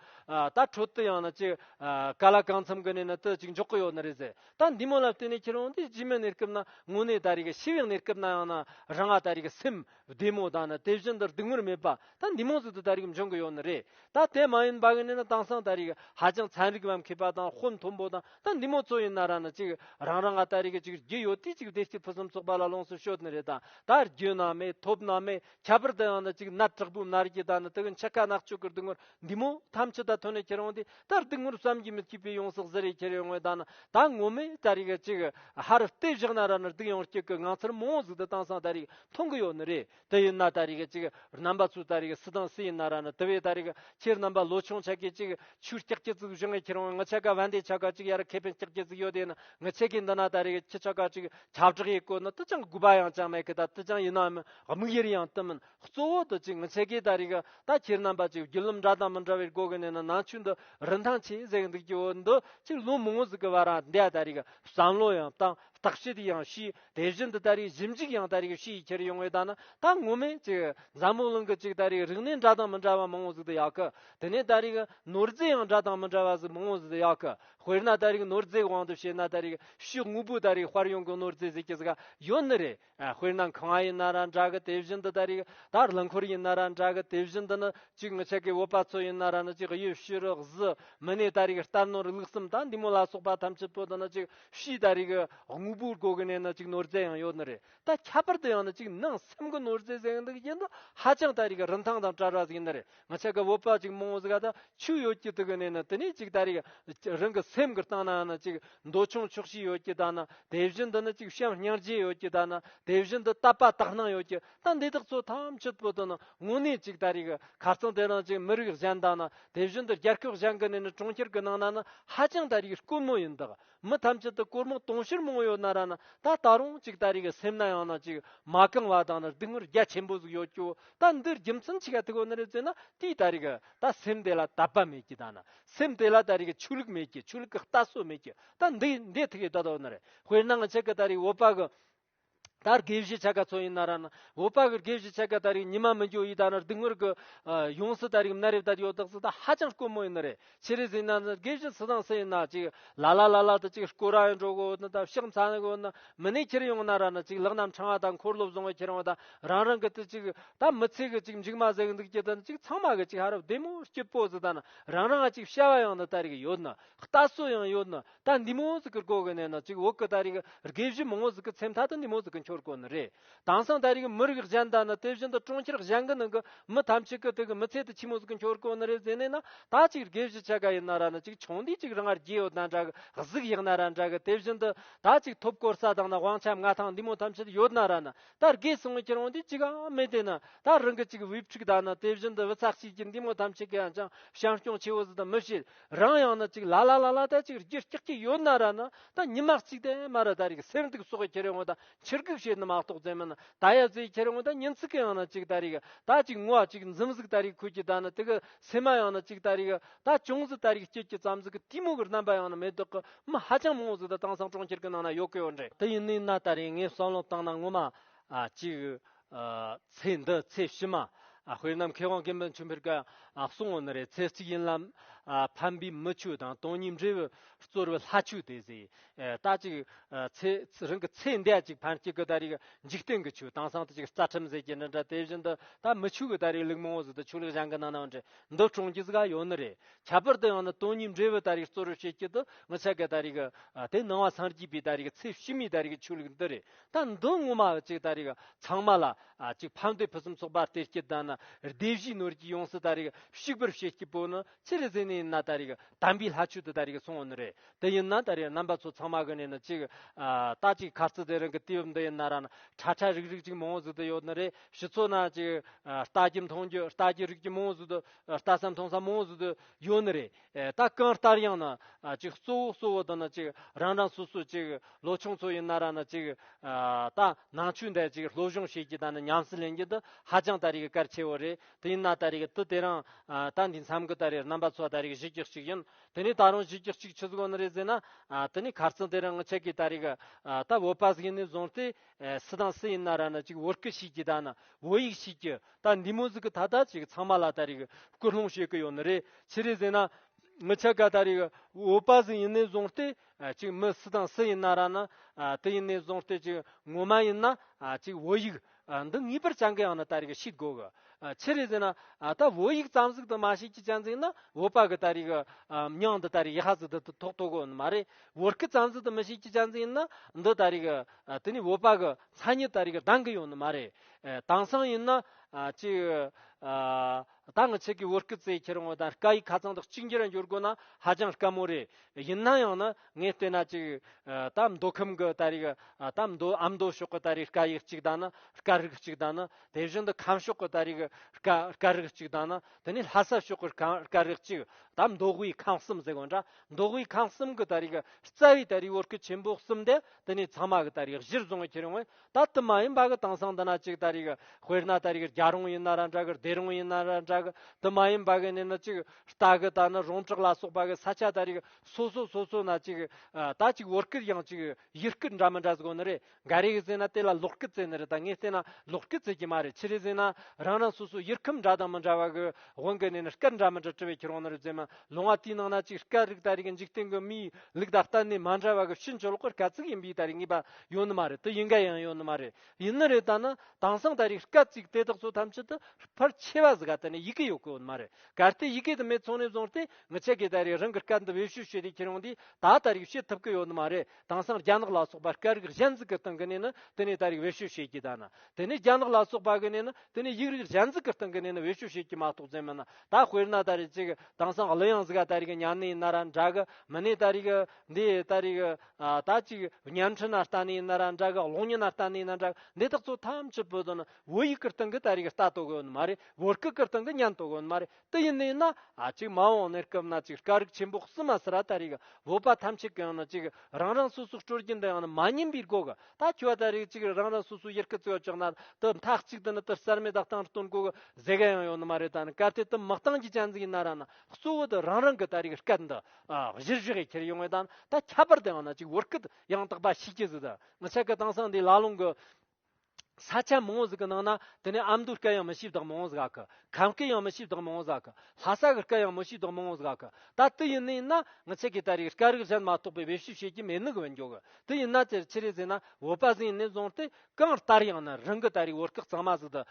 ད་ཁྲོད་དུ་ཡང་ན་ཅིག་ག་ལ་གང་འཚམ་གི་ནས་ནི་དུ་ཅིག་འཇོག་གི་ཡོད་ནི་རེད་ཟེར་ད་འདི་མོ་ལ་བལྟས་ནས་ཁྱེད་རང་འདི་རྗེས་མའི་གནས་སྐབས་ན་དངོས་གནས་ད་རེ་གི་ཤི་བའི་གནས་སྐབས་ན་ཡང་ན་རང་ང་ད་རེ་གི་སེམས་བདེ་མོ་ད་ནི་དེ་བཞིན་དུ་སྡུག་བསྔལ་མེད་པ་ད་འདི་མང་ཚིག་ཏུ་ད་རིགས་འབྱུང་གི་ཡོད་ནི་རེད་ད་དེ་མ་ཡིན་པ་གི་ནི་ན་དྭངས་སངས་ད་རིགས་ཧ་ཅང་ཚན་རིག་བམ་མཁས་པ་དང་ཧོན་མཐོན་པོ་དང་ད་འདི་མོ་ཚོ་ཡིན་ན་ར་ནི་ཅིག་རང་རང་ག་ད་རིགས་ཅིག་རྒྱུ་ཡོད་དུས་ཅིག་བདེ་སྐྱིད་ཕུན་སུམ་ཚོགས་པ་ལ་ལོངས་སུ་སྤྱོད་ནི་རེད་ད་ད་རྒྱུ་ན་མེད་ཐོབ་ན་མེད་ཁྱད་པར་དུ་ཡང་ན་ཅིག་ནད་དྲག་པོའི་ན་རིགས་ཀྱི་ད་ནི་དེ་གི་འཆི་ཁ་ནག་ཆོས་ཀྱི་སྡུག་བསྔལ་འདི་མོ་ཐམས་ཅད་ད་ཐོས་ནས་ཁྱེད་རང་དེ་ལྟར་དུག་ངོར་བསམ་གྱིས་མི་ཁྱབ་པའི་ཡོངས་སུ་གཟིར་ཡས་ཁྱེར་ཡོད་དངོས་དང་ད་ངོ་མས་ད་རིག་གཅིག་ཧར་ལྟས་བཞག་ན་ར་ནི་དུག་ཡང་སྐྱུག་གི་ངང་ཚུལ་མང་བོ་གཟུགས་དུ་དྭངས་སང་ད་རིག་མཐོང་གི་ཡོད་ནི་རེད་དེ་ཡིན་ན་ད་རིག་གཅིག་རྣམ་པ་ཚོས་ད་རིག་སུ་དང་སུ་ཡིན་ན་ར་ནི་དེ་བས་ད་རིག་ཁྱེད་རྣམ་པ་ལོ་ཆུང་ཆ་གས་གཅིག་ཆུ་སྐྱག་སྐྱིད་གཟུགས་བཞག་ངས་ཁྱེར་འོང་ངི་ཆ་ག་བན་དེ་ཆ་ག་གཅིག་ཡར་ཁེ་ཕན་སྐྱག་སྐྱིད་གཟུགས་ཡོད་དེ་ཡིན་ངི་ཆ་གས་འདི་ན་ད་རིག་ཁྱི་ཆ་ག་གཅིག་ཁྱབ་བསྒྲགས་ཡས་བཀོད་ནི་དུ་ཅང་དགོས་པ་ཡང་ཅང་མེད་གི་ད་དུ་ཅང་ཡིན་ནའམ་དམིགས་ཡེར་ཡང་དུ་མིན། གཙོ་བོ་དུ་གཅིག་མི་ཚེ་གའི་ད་རིག་ད་ཁྱེར་རྣམ་པ་གཅིག་རྒྱུ་ལུམ་འདྲ་དང་མི་འདྲ་བའི་སྒོ་གི་ནས་ན་ནང་ཆོས་འདི་རིན་ཐང་ཆེ་ཟེར་གི་འདུག་སྐྱེ་བོ་འདི་གཅིག་ལུང་མི་ངོ་ཟིག་གི་བར་རང་འདས་ད་རིག་བསམ་བློ་ཡང་བཏང་བརྟག་དཔྱད་ཡང་བྱས་དེ་བཞིན་དུ་ད་རིག་ཞིབ་འཇུག་ཡང་ད་རིག་བྱས་ཁྱེར་ཡོང་བའི་ད་ན་ད་ངོ་མས་གཅིག་འཛམ་བུ་གླིང་གི་གཅིག་ད་རིག་རིག་གནས་འདྲ་དང་མི་འདྲ་བ་མི་ངོ་ཟིག་ཏུ་ཡག་གི་དེ་ནས་ད་རིག་ནོར་རྫས་ཡང་འདྲ་དང་མི་འདྲ་བ་ཟིག་མི་ངོ་ཟིག་ཡག་གི་དཔེར་ན་ད་རིག་ནོར་རྫས་གི་དབང་དུ་བྱས་ན་ད་རིག་ཤུགས་དངོས་པོ་ད་རིག་དཔར་ཡོང་གི་ནོར་རྫས་ཟིག་གི་ཟིག་ག་ཡོད་ནི་རེད། དཔེར་ན་ཁང་བ་ཡིན་ན་ར་འདྲ་གི་དེ་བཞིན་དུ་ད་རེས་ད་རླངས་འཁོར་ཡིན་ན་ར་འདྲ་གི་དེ་བཞིན་དུ་ནི་གཅིག་ནི་ཆེ་གེ་བོད་པ་ཚོ་ཡིན་ན་ར་ནི་གཅིག་གཡུ་བྱུ་རུ་གཟི་མི་ནས་ད་རེས་རྟར་ནོར་ལུགས་གསུམ་དང་འདི་མོ་ལ་སོགས་པ་ཐམས་ཅད་པོ་དང་ནི་གཅིག་བྱས་ད་རེས་གི་དངོས་པོའི་སྒོ་གི་ནས་ནི་གཅིག་ནོར་རྫས་ཡང་ཡོད་ནི་རེད་ད་ཁྱད་པར་དུ་ཡང་ནི་གཅིག་ནང་སེམས་གི་ནོར་རྫས་ཟེར་ཡང་འདུག་ཡིན་ན་ཧ་ཅང་ད་རེས་གི་རིན་ཐང་དང་བྲལ་བ་ཟིག་ཡིན་ནི་རེད། ང་ཆེ་ག་བོད་པ་ཅིག་མང་བོ་ག་ད་ཆུ་ཡོད་ཀྱི་དུ་གི་ནས་ན་དེ་ནས་ཅིག་ད་རེ་གི་རང་གི་སེམས་གི་སྟངས་ན་ན་ཅིག་མདོ་ཆུང་ཆོག་ཤེས་ཡོད་ཀྱི་ད་ན་དེ་བཞིན་དུ་ན་ཅིག་བྱམས་སྙིང་རྗེ་ཡོད་ཀྱི་ད་ན་དེ་བཞིན་དུ་དད་པ་དག་སྣང་ཡོད་ཀྱི་ད་འདི་དག་ཚོ་ཐམས་ཅད་པོ་ཏོ་ན་དངོས་གནས་ཅིག་ད་རེ་གི་ཁ་རྩང་དེ་རང་ཅིག་མི་རིགས་གཞན་དང་ན་དེ་བཞིན་དུ་རྒྱལ་ཁབ་གཞན་གི་ནས་ན་གྲོང་ཁྱེར་གི་ནང་ན་ན་ཧ་ཅང་ད་རེ་གི་དཀོན་མོ་ཡིན་དག་མི་ཐམས་ཅད་དུ་གོར་མོ་དུང་ཕྱུར་མང་བོ་ཡོད་ན་ར་ན་ད་ད་རུང་གཅིག་ད་རེས་ཀྱི་སེམས་ན་ཡང་ན་ཅིག་མ་གང་བ་དང་ན་སྡུག་བསྔལ་རྒྱ་ཆེན་པོ་ཟིག་ཡོད་ཀྱོ་ད་འདིར་རྒྱུ་མཚན་ཆི་ག་ཐི་གོ་ན་རེ་བཙལ་ན་དེའི་ད་རེས་ཀྱི་ད་སེམས་དེ་ལ་དད་པ་མེད་ཀྱི་ད་ན་སེམས་དེ་ལ་ད་རེས་ཀྱི་ཆོས་ལུགས་མེད་ཀྱི་ཆོས་ལུགས་ཀྱི་ལྟ་སྲོལ་མེད་ཀྱི་ད་འདི་འདི་ཐི་གི་ད་ད་གོ་ན་རེ་དཔེར་ན་ང་ཆི་གི་ད་རེས་འོད་པ་གི་ད་རེས་དགེ་བཤེས་ཆ་ག་ཚོ་ཡིན་ན་ར་ན་འོ་པ་གི་དགེ་བཤེས་ཆ་ག་ད་རེས་ཉི་མ་མི་འགྱོ་ཡིས་ད་ནར་དུས་ངོར་གི་ཡོང་སྲིད་ད་རེས་གི་ན་རེབ་ད་ཡོ་དག་སྲིད་ད་ཧ་ཅང་དཀོན་མོ་ཡིན་ནི་རེད་ཕྱི་རེས་ཡིན་ན་དགེ་བཤེས་སི་ཟང་སི་ཡིན་ན་ཅིག་ལ་ལ་ལ་ལ་ད་ཅིག་སྐོ་ར་ཡོང་འགྲོ་གོ་ན་ད་ཕྱག་མཚན་གོ་ན་མི་ནས་ཁྱེར་ཡོང་ན་ར་ན་ཅིག་ལག་ནམ་འཕྲང་བ་ད་འཁོར་སློབ་བཟང་བ་ཁྱེར་ཡོང་ད་རང་རང་གི་ད་ཅིག་ད་མི་ཚེ་གི་ཅིག་མཇུག་མ་ཟེག་འདུག་ཅིག་ད་ནི་ཅིག་ཚང་མ་གི་ཅིག་ཧ་ར་བདེ་མོ་སྐྱིད་པོ་སི་ད་ན་རང་རང་ག་ཅིག་བྱ་བ་ཡང་ན་ད་རེས་གི་ཡོད་ན་ལྟ་སྲོལ་ཡང་ཡོད་ན་ད་འདི་མོ་ཟིག་གི་སྐོར་གི་གནས་ན་ཅིག་འོག་གི་ད་རེས་ཀྱི་དགེ་བཤེས་མང་བོ་ཟིག་གི་ཚེ་མཐའ་དུ་འདི་མོ་ཟིག་གི་འཁྱོར་སྐོར་ནི་རེད། དེང་སང་ད་རེས་ཀྱི་མི་རིགས་གཞན་དག་ནི་དེ་བཞིན་དུ་གྲོང་ཁྱེར་གཞན་གྱི་ནང་གི་མི་ཐམས་ཅད་ཀྱི་དེ་གི་མི་ཚེ་དུ་ཕྱི་མོ་ཟིག་གི་འཁྱོར་སྐོར་ནི་རེད་ཟེར་ནས་ན་ད་ཅིག་དགེ་བཤེས་ཆེ་ག་ཡི་ན་ར་ན་ཅིག་ཆུང་དུས་ཅིག་རང་ངར་རྒྱལ་ཡོ་ད་འདྲ་གི་གཟུགས་ཡག་ན་ར་འདྲ་གི་དེ་བཞིན་དུ་ད་ཅིག་ཐོབ་སྐོར་ས་དང་ན་དབང་ཆ་མངའ་ཐང་འདི་མོ་ཐམས་ཅད་ཡོད་ན་ར་ན་ད་དགེ་སྲིང་མོ་ཁྱེད་རང་དུས་ཅིག་ཨང་མེད་དེ་ན་ད་རང་གི་ཅིག་དབུས་ཕྲུག་དག་ནི་དེ་བཞིན་དུ་བུ་ཚ་གཅིག་གིས་འདི་མོ་ཐམས་ཅད་ཀྱི་ཡང་ཅང་བྱམས་སྐྱོང་ཆེ་བོ་ཟིག་དང་མི་བྱེད། རང་ཡང་ན་ཅིག་ལ་ལ་ལ་ལ་ད་ཅིག་རྒྱུ་སྐྱག་ཅིག་ཡོད་ན་ར་ན་ད་ཉི་མ་གཅིག་དེ་མ་ར་ད་རིག་སེར་འདུག་སོགས་ཁྱེར་ཡོང་ད་ཕྱིར་གུག་བྱེད་ནི་མ་གཏོགས་རྫས་མིན་ན་ད་ཡ་རྫས་ཁྱེར་ཡོང་ད་ཉིན་ཚིག་གི་ཡང་ན་ཅིག་ད་རིག་ད་ཅིག་ངུ་བ་ཅིག་འཛུམ་ཟུག་ད་རིག་ཁུ་གྱི་ད་ན་དི་གི་སེ་མ་ཡང་ན་ཅིག་ད་རིག་ད་ཅུང་ཟི་ད་རིག་སྐྱིད་ཀྱི་ཙམ་ཟི་གི་ཏི་མུག་གི་རྣམ་པ་ཡང་ན་མེ་ཏོག་གི་མི་ཧ་ཅང་མང་བོ་ཟི་ད་དྭངས་སང་གྲོང་ཁྱེར་གི་ནང་ན་ཡོད་གི་ཡོད་རེད་དི་ཡིན་ནི་ན་ད་རིག་ངས་བསམ་བློ་བཏང་ན་ངུ་མ་ཅིག་ཚེས་འདི་ཚེས་ཕྱི་མ་དཔོན་ནམ་མཁའི་དབང་གི་མི་མཆོད་འཕེལ་གྱི་སྲུང་བ་ནི་རེ་ཚེས་གཅིག་ཡིན་ལ། ཕམ་པའི་མི་ཆོས་དང་སྟོང་ཉིད་འབྲས་བུ་རྩོལ་བའི་ལྷ་ཆོས་དེ་ཟེར། རྟགས་གཅིག་ཚེས་རིང་གི་ཚེས་འདས་གཅིག་ཕར་སྐྱེལ་གྱི་ད་རེས་འཇིག་རྟེན་གྱི་ཆོས་དྭངས་སང་ཐིག་གི་རྩ་ཁྲིམས་ཟེར་གྱི་འདི་འདྲ་དེ་བཞིན་དུ་ད་མི་ཆོས་ཀྱི་ད་རེས་ལུགས་མང་བོ་ཟེར་དུ་ཆོས་ལུགས་གཞན་གྱི་ནང་ནའང་འདྲེ་འདུལ་གྲོང་ཁྱེར་ཟེར་ག་ཡོད་ནི་རེད། ཁྱད་པར་དུ་ཡང་ན་སྟོང་ཉིད་འབྲས་བུ་ད་རེས་རྩོལ་བར་བྱེད་ཀྱི་དུ་ངི་ཆ་གི་ད་རེས་དེ་ནང་བ་སངས་རྒྱས་པའི་ད་རེས་ཚེས་ཕྱི་མའི་ད་རེས་ཆོས་ལུགས་འདི་རེད་ད་མདུན་ངོ་མ་ཅིག་ད་རིག་ཚང་མ་ལ་ཅིག་ཕ་མདོས་ཕུན་སུམ་ཚོགས་པར་དེ་སྐྱིད་དང་ན་བདེ་བཞིའི་ནོར་གྱིས་ཡོངས་སུ་ད་རིག་བཤིག་པར་བྱེད་སྐྱིད་པོ་ནི་ཅི་རིག་ཟིན་ནས་ན་ད་རིག་དམ་པའི་ལྷ་ཆོས་དུ་ད་རིག་གསུང་བ་ནི་རེད་དེ་ཡིན་ན་ད་རིག་རྣམ་པ་ཚོ་ཚང་མ་གི་ནས་ནི་ཅིག་ད་ཅིག་ཁ་རྩི་དེ་རང་གི་གཏི་བབ་འདི་ཡིན་ན་ར་ན་ཁྲ་ཁྲ་རིག་རིག་ཅིག་མང་བོ་ཟིག་ཏུ་ཡོད་ནི་རེད་ཕྱི་ཚོ་ན་ཅིག་རྟ་ཀྱི་མཐོང་རྒྱུ་རྟ་ཀྱི་རིགས་ཀྱི་མང་བོ་ཟིག་ཏུ་རྟ་ས་མཐོང་ས་མང་བོ་ཟིག་ཏུ་ཡོད་ནི་རེད། ད་གང་ལྟར་ཡང་ན་ཅིག་གཙོ་བོ་གཙོ་བོ་འདི་ནི་ཅིག་རང་རང་སོ་སོའི་ཅིག་ལོ་ཆུང་ཚོ་ཡིན་ན་ར་ནི་ཅིག་ད་ནང་ཆོས་འདི་ཅིག་སློབ་སྦྱོང་བྱེད་རྒྱུ་ད་ནི་ཉམས་སུ་ལེན་རྒྱུ་འདི་ཧ་ཅང་ད་རེས་གལ་ཆེ་བོ་རེད་དེ་ཡིན་ན་ད་རེས་དུས་དེ་རིང་ད་འདིའི་མཚམས་ཀྱི་ད་རེས་རྣམ་པ་ཚོ་ད་རེས་གཞི་རྒྱུ་གཅིག་ཡིན་དེ་ནས་ད་རུང་གཞི་རྒྱུ་གཅིག་ཆུ་གོ་ནི་རེད་ཟེར་ན་དེ་ནས་གར་རྩེད་དེ་རིང་ཁྱེད་ཀྱིས་ད་རེས་ད་བོད་པ་ཟིག་ནས་བཟུང་སྟེ་སུ་དང་སུ་ཡིན་ན་ར་ནི་ཅིག་བོད་སྐད་བྱེད་རྒྱུ་ད་ནི་བོད་ཡིག་བྱེད་རྒྱུ་ད་འདི་མོ་ཟིག་གི་ད་ད་ཅིག་ཚང་མ་ལ་ད་རིག་སྐུལ་སློང་བྱེད་ཀི་ཡོད་ནི་རེད་ཕྱི་རེ་ཟིན་ན་མི་ཆ་ག་ད་རིག་འོས་པ་ཟིག་ཡིན་ནི་བཟུང་སྟེ་ཅིག་མི་སུ་དང་སུ་ཡིན་ན་ར་ན་དི་ཡིན་ནི་བཟུང་སྟེ་ཅིག་ངོ་མ་ཡིན་ན་ཅིག་བོད་ཡིག་འདི་ངེས་པར་བྱ་འགི་ཡང་ན་ད་རིག་ཤིག་དགོ་གི་ཕྱི་རེ་ཟིན་ན་ད་བོད་ཡིག་ཙམ་ཟིག་ཏུ་མ་ཤེས་ཀྱི་ཅན་ཟིག་ན་བོད་པ་གི་ད་རིག་མྱང་འདི་ད་རིག་ཡ་ཟིག་འདི་ཏུ་ཐོག་ཐོག་གོ་ནི་མ་རེད་བོད་སྐད་ཙམ་ཟིག་ཏུ་མི་ཤེས་ཀྱི་ཅན་ཟིག་ཡིན་ན་འདི་ད་རིག་དི་ནི་བོད་པ་གི་མཚན་ཉིད་ད་རིག་གདང་གི་ཡོད་ནི་མ་རེད་དེང་སང་ཡིན་ན། གཅིག། ད་ང་ཆེ་གེ་བོ་སྐུ་ཚེ་ཁྱེར་འོང་དང་དཀའ་ཡིག་ཁ་ཚང་དག་གཅིག་འགྱུར་འགྱུར་དགོས་ན་ཧ་ཅང་དཀའ་མོ་རེད། ཡིན་ན་ཡང་ན་ངས་བལྟས་ན་གཅིག། ད་མདོ་ཁམས་གི་ད་རིག་ད་མདོ་ཨ་མདོ་ཕྱོགས་གི་ད་རིག་དཀའ་ཡིག་གཅིག་དང་ན་དཀའ་རིག་གཅིག་དང་ན་དེ་བཞིན་དུ་ཁམས་ཕྱོགས་གི་ད་རིག་དཀའ་རིག་གཅིག་དང་ན་དེ་ནས་ལྷ་ས་ཕྱོགས་གི་དཀའ་རིག་གཅིག་ད་མདོ་དབུས་ཁམས་གསུམ་ཟེར་བ་འདྲ་མདོ་དབུས་ཁམས་གསུམ་གི་ད་རིག་རྩ་བའི་ད་རིག་བོད་སྐད་ཆེན་པོ་གསུམ་དེ་དེ་ནས་ཚང་མ་གི་ད་རིག་གཞིར་བཟུང་བ་ཁྱེར་འོང་བས་ད་དུ་མ་ཡིན་པ་གི་དེང་སང་འདི་ན་གཅིག་ད་རེས་གི་དཔེར་ན་ད་རེས་གི་རྒྱ་རོང་ཡིན་ན་ར་འདྲ་གི་སྡེ་རོང་ཡིན་ན་ར་འདྲ་གི་དུ་མ་ཡིན་པ་གི་ནི་ནི་གཅིག་རྟ་གི་ད་ནི་རོང་བྲག་ལ་སོགས་པ་གི་ས་ཆ་ད་རེས་གི་སོ་སོ་སོ་སོ་ན་གཅིག་ད་གཅིག་བོར་སྐད་ཡང་གཅིག་ཡིག་སྐད་འདྲ་མི་འདྲ་ཟེར་གོ་ནི་རེད་འགའ་རེས་གི་ཟེར་ན་དེ་ལ་ལོག་སྐད་ཟེར་ནི་རེད་ད་ངས་བལྟས་ན་ལོག་སྐད་ཟེར་གྱི་མ་རེད་ཕྱི་རེས་ཟེར་ན་རང་རང་སོ་སོ་ཡིག་ཁམས་འདྲ་དང་མི་འདྲ་བ་གི་དབང་གི་ནི་ནི་སྐད་འདྲ་མི་འདྲ་བྲི་བའི་ཁྱེར་དབང་ནི་རེད་ཟེར་མ་ལོང་བ་དེའི་ནང་ན་གཅིག་སྐད་རིགས་ད་རེས་གི་འཇིག་རྟེན་གི་མིའི་ལུགས་ད་གཏན་ནས་མ་འདྲ་བ་གི་ཕྱིན་ཅི་ལོག་གི་སྐད་ཚིག་ཡིན་པའི་ད་རེས་ངེས་པ་ཡོད་ནི་མ་རེད་དེ་ཡིན་ག་ཡང་ཡོད་ནི་མ་རེད་ཡིན་ནི་རེད་ད་ནི་དེང་སང་ད་རེས་སྐད་ཅིག་དེ་དག་ཚོ་ཐམས་ཅད་དུ་ཕར་ཆེ་བ་ཟི་ག་དེ་ནི་ཡི་གེ་ཡོད་གི་ཡོད་ནི་མ་རེད་གལ་ཏེ་ཡི་གེ་དེ་མེད་ཚོང་ནས་བཟུང་སྟེ་ངི་ཆད་གི་ད་རེས་རང་གི་སྐད་འདི་བེད་བཤུ་བྱས་ཏེ་ཁྱེར་ཡོང་དུས་ད་ད་རེས་བྱེད་ཐུབ་གི་ཡོད་ནི་མ་རེད་དེང་སང་རྒྱ་ནག་ལ་སོགས་པ་སྐད་རིགས་གཞན་ཟི་གི་སྟེང་གི་ནས་ནི་དེ་ནས་ད་རེས་བེད་བཤུ་བྱེད་ཀྱི་ད་ན་དེ་ནས་རྒྱ་ནག་ལ་སོགས་པ་གི་ནས་ནི་དེ་ནས་ཡིག་རིགས་གཞན་ཟི་གི་སྟེང་གི་ནས་ནི་བེད་བཤུ་བྱེད་ཀྱི་མ་གཏོགས་རྫུན་མིན་ན་ད་དཔེར་ན་ད་རེས་ཅིག་དེང་སང་གླུ་དབྱངས་ཟི་ག་ད་རེས་གི་ཉན་ནི་ཡིན་ན་ར་འདྲ་གི་མི་ནི་ད་རེས་གི་འདི་ད་རེས་གི། ད་ཅིག་བརྙན་འཕྲིན་ན་ལྟ་ནས་ན་ར་འདྲ་གི་གློག་བརྙན་ན་ལྟ་ནས་ན་འདྲ་གི་འདི་དག་ཚོ་ཐམས་ཅད་བོད་དོན་བོད་ཡིག་གི་སྟེང་གི་ད་རེས་ཀྱི་ལྟ་རྟོག་གི་ཡོན་མ་རེད་བོད་སྐད་ཀྱི་སྟེང་གི་བརྙན་ཐོག་གི་ཡོན་མ་རེད་དེ་ཡིན་ནའི་ན་ཅིག་མ་འོངས་གནས་སྐབས་ན་ཅིག་དཀའ་རིགས་ཆེན་པོ་བསུ་མ་ཟེར་ར་ད་རེས་ཀྱི་བོད་པ་ཐམས་ཅད་ཀྱི་ཡང་ན་ཅིག་རང་རང་སོ་སོ་སྤྲོ་སྐྱིད་འདི་ཡང་ན་མ་ཉན་པའི་སྒོ་གི་ད་ཁྱོད་ད་རེས་ཅིག་རང་རང་སོ་སོ་ཡེར་ཀི་བཙོས་ཡོད་ཅག་ན་དུ་མཐའ་གཅིག་ཏུ་ན་དུ་གསར་མའི་ད་སྟང་སྟོན་དགོས་གི་ཟེ་ག་ཡང་ཡོད་ནི་མ་རེད་ད་ནི་སྐབས་དེ་དུ་མི་སྟང་གི་ཅན་ཟིག་ཡིན་ན་ར་ན་གཙོ་བོ་དུ་རང་རང་གི་ད་རེས་ཀྱི་སྐད་འདི་གཞིར་བཞག་གིས་ཁྱེར་ཡོང་བའི་དང་ད་ཁྱད་པར་དུ་ཡང་ན་ཅིག་བོར་སྐད་ཡང་དག་པ་ཤེས་ཀྱི་ཟིག་ད་ཆ་གི་དྭངས་སང་འདི་ལ་ལུང་གི་ས་ཆ་མང་བོ་ཟིག་གི་ནང་ན་དེ་ནས་ཨ་མདོའི་སྐད་ཡང་མི་ཤེས་དག་མང་བོ་ཟིག་གི་ཁམས་སྐད་ཡང་མི་ཤེས་དག་མང་བོ་ཟིག་གི་ལྷ་ས་གི་སྐད་ཡང་མི་ཤེས་དག་མང་བོ་ཟིག་གི་ད་དུ་ཡིན་ནི་ཡིན་ན་ང་ཆེ་གི་ད་རིག་སྐད་རིག་གཞན་མ་གཏོགས་པའི་བེད་ཞུ་བྱེད་ཀྱི་མེད་ནི་གི་བེད་འཇོག་གི་དུ་ཡིན་ན་དེར་ཁྱེར་ཡི་ཟིག་ན་བོད་པ་ཟིག་ཡིན་ནི་བཟང་སྟེ་གང་ལྟར་ཡང་ན་རང་གི་ད་རེས་བོད་སྐད་གཙང་མ་ཟིག་འདི་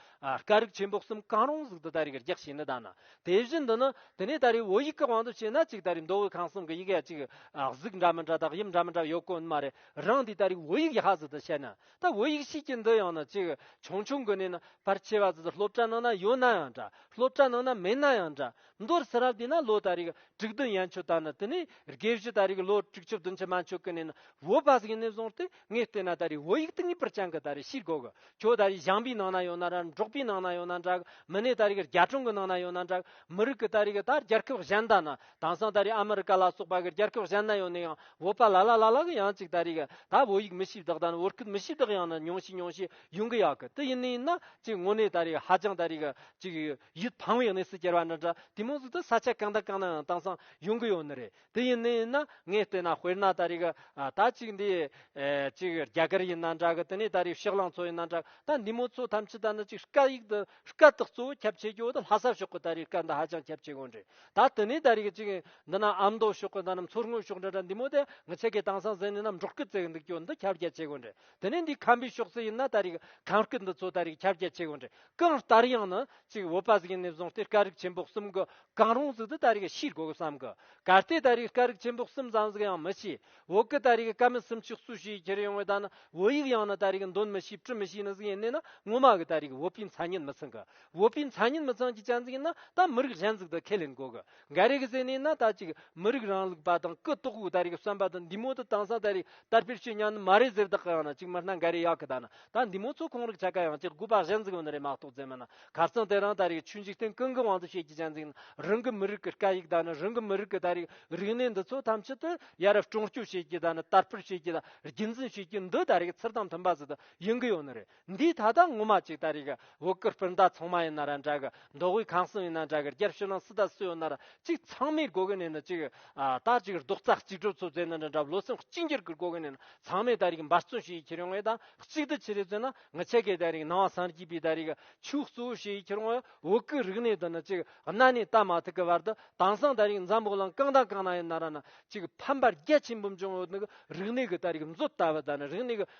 སྐད་རིགས་ཆེན་པོ་གསུམ་གང་རུང་ཟིག་འདི་ད་རེས་གི་རྒྱག་བྱེད་ནི་ད་ན་དེ་བཞིན་དུ་ནི་དེ་ནས་ད་རེས་བོད་ཡིག་གི་དབང་དུ་བྱས་ན་ཅིག་ད་རེས་མདོ་དབུས་ཁམས་གསུམ་གི་ཡི་གེ་ཅིག་གཟུགས་འདྲ་མི་འདྲ་དང་དབྱིབས་འདྲ་མི་འདྲ་ཡོད་དཀོན་ནི་མ་རེད་རང་འདི་ད་རེས་བོད་ཡིག་ཡག་ཟིག་འདི་བཤད་ན་ད་བོད་ཡིག་ཤེས་ཀྱི་འདི་ཡང་ན་ཅིག་ཆུང་ཆུང་གི་ནས་ནི་ཕར་ཆེ་བ་ཟིག་འདི་སློབ་གྲྭ་ནང་ན་ཡོད་ན་ཡང་འདྲ་སློབ་གྲྭ་ནང་ན་མེད་ན་ཡང་འདྲ། མདོར་ས་རབས་དེ་ན་ལོ་ད་རིག་དྲུག་བདུན་ཡན་ཆོད་ད་ནི་དེ་ནས་དགེ་བཤེས་ད་རིག་ལོ་དྲུག་ཅུ་བདུན་ཅུ་མན་ཆོད་ཀི་ནས་ན་བོད་པ་ཟིག་ནས་བཟུང་སྟེ་ངས་བལྟས་ན་ད་རིག་བོད་ཡིག་ཏུ་ངེས་པར་ཅང་གི་ད་རིག་ཤེས་དགོས་གི་ཁྱོད་ད་རིག་ཞང་པའི་ནང་ན་ཡོད་ན་ར་འབྲོག་པའི་ནང་ན་ཡོད་ན་འདྲ་གི་མི་ནས་ད་རིག་རྒྱ་གྲོང་གི་ནང་ན་ཡོད་ན་འདྲ་གི་མི་རིགས་ཀི་ད་རིག་ད་རྒྱལ་ཁབ་གཞན་ད་ན་དང་སང་ད་རིག་ཨ་མི་རི་ཀ་ལ་སོགས་པ་གི་རྒྱལ་ཁབ་གཞན་ན་ཡོད་ནས་ཡང་བོད་པ་ལ་ལ་ལ་ལ་གི་ཡང་ཅིག་ད་རིག་ད་བོད་ཡིག་མི་ཤེས་བདག་ད་ནི་བོད་སྐད་མི་ཤེས་བདག་ཡང་ན་ཉུང་ཤས་ཉུང་ཤས་ཡོང་གི་ཡག་གི་དེ་ཡིན་ནས་ཡིན་ན་ཅིག་དངོས་གནས་ད་རིག་ཧ་ཅང་ད་རིག་ཅིག་ཡིད་ཕངས་བའི་གནས་སུ་གྱར་བ་འདྲ་འདྲ་དེ་མོ་ཟུག་ཏུ་ས་ཆ་གང་དང་གང་ནའང་དྭངས་སང་ཡོང་གི་ཡོད་ནི་རེད་དེ་ཡིན་ནི་ཡིན་ན་ངས་བལྟས་ན་དཔེར་ན་ད་རེས་ད་ཅིག་འདི་ཅིག་རྒྱ་གར་ཡིན་ན་འདྲ་གི་དེ་ནས་ད་རེས་ཕྱག་གླང་ཚོ་ཡིན་ན་འདྲ་གི་ད་འདི་མོ་ཚོ་ཐམས་ཅད་ད་ནི་ཅིག་སྐད་ཡིག་འདི་སྐད་དག་གཙོ་བོ་ཁྱབ་ཆེ་རྒྱུ་འདི་ལྷ་ས་ཕྱོགས་ཀྱི་ད་རེས་སྐད་འདི་ཧ་ཅང་ཁྱབ་ཆེ་གི་འདྲ་ད་དེ་ནས་ད་རེས་ཅིག་འདི་ན་ཨ་མདོ་ཕྱོགས་གི་ད་ནི་མཚོ་སྔོན་ཕྱོགས་འདྲ་འདྲ་འདི་མོ་དེ་ངི་ཆད་ཀྱི་དྭངས་སང་ཟེར་ནི་ནམ་འབྲོག་གི་རྩེ་གི་འདུག་རྒྱུ་འདི་ཁྱབ་རྒྱ་ཆེ་གི་འདྲ་དེ་ནས་འདི་ཁམ་པའི་ཤོག་རྩི་ཡིན་ན་ད་རེས་ཁམ་སྐད་འདི་ཚོ་ད་རེས་ཁྱབ་རྒྱ་ཆེ་གོ་འདྲི་གང་ལྟར་ཡང་ནི་ཅིག་བོད་པ་ཟིག་ཡིན་ནས་བཟུང་སྟེ་སྐད་རིགས་ཆེན་པོ་གསུམ་གི་གང་རུང་ཟིག་འདི་ད་རེས་ཤེས་དགོས་བསམ་གི་གལ་ཏེ་ད་རེས་སྐད་རིགས་ཆེན་པོ་གསུམ་ཙམ་ཟིག་ཡང་མི་ཤེས་བོད་སྐད་ད་རེས་སྐད་མི་སུམ་ཅུ་སུ་ཞིག་ཁྱེར་ཡོང་བའི་ད་ནི་བོད་ཡིག་ཡང་ནི་ད་རེས་འདོན་མི་ཤེས་བྲི་མི་ཤེས་ནི་ཟིག་ཡིན་ནས་ན་ངོ་མ་གི་ད་རེས་བོད་པའི་མཚན་ཉིད་མི་ཚང་གི་བོད་པའི་མཚན་ཉིད་མི་ཚང་གི་ཅན་ཟིག་ཡིན་ན་ད་མི་རིགས་གཞན་ཟིག་འདི་ཁས་ལེན་དགོས་གི། འགའ་རེ་གི་སེམས་ནས་ན་ད་ཅིག་མི་རིགས་རང་ལུགས་པ་དང་སྐུ་གཏོགས་བུ་ད་རེ་གི་བསམ་པ་དང་འདི་མོ་དང་དང་སང་ད་རེ་དར་སྤེལ་བྱེད་སྙམ་ནི་མ་རེད་ཟེར་བདག་གི་ཡང་ན་ཅིག་མི་སྣ་འགའ་རེ་ཡག་གི་ད་ན་ད་འདི་མོ་ཚོ་གང་རིགས་ཆ་ག་ཡང་ཅིག་དགོས་པ་གཞན་འཛིན་ཡོད་ནི་རེད་མ་གཏོགས་རྫས་མི་སྣ་གར་རྩང་དེ་རང་ད་རེ་གི་ཆོས་འཇིག་རྟེན་ཀུན་གི་དབང་དུ་བྱེད་ཀྱི་གཞན་འཛིན་ན་རང་གི་མི་རིགས་ཀྱི་སྐད་ཡིག་ད་ནི་རང་གི་མི་རིགས་ཀྱི་ད་རེ་གི་རིག་གནས་འདི་ཚོ་ཐམས་ཅད་དུ་ཡ་རབས་གྲོང་སྐྱོད་བྱེད་ཀྱི་ད་ནི་དར་སྤེལ་བྱེད་ཀྱི་ད་རྒྱུན་འཛིན་བྱེད་ཀྱི་འདི་ད་རེ་གི་ཚུར་དང་མཐུན་པ་ཟིག་ཏུ་ཡིན་གི་ཡོད་ནི་རེད། འདིའི་ད་ལྟ་ངོ་མ་ཅིག་ད་རེས་ཀྱི་བོད་སྐུ་སྤུན་ཟླ་ཚང་མ་ཡིན་ན་ར་འདྲ་གི་མདོ་དབུས་གང་གསུམ་ཡིན་ན་འདྲ་གི་རྒྱབ་ཕྱི་ནང་སུ་དང་སུ་ཡོད་ན་ར་གཅིག་ཚང་མའི་དགོ་གི་ནས་ནི་ཅིག་ད་ཅིག་རྡོག་རྩ་གཅིག་སྒྲུབ་ཚོ་བཙལ་ན་འདྲ་འདྲ་ལོ་སེམས་གཅིག་འགྱུར་གི་དགོ་གི་ནས་ནི་ཚང་མས་ད་རེས་ཀྱི་འབར་བརྩོན་བྱེད་ཡི་ཁྱེར་ཡོང་ཡོད་ད་གཅིག་ཏུ་ཆི་རེ་བཙལ་ན་ནི་ཆེ་གེ་ད་རེས་ཀྱི་ནང་བ་སངས་རྒྱས་པའི་ད་རེས་ཀྱི་ཆོས་གཙོ་བོ་བྱེད་ཡི་ཁྱེར་ཡོང་ཡོད་བོད་སྐུའི་རིག་གནས་དུ་ནི་ཅིག་གནའ་ནས་ད་མ་ཐུག་གི་བར་དུ་དྭངས་སངས་ད་རེས་ཀྱི་འཛམ་བུ་གླིང་གང་དང་གང་ན་ཡོད་ན་ར་ནི་ཅིག་ཕམ་པར་རྒྱ་ཆེན་པོ་འབྱུང་ཡོད་ནི་གི་རིག་གནས་ཀྱི་ད་རེས་ཀྱི་མཛོད་ལྟ་བུ་ད་ནི་རིག་གནས་ཀྱི་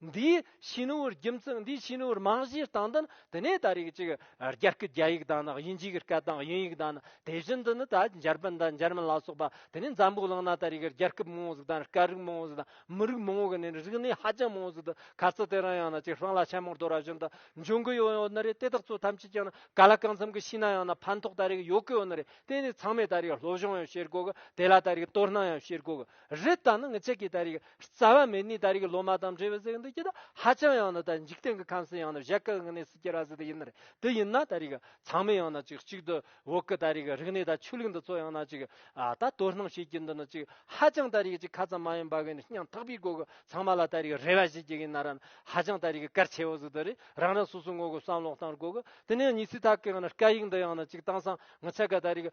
འདིའི་ཕྱི་ནང་བར་རྒྱུ་མཚན་འདིའི་ཕྱི་ནང་བར་རྨང་གཞིའི་སྟངས་འདི་ནི་དེ་ནས་ད་རེས་ཀྱི་རྒྱ་སྐད་རྒྱ་ཡིག་དང་ནི་དབྱིན་ཇིའི་སྐད་དང་དབྱིན་ཡིག་དང་ནི་དེ་བཞིན་དུ་ནི་ད་འཇར་པན་དང་འཇར་མན་ལ་སོགས་པ་དེ་ནས་འཛམ་བུ་གླིང་ན་ད་རེས་ཀྱི་རྒྱལ་ཁབ་མང་བོ་ཟིག་དང་སྐད་རིགས་མང་བོ་ཟིག་དང་མི་རིགས་མང་བོ་གི་ནི་རིག་གནས་ཧ་ཅང་མང་བོ་ཟིག་ཏུ་ག་ཚོད་དེ་རང་ཡང་ན་ཅིག་ཧྲང་ལ་ཆེན་མོར་དོ་ར་བཞིན་དུ་འབྱུང་གི་ཡོད་ཡོད་ནི་རེད་དེ་དག་ཚོ་ཐམས་ཅད་ཀྱང་ནི་ག་ལ་གང་འཚམ་གྱི་ཤེས་ན་ཡང་ན་ཕན་ཐོགས་ད་རེས་ཀྱི་ཡོད་ཀྱི་ཡོད་ནི་རེད་དེ་ནི་ཚང་མས་ད་རེས་ཀྱི་སློབ་སྦྱོང་ཡང་བྱེད་དགོས་གི་དེ་ལ་ད་རེས་ཀྱི་དོ་སྣང་ཡང་བྱེད་དགོས་གི་རི་དྭགས་ནི་ངི་ཆད་ཀྱི་ད་རིགས་རྩ་བ་མེད་ནི་ད་རིགས་ལོ་མ་དང་འབྲེལ་བའི་གཟེགས་འདི་ཀྱི་ད་ཧ་ཅང་ཡང་ན་ད་འཇིག་རྟེན་གྱི་ཁམས་སུ་ཡང་ན་བཞད་དཀའི་ངི་ནི་སུ་སྐྱེ་ར་ཟི་དེ་ཡིན་ནི་དེ་ཡིན་ན་ད་རིགས་ཚང་མས་ཡང་ན་ཅིག་གཅིག་ཏུ་འོག་གི་ད་རིགས་རིགས་ནི་ད་ཆུ་ལུག་འདི་ཚོ་ཡང་ན་ཅིག་ད་དོ་སྣང་བྱེད་ཀྱི་འདི་ནི་ཅིག་ཧ་ཅང་ད་རིགས་ཅིག་ཁ་ཙམ་མ་ཡིན་པ་གི་ནི་སྙིང་ཐག་པའི་སྒོ་གི་ཚང་མ་ལ་ད་རིགས་རེ་བ་བྱེད་ཀྱི་ཡིན་ན་ར་ནི་ཧ་ཅང་ད་རིགས་གལ་ཆེ་བོ་ཟི་དེ་རི་རང་རང་སོ་སོའི་ངོ་གི་བསམ་བློ་དང་སྒོ་གི་དེ་ནས་ངི་སི་ད་གི་ངི་ནི་སྐད་ཡིག་འདི་ཡང་ན་ཅིག་དྭངས་སང་ངི་ཆད་ཀ་ད་རིགས་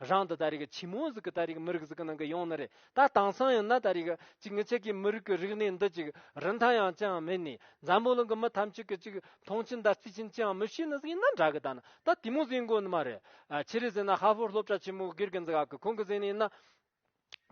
རང་དང་ད་རེས་ཀྱི་ཆི་མོ་ཟིག་གི་ད་རེས་ཀྱི་མི་རིགས་ཟིག་གི་ནང་གི་ཡོང་ན་རེད་ད་དེང་སང་ཡིན་ན་ད་རེས་ཀྱི་ཅིག་ངེད་ཅག་གི་མི་རིགས་ཀྱི་རིག་གནས་འདི་ཅིག་རིན་ཐང་ཡང་ཅིའང་མེད་ནས་འཛམ་བུ་གླིང་གི་མི་ཐམས་ཅད་ཀྱི་ཅིག་མཐོང་ཆེན་ཟླ་རྩིས་ཆེན་ཅིའང་མི་ཤེས་ན་ཟིག་ཡིན་ན་འདྲ་གི་ད་ནི་ད་དེ་མོ་ཟིག་མགོ་ནི་མ་རེད་ཕྱི་རེས་ཟིན་ན་ཧ་ཧྥོར་སློབ་གྲྭ་ཆེན་མོ་སྒེར་གྱི་འཛི་ག་གི་ཁོང་གི་ཟིག་ནི་ཡིན་ན།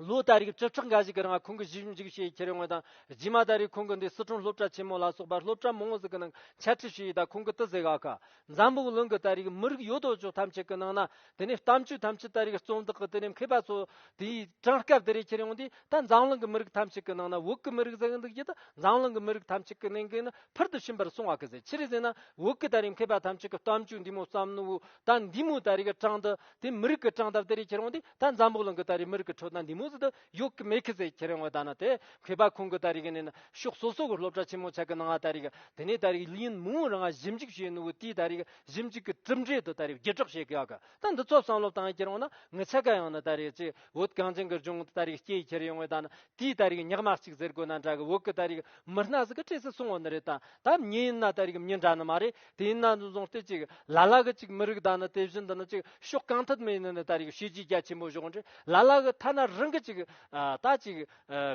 ལོ་ལྟར་རིགས་བཅུ་ཕྲག་འགའ་ཞིག་གི་རིང་ཁོང་གི་གཞིས་བཞུགས་འཇིགས་བྱེད་ཁྱེར་ཡོང་བ་དང་རྗེས་མ་ད་རེས་ཁོང་གི་འདི་སི་ཁྲོན་སློབ་གྲྭ་ཆེན་མོ་ལ་སོགས་པར་སློབ་གྲྭ་མང་བོ་ཟིག་གི་ནང་འཆད་ཁྲིད་ཞུས་ཡོད་ད་ཁོང་གི་ཏི་ཟེ་ག་ཁ་འཛམ་བུ་གླིང་གི་ད་རེས་མི་རིགས་ཡོད་དོ་ཅོག་ཐམས་ཅད་གི་ནང་ན་དེ་ནས་གཏམ་བརྗོད་ཐམས་ཅད་ད་རེས་རྩོམ་དག་གི་དེ་ནས་མཁས་པ་ཚོ་དེའི་གྲངས་སྐབས་དེ་རེས་ཁྱེར་ཡོང་དུས་ད་འཛམ་གླིང་གི་མི་རིགས་ཐམས་ཅད་གི་ནང་ན་བོད་གི་མི་རིགས་ཟེག་འདུག་ཅེས་ད་འཛམ་གླིང་གི་མི་རིགས་ཐམས་ཅད་གི་ནང་གི་ནི་ཕུལ་དུ་ཕྱིན་པར་སོང་བ་གི་ཟེར་ཕྱིར་ཟེར་ན་བོད་གི་ད་རེས་མཁས་པ་ཐམས་ཅད་གི་གཏམ་བརྗོད་འདི་མོ་བསམ་ནོ་འོ་ད་འདི་མོ་ད་རེས་གི་གྲངས་ད་དེ་མི་རིགས་གི་གྲངས་ད་དེ་རེས་ཁྱེར་ཡོང་དུས་ད་འཛམ་བུ་གླིང་གི་ད་རེས་མི་རིགས་ཀྱི་ཁྲོད་ན་འདི་མུ་མཐུད་དུ་ཡོད་ཀྱི་མེད་ཀི་ཟེར་ཁྱེད་རང་ངོ་ད་ན་དེ་གོས་པ་ཁོང་གི་ད་རེས་ཀྱི་ནས་ན་ཕྱོགས་སོ་སོ་གི་སློབ་གྲྭ་ཆེན་མོ་ཆགས་ཀྱི་ནང་ང་ད་རེས་ཀྱི་དེ་ནས་ད་རེས་ཀྱི་ལིན་མུའུ་རང་ང་ཞིབ་འཇུག་བྱས་ཡོད་ནུ་བོ་དེས་ད་རེས་ཀྱི་ཞིབ་འཇུག་གི་གྲུབ་འབྲས་དུ་ད་རེས་བརྒྱུད་སྒྲོག་བྱེད་ཀྱི་ཡོད་ཀི་ད་འདི་ཚོ་བསམ་བློ་བཏང་ཡོད་ཁྱེད་རང་ངོ་ན་ངའི་ཚེ་ག་ཡང་ན་ད་རེས་ཀྱི་བོད་གངས་ཅན་གྱི་ལྗོངས་ད་རེས་ཀྱི་སྐྱེ་ཡི་ཁྱེད་རང་ཡོད་ངོ་ད་ན་དེས་ད་རེས་ཀྱི་ཉག་མ་གཅིག་ཟེར་དགོས་ན་འདྲ་གི་འོག་གི་ད་རེས་ཀྱི་མི་སྣ་ཟིག་གི་གྲས་སུ་སོང་བ་ནི་རེད་ད་ད་མྱི་ཡིན་ན་ད་རེས་ཀྱི་མྱི་འདྲ་ནི་མ་རེད། དེས་ན་འདུ་འཛོམས་སྟེ་གཅིག་ལ་ལ་གི་གཅིག་མི་རིགས་དང་ནི་དེ་བཞིན་དུ་ནི་གཅིག་ཕྱོགས་གང་ཐད་མི་ཡིན་ནི་ད་རེས་ཤེས་བྱའི་རྒྱ་ཆེན་པོ་ཞོག་འདྲེ་ལ་ལ་གི་ཐ་ན་རང་གི་གཅིག་ད་གཅིག་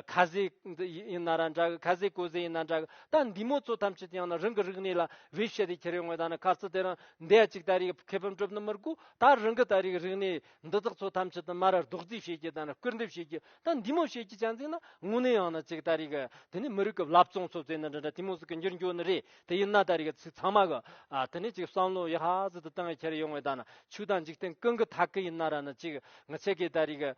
ཁ་ཟས་ཡིན་ན་ར་འདྲ་གི་ཁ་ཟས་གོས་ཟས་ཡིན་ན་འདྲ་གི་ད་འདི་མོ་ཚོ་ཐམས་ཅད་དེ་ཡང་ན་རང་གི་རིག་གནས་ལ་བེད་སྤྱད་དེ་ཁྱེར་ཡོང་བས་ད་ནི་ཁ་རྩི་དེ་རང་འདས་གཅིག་ད་རེས་ཁེ་ཕམ་གྲུབ་ནི་མི་དགོས་ད་རང་གི་ད་རེས་རིག་གནས་འདི་དག་ཚོ་ཐམས་ཅད་དུ་མར་རྡོག་རྫིས་བྱེད་རྒྱུ་དང་ནི་སྐུར་འདེབས་བྱེད་རྒྱུ་ད་འདི་མོ་བྱེད་རྒྱུ་ཅན་ཚིག་ན་དངོས་གནས་ཡང་ན་གཅིག་ད་རེས་གི་དེ་ནི་མི་རིགས་ཀི་བླ་བཙོང་ཚོ་ཚོས་ནི་འདི་འདྲ་དེ་མོ་ཟིག་གི་འགྱུར་འགྱོ་ནི་རེད་དེ་ཡིན་ན་ད་རེས་ཀྱི་ཚིག་ཚང་མ་གི་དེ་ནས་ཅིག་བསམ་བློ་ཡག་ཟིག་ཏུ་གཏོང་གི་འཁྱེར་ཡོང་བའི་ད་ན་ཆུ་དང་འཇིག་རྟེན་ཀུན་གྱི་ཐ་གི་ཡིན་ན་ར་ན་ཅིག་ངི་ཆད་ཀྱི་ད་རེས་ཀྱི་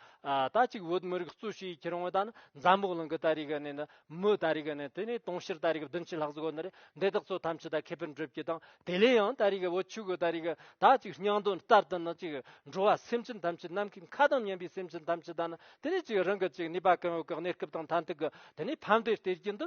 ད་ཅིག་བོད་མི་རིགས་གཙོས་ཤིག་འཁྱེར་ཡོང་བའི་ད་ན་འཛམ་བུ་གླིང་གི་ད་རེས་ཀྱི་ནས་ནི་མི་ད་རེས་ཀྱི་ནས་དེ་ནས་དུང་ཕྱུར་ད་རེས་ཀྱི་བདུན་ཕྱི་ལྷག་ཟིག་གོ་ནི་རེད་འདི་དག་ཚོ་ཐམས་ཅད་ད་ཁེ་ཕན་སྒྲུབ་ཀྱི་དང་དེ་ལས་ཡང་ད་རེས་ཀྱི་བུ་ཆུ་གི་ད་རེས་ཀྱི་ད་ཅིག་སྙིང་དོན་ལྟར་དུ་ནི་ཅིག་འགྲོ་བ་སེམས་ཅན་ཐམས་ཅད་ནམ་མཁའི་མཁའ་དང་མཉམ་པའི་སེམས་ཅན་ཐམས་ཅད་ད་ནི་དེ་ནས་ཅིག་རང་གི་ཅིག་ནུས་པ་གང་ཡོད་ཀྱི་གནས་སྐབས་དང་ཐ་མཐུན་གྱི་དེ་ནས་ཕམ་འབྲས་སྟེར་གྱིན་དུ